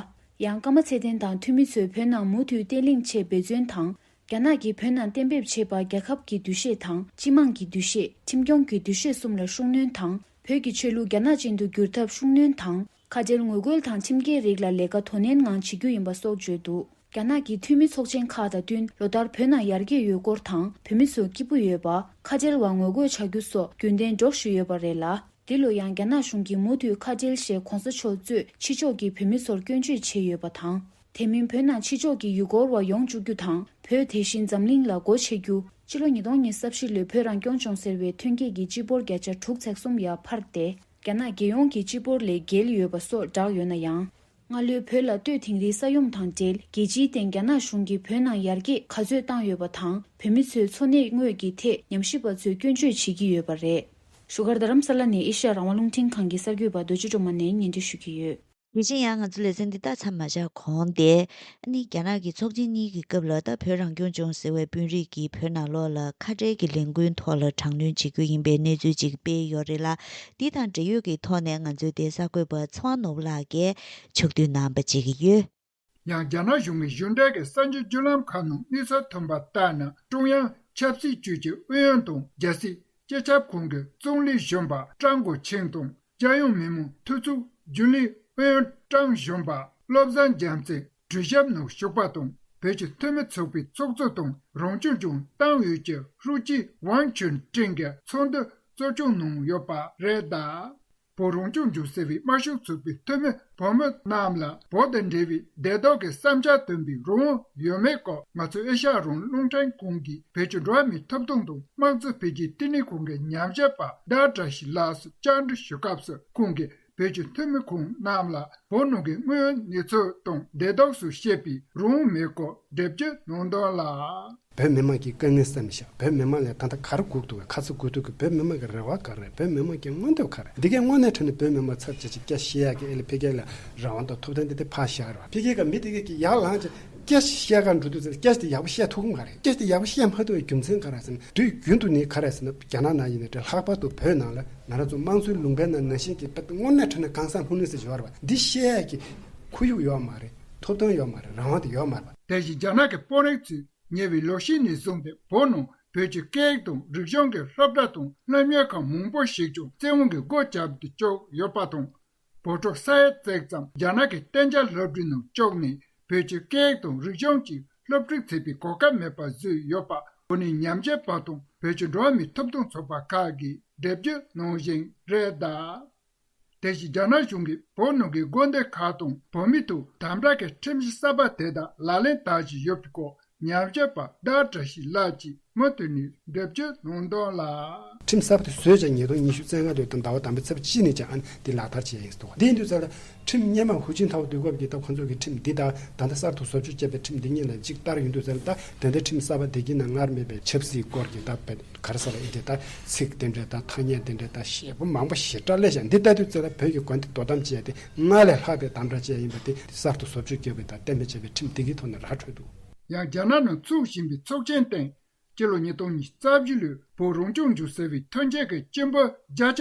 Speaker 5: ཡང་ཀརྨ་ཚེ་བརྟན་དང་འཐུས་མི་ཚོས་བོད་ནང་མུ་མཐུད་བརྟན་ལྷིང་ཆེད་འབད་བརྩོན་དང། རྒྱ་ནག་གིས་བོད་ནང་གཏན་འབེབས་བྱས་པ་རྒྱལ་ཁབ་ཀྱི་འདུ་ཤེས་དང་སྤྱི་དམངས་ཀྱི་འདུ་ཤེས་ཁྲིམས་སྐྱོང་གི་འདུ་ཤེས་གསུམ་ལ་ཤུགས་སྣོན་དང་བོད་ཀྱི་ཆོས་ལུགས་རྒྱ་ནག་ཅན་དུ་བསྒྱུར་ཐབས་ཤུགས་སྣོན་དང། ཁ་བྲལ་ངོ་རྒོལ་དང་ཁྲིམས་འགལ་རིགས་ལ་ལས་ཀ་དོ་ནན་ངང་བྱེད་རྒྱུ་ཡིན་པ་སོགས་བརྗོད་འདུག། རྒྱ་ནག་གི་འཐུས་མི་ཚོགས་ཆེན་ཁག་དང་བསྟུན་ལོ་ལྟར་བོད་ནང་ཡར་རྒྱས་ཡོད་སྐོར་དང་བོད་མི་ཚོ་སྐྱིད་པོ་ཡོད་པ། ཁ་བྲལ་བར་ངོ་རྒོལ་བྱ་རྒྱུ་སོགས་རྒྱུན་ལྡན་སྒྲོག་བཞིན་ཡོད་པ་རེད་ལ། འདི་ལོ་ཡང་རྒྱ་ནག་གཞུང་གིས་མུ་མཐུད་ཁ་བྲལ་ཞེས་གོང་ས་མཆོག་གཙོས་ཕྱི་ཕྱོགས་ཀྱི་བོད་མི་ཚོར་སྐྱོན་བརྗོད་བྱས་ཡོད་པ་དང། དེ་མིན་བོད་ནང་ཕྱི་ཕྱོགས་ཀྱི་ཡུལ་སྐོར་བ་ཡོང་བཅུག་རྒྱུ་དང་བོད་དེ་བཞིན་འཛམ་གླིང་ལ་སྒོ་ཕྱེ་རྒྱུ། ཕྱི་ལོ་ཉིས་སྟོང་ཉེར་ས་བཞི་ལོའི་བོད་རང་སྐྱོང་ལྗོངས་ཟེར་བའི་ཐོན་སྐྱེད་ཀྱི་སྤྱི་འབོར་བརྒྱ་ཆ་དྲུག་ཚེག་གསུམ་ཡར་འཕར་ཏེ། རྒྱ་ནག་རྒྱལ་ཡོངས་ཀྱི་སྤྱི་འབོར་ལས་བརྒལ་ཡོད་པ་སོགས་བསྒྲགས་ཡོད་ན་ཡང། སྔ་ལོའི་བོད་ལ་ལྟོས་དིང་རིའི་ས་ཡོམ་དང་འབྲེལ་རྒྱལ་སྤྱིའི་སྟེང་རྒྱ་ནག་གཞུང་གིས་བོད་ནང་ཡར་རྒྱས་ག་ཚོད་བཏང་ཡོད་པ་དང་བོད་མི་ཚོའི་འཚོ་གནས་དངོས་ཀྱི་ཐད་ཉམས་ཞིབ་པ་ཚོས་སྐྱོན་བརྗོད་བྱེད་ཀྱི་ཡོད་པ་རེད། བཞུགས་སྒར་རྡ་རམ་ས་ལ་ནས་ཨེ་ཤེ་ཡ་རང་དབང་རླུང་འཕྲིན་ཁང་གི་གསར་འགྱུར་པ་རྡོ་རྗེ་སྒྲོལ་མ་ནས་བརྙན་འཕྲིན་ཞུ་གི་ཡོད། དེ་བཞིན་ཡང་ང་ཚོ་
Speaker 1: ལེ་ཚན་འདི་དག་མཚམས་མ་བཞག་གོང་དེ་ནི་རྒྱ་ནག་གི་ཚོགས་ཆེན་གཉིས་ཀྱི་སྐབས་ལ་ད་བོད་རང་སྐྱོང་ལྗོངས་ཟེར་བའི་དཔོན་རིགས་ཀྱིས་བོད་ནང་ལོགས་ལ་ཁ་བྲལ་གྱི་ལས་འགུལ་ཐོག་ལ་དྲག་གནོན་བྱེད་རྒྱུ་ཡིན་པའི་གནས་ཚུལ་ཅིག་སྤེལ་ཡོད་རེད་ལ་འདི་དང་འབྲེལ་ཡོད་ཀྱི་ཐོག་ནས་ང་ཚོའི་དེ་གསར་འགོད་པ་ཚེ་དབང་ནོར་བུ་ལགས་ཀྱིས་ཕྱོགས་བསྡུས་གནང་པ་བྱེད་ཀྱི་ཡོད། ཡང་རྒྱ་ནག་
Speaker 7: གཞུང་གིས་གཞུང་འབྲེལ་གྱི་གསར་འགྱུར་བརྒྱུད་ལམ་ཁག་ནང་དམིགས་བསལ་ཐོན་པ་ལྟར་ན་ཀྲུང་དབྱང་ཆབ་སྲིད་ཅུས་ཀྱི་ཨུ་ཡོན་དང་རྒྱལ་སྲིད་སྤྱི་ཁྱབ་ཁང་གི་ཙུང་ལི་གཞོན་པ་ཀྲང་གོ་ཆིང་དང་རྒྱལ་ཡོངས་མི་དམངས་འཐུས་ཚོགས་རྒྱུན་ལས་ཨུ་ཡོན་ཀྲང་གཞོན་པ་བློ་བཟང་རྒྱལ་མཚན་གྲོས་ཞིབ་ནང་ཞུགས་པ་དང་བོད་ཀྱི་འཐུས་མི་ཚོགས་པའི་ཚོགས་གཙོ་དང་རང་སྐྱོང་ལྗོངས་ཏང་ཨུད་ཀྱི་ཧྲུའུ་ཅི་ཝང་ཆོན་ཀྲེང་གིས་ཚོགས་འདུ་གཙོ་སྐྱོང་གནང་ཡོད་པ་རེད། བོ་རང་སྐྱོང་ལྗོངས་ཟེར་བའི་དམར་ཤོག་ཚོགས་པའི་འཐུས་མི་བུ་མོ་རྣམས་ལ་བོད་དང་འབྲེལ་བའི་བདེ་དོག་གི་བསམ་འཆར་འདོན་པའི་རང་དབང་ཡོད་མེད་སྐོར་ང་ཚོ་ཨེ་ཤ་ཡ་རོང་རླུང་འཕྲིན་ཁང་གི་བོད་ཀྱི་འགྲོ་བ་མིའི་ཐོབ་ཐང་དང་དམངས་གཙོ་འཕེལ་རྒྱས་བསྟི་གནས་ཁང་གི་ཉམས་ཞིབ་པ་བདག་བཀྲ་ཤིས་ལགས་སུ་བཅར་འདྲི་ཞུ་སྐབས་སུ་ཁོང་གིས་བོད་ཀྱི་འཐུས་མི་ཁོང་རྣམས་ལ་བོད་ནང་གི་དངོས་ཡོད་གནས་ཚུལ་དང་བདེ་དོགས་སུ་བཤད་པའི་རང་དབང་མེད་སྐོར་སྒྲིབ་སྐྱོད་གནང་དོན་ལ། བོད་མི་དམངས་ཀྱི་དཀའ་
Speaker 8: ངལ་བསམ་མི་ཤེས་བོད་མི་དམངས་ལས་ད་ལྟ་གར་སྒུག་འདུག་ག་ཁ་ཚ་དགོས་གཏུག་གི་བོད་མི་དམངས་ཀྱི་རེ་བ་ག་རེད་བོད་མི་དམངས་ཀྱི་མངོན་འདོད་ག་རེད་འདི་གའི་དངོས་གནས་ཁྲོད་ནས་བོད་མི་དམངས་ཚབ་བྱེད་ཅིག་སྐྱ་ཤས་ཀྱི་ཨེ་ལས་འཕེལ་རྒྱས་ལ་རང་དབང་དང་ཐོབ་ཐང་འདི་དེ་ཕ་ཤ་ར་འཕེལ་རྒྱས་ཀྱི་མི་དེ་གས་ཀྱི་ཡར་ལངས་ཀྱི་སྐྱ་ཤས་ག་འགྲོ་འདུག་ཟེར་སྐྱ་ཤས་དེ་ཡག་པོ་བཤད་ཐུབ་གམ་ག་རེད་སྐྱ་ཤས་དེ་ཡག་པོ་བཤད་མ་ཐུབ་པའི་རྒྱུ་མཚན་ག་ར་ཟེར་ན་དུས་རྒྱུན་དུ་ནི་ག་རེ་ཟེར་ན་རྒྱ་ནག་ནང་ཡིན་ནའི་ལྷག་པར་དུ་བོད་ནང་ལ་ང་རང་ཚོ་དམངས་གཙོའི་ལུང་པའི་ནང་ནང་བཞིན་གྱི་དངོས་གནས་ཁྲོད་ནས་གང་ཟག་ལྷུང་ལྷུང་ཟེར་བཞིན་ཡོད་རེད་པ་འདི་ཤས་ཀྱི་ཁོར་ཡུག་ཡོད་མ་རེད་ཐོབ་ཐང་ཡོད་མ་རེད་རང་དབང་དེ་ཡོད་མ་རེད་པ། དེ་བཞིན་རྒྱ་ནག་གི་དཔོན་
Speaker 7: རིགས་ཚོས་ཉེ་བའི་ལོ་ཤས་ནས་བཟུང་སྟེ་བོད་ནང་བོད་ཀྱི་སྐད་ཡིག་དང་རིག་གཞུང་གི་སློབ་གྲྭ་དང་སློབ་གཉེར་ཁང་མང་པོ་ཞིག་ཀྱང་བཙན་དབང་གིས་སྒོ་བརྒྱབ་ཏུ་བཅུག་ཡོད་པ་དང། བོད་ཕྲུག་ས་ཡ་བརྩེགས་ཙམ་རྒྱ་ནག་གི་གཏན་འཇགས་སློབ་གྲྭའི་ནང་བཅུག་ནས་བོད་ཀྱི་སྐད་ཡིག་དང་རིག་གཞུང་གཅིག་སློབ་ཁྲིད་བྱེད་པའི་གོ་སྐབས་མེད་པ་བཟོས་ཡོད་པ་བོད་ནས་ཉམས་ཞན་པ་དང་བོད་ཀྱི་འགྲོ་བ་མིའི་ཐོབ་ཐང་ཚོགས་པ་ཁག་གིས་འགྲེལ་བརྗོད་གནང་བཞིན་རེད། དེ་བཞིན་རྒྱ་ནག་གཞུང་གིས་བོད་ནང་གི་དགོན་སྡེ་ཁག་དང་བོད་མི་ཐུགས་དམ་བསྒྲགས་ཀྱི་ཁྲིམས་གཞི་གསར་པ་དེ་དག་ལག་ལེན་བསྟར་བཞིན་ཡོད་པའི་སྐོར་ཉམས་ཞིབ་པ་བདག་བཀྲ་ཤིས་ལགས་ཀྱིས་མུ་མཐུད་ནས་འགྲེལ་བརྗོད་གནང་དོན་ལ། ཁྲིམས་གསར་པ་དེ་བཟོས་
Speaker 8: ཀྱང་ཉིས་སྟོང་ཉི་ཤུ་ཚེས་ལྔ་སྟོད་དང་ཟླ་བ་དང་པོའི་ཚེས་གཅིག་ནས་ཀྱང་དེ་ལག་བསྟར་བྱེད་ཡིན་འདུག་དེའི་དུས་ཚོད་ལ། ཁྲིམས་སྙན་མ་ཧུའུ་ཅིན་ཐའོ་དུས་སྐབས་ཀྱི་སྟབས་ཁོང་ཚོ་གིས་ཁྲིམས་འདི་དག་ད་ལྟ་གསར་དུ་བཟོ་བཅོས་བྱས་པའི་ཁྲིམས་འདི་གཉིས་ལ་གཅིག་ལྟར་ཡིན་འདུག་ཟེར་ན་ད་དེ་འདྲའི་ཁྲིམས་གསར་པ་དེ་གྱི་ནང་སྔར་མེད་པའི་ཆབ་སྲིད་སྐོར་གྱི་དག་ཕེབས་གར་ས་ལ་ཨི་ལྡན་དང། ཚིག་རྟེན་འབྲེལ་དང་ཐ་སྙད་རྟེན་འབྲེལ་དང། ཞེས་པ་མང་པོ་ཞེ་དྲག་ལས་བྱུང་འདི་ལྟ་དུས་ཚོད་ལ་བོད་ཀྱི་གོ་འདི་དོ་དམ་བྱས་ཏེ་སྔར་ལས་ལྷག་པའི་དམ་བསྒྲགས་བཅས་ཡིན་པ་དེ་གསར་དུ་བཟོ་བཅོས་བསྐྱོད་དགོས་དང་གཏན་འབེབས་བྱས་པའི་
Speaker 7: ཁྲིམས་སྒྲིག་
Speaker 8: གི་ཐོག་ནས་
Speaker 7: ར་
Speaker 8: འཕྲོད་འདུག།
Speaker 7: ཡང་
Speaker 8: རྒྱ་ནག་
Speaker 7: ནང་
Speaker 8: ཚུགས་བཞིན་པའི་
Speaker 7: ཚོགས་
Speaker 8: ཆེན་སྟེང། སྤྱི་ལོ་
Speaker 7: ཉིས་སྟོང་ཉིས་རྩ་བཞི་ལོའི་བོད་རང་སྐྱོང་ལྗོངས་ཟེར་བའི་ཐོན་སྐྱེད་ཀྱི་སྤྱི་འབོར་བརྒྱ་ཆ་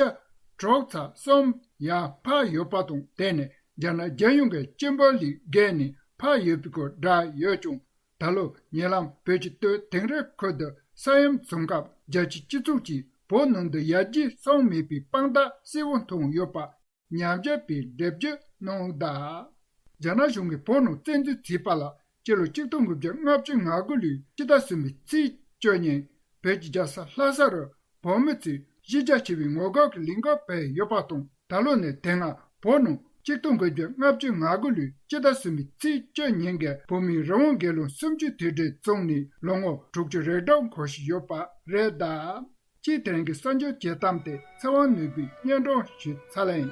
Speaker 7: གྲོགས་ཚ་གསུམ་ཡར་འཕར་ཡོད་པ་དང་འབྲེལ་ནས་རྒྱ་ནག་རྒྱལ་ཡོངས་ཀྱི་སྤྱི་འབོར་ལས་བརྒལ་ནས་འཕར་ཡོད་པའི་སྐོར་བསྒྲགས་ཡོད་ཀྱང་ད་ལོ་ཉེ་ལམ་བོད་ཀྱི་སྟོད་དེང་རི་ཁུལ་དུ་ས་ཡོམ་བྱུང་སྐབས་རྒྱལ་སྤྱིའི་སྤྱི་ཚོགས་ཀྱིས་བོད་ནང་དུ་ཡར་རྒྱས་སོང་མེད་པའི་དཔང་རྟགས་གསལ་བོ་མཐོང་ཡོད་པ། ཉམས་བཞག་པའི་འགྲེལ་བརྗོད་གནང་འོག་ད། རྒྱ་ནག་གཞུང་གིས་བོད་ནང་བཙན་འཛུལ་བྱས་པ་ལ་སྤྱི་ལོ་གཅིག་སྟོང་དགུ་བརྒྱ་ལྔ་བཅུ་ང་དགུ་ལོའི་ཕྱི་ཟླ་གསུམ་པའི་ཚེས་བཅུ་ཉིན་བོད་ཀྱི་རྒྱལ་ས་ལྷ་ས་རུ་བོད་མི་ཚོས་གཞི་རྒྱ་ཆེ་བའི་ངོ་རྒོལ་གྱི་ལས་འགུལ་སྤེལ་ཡོད་པ་དང། ད་ལོ་ནི་དེ་སྔ་བོད་ནང་སྤྱི་སྟོང་གི་རྒྱུ་ལྔ་བཅུ་ང་དགུ་ལོའི་སྤྱི་ཟླ་གསུམ་པའི་ཚེས་བཅུ་ཉིན་གྱི་བོད་མིའི་རང་དབང་སྒེར་ལངས་སུམ་ཅུ་དུས་དྲན་བཙུགས་ནས་ལོ་ངོ་དྲུག་ཅུ་རེ་གྲངས་འཁོར་བཞིན་ཡོད་པ་རེད་དཱ། སྤྱི་དྲན་གྱི་གསར་འགྱུར་བྱེད་སྟངས་དེ་ཚེ་དབང་ནོར་བུས་སྙན་སྒྲོན་ཞུས་ཚར་ལ་ཡིན།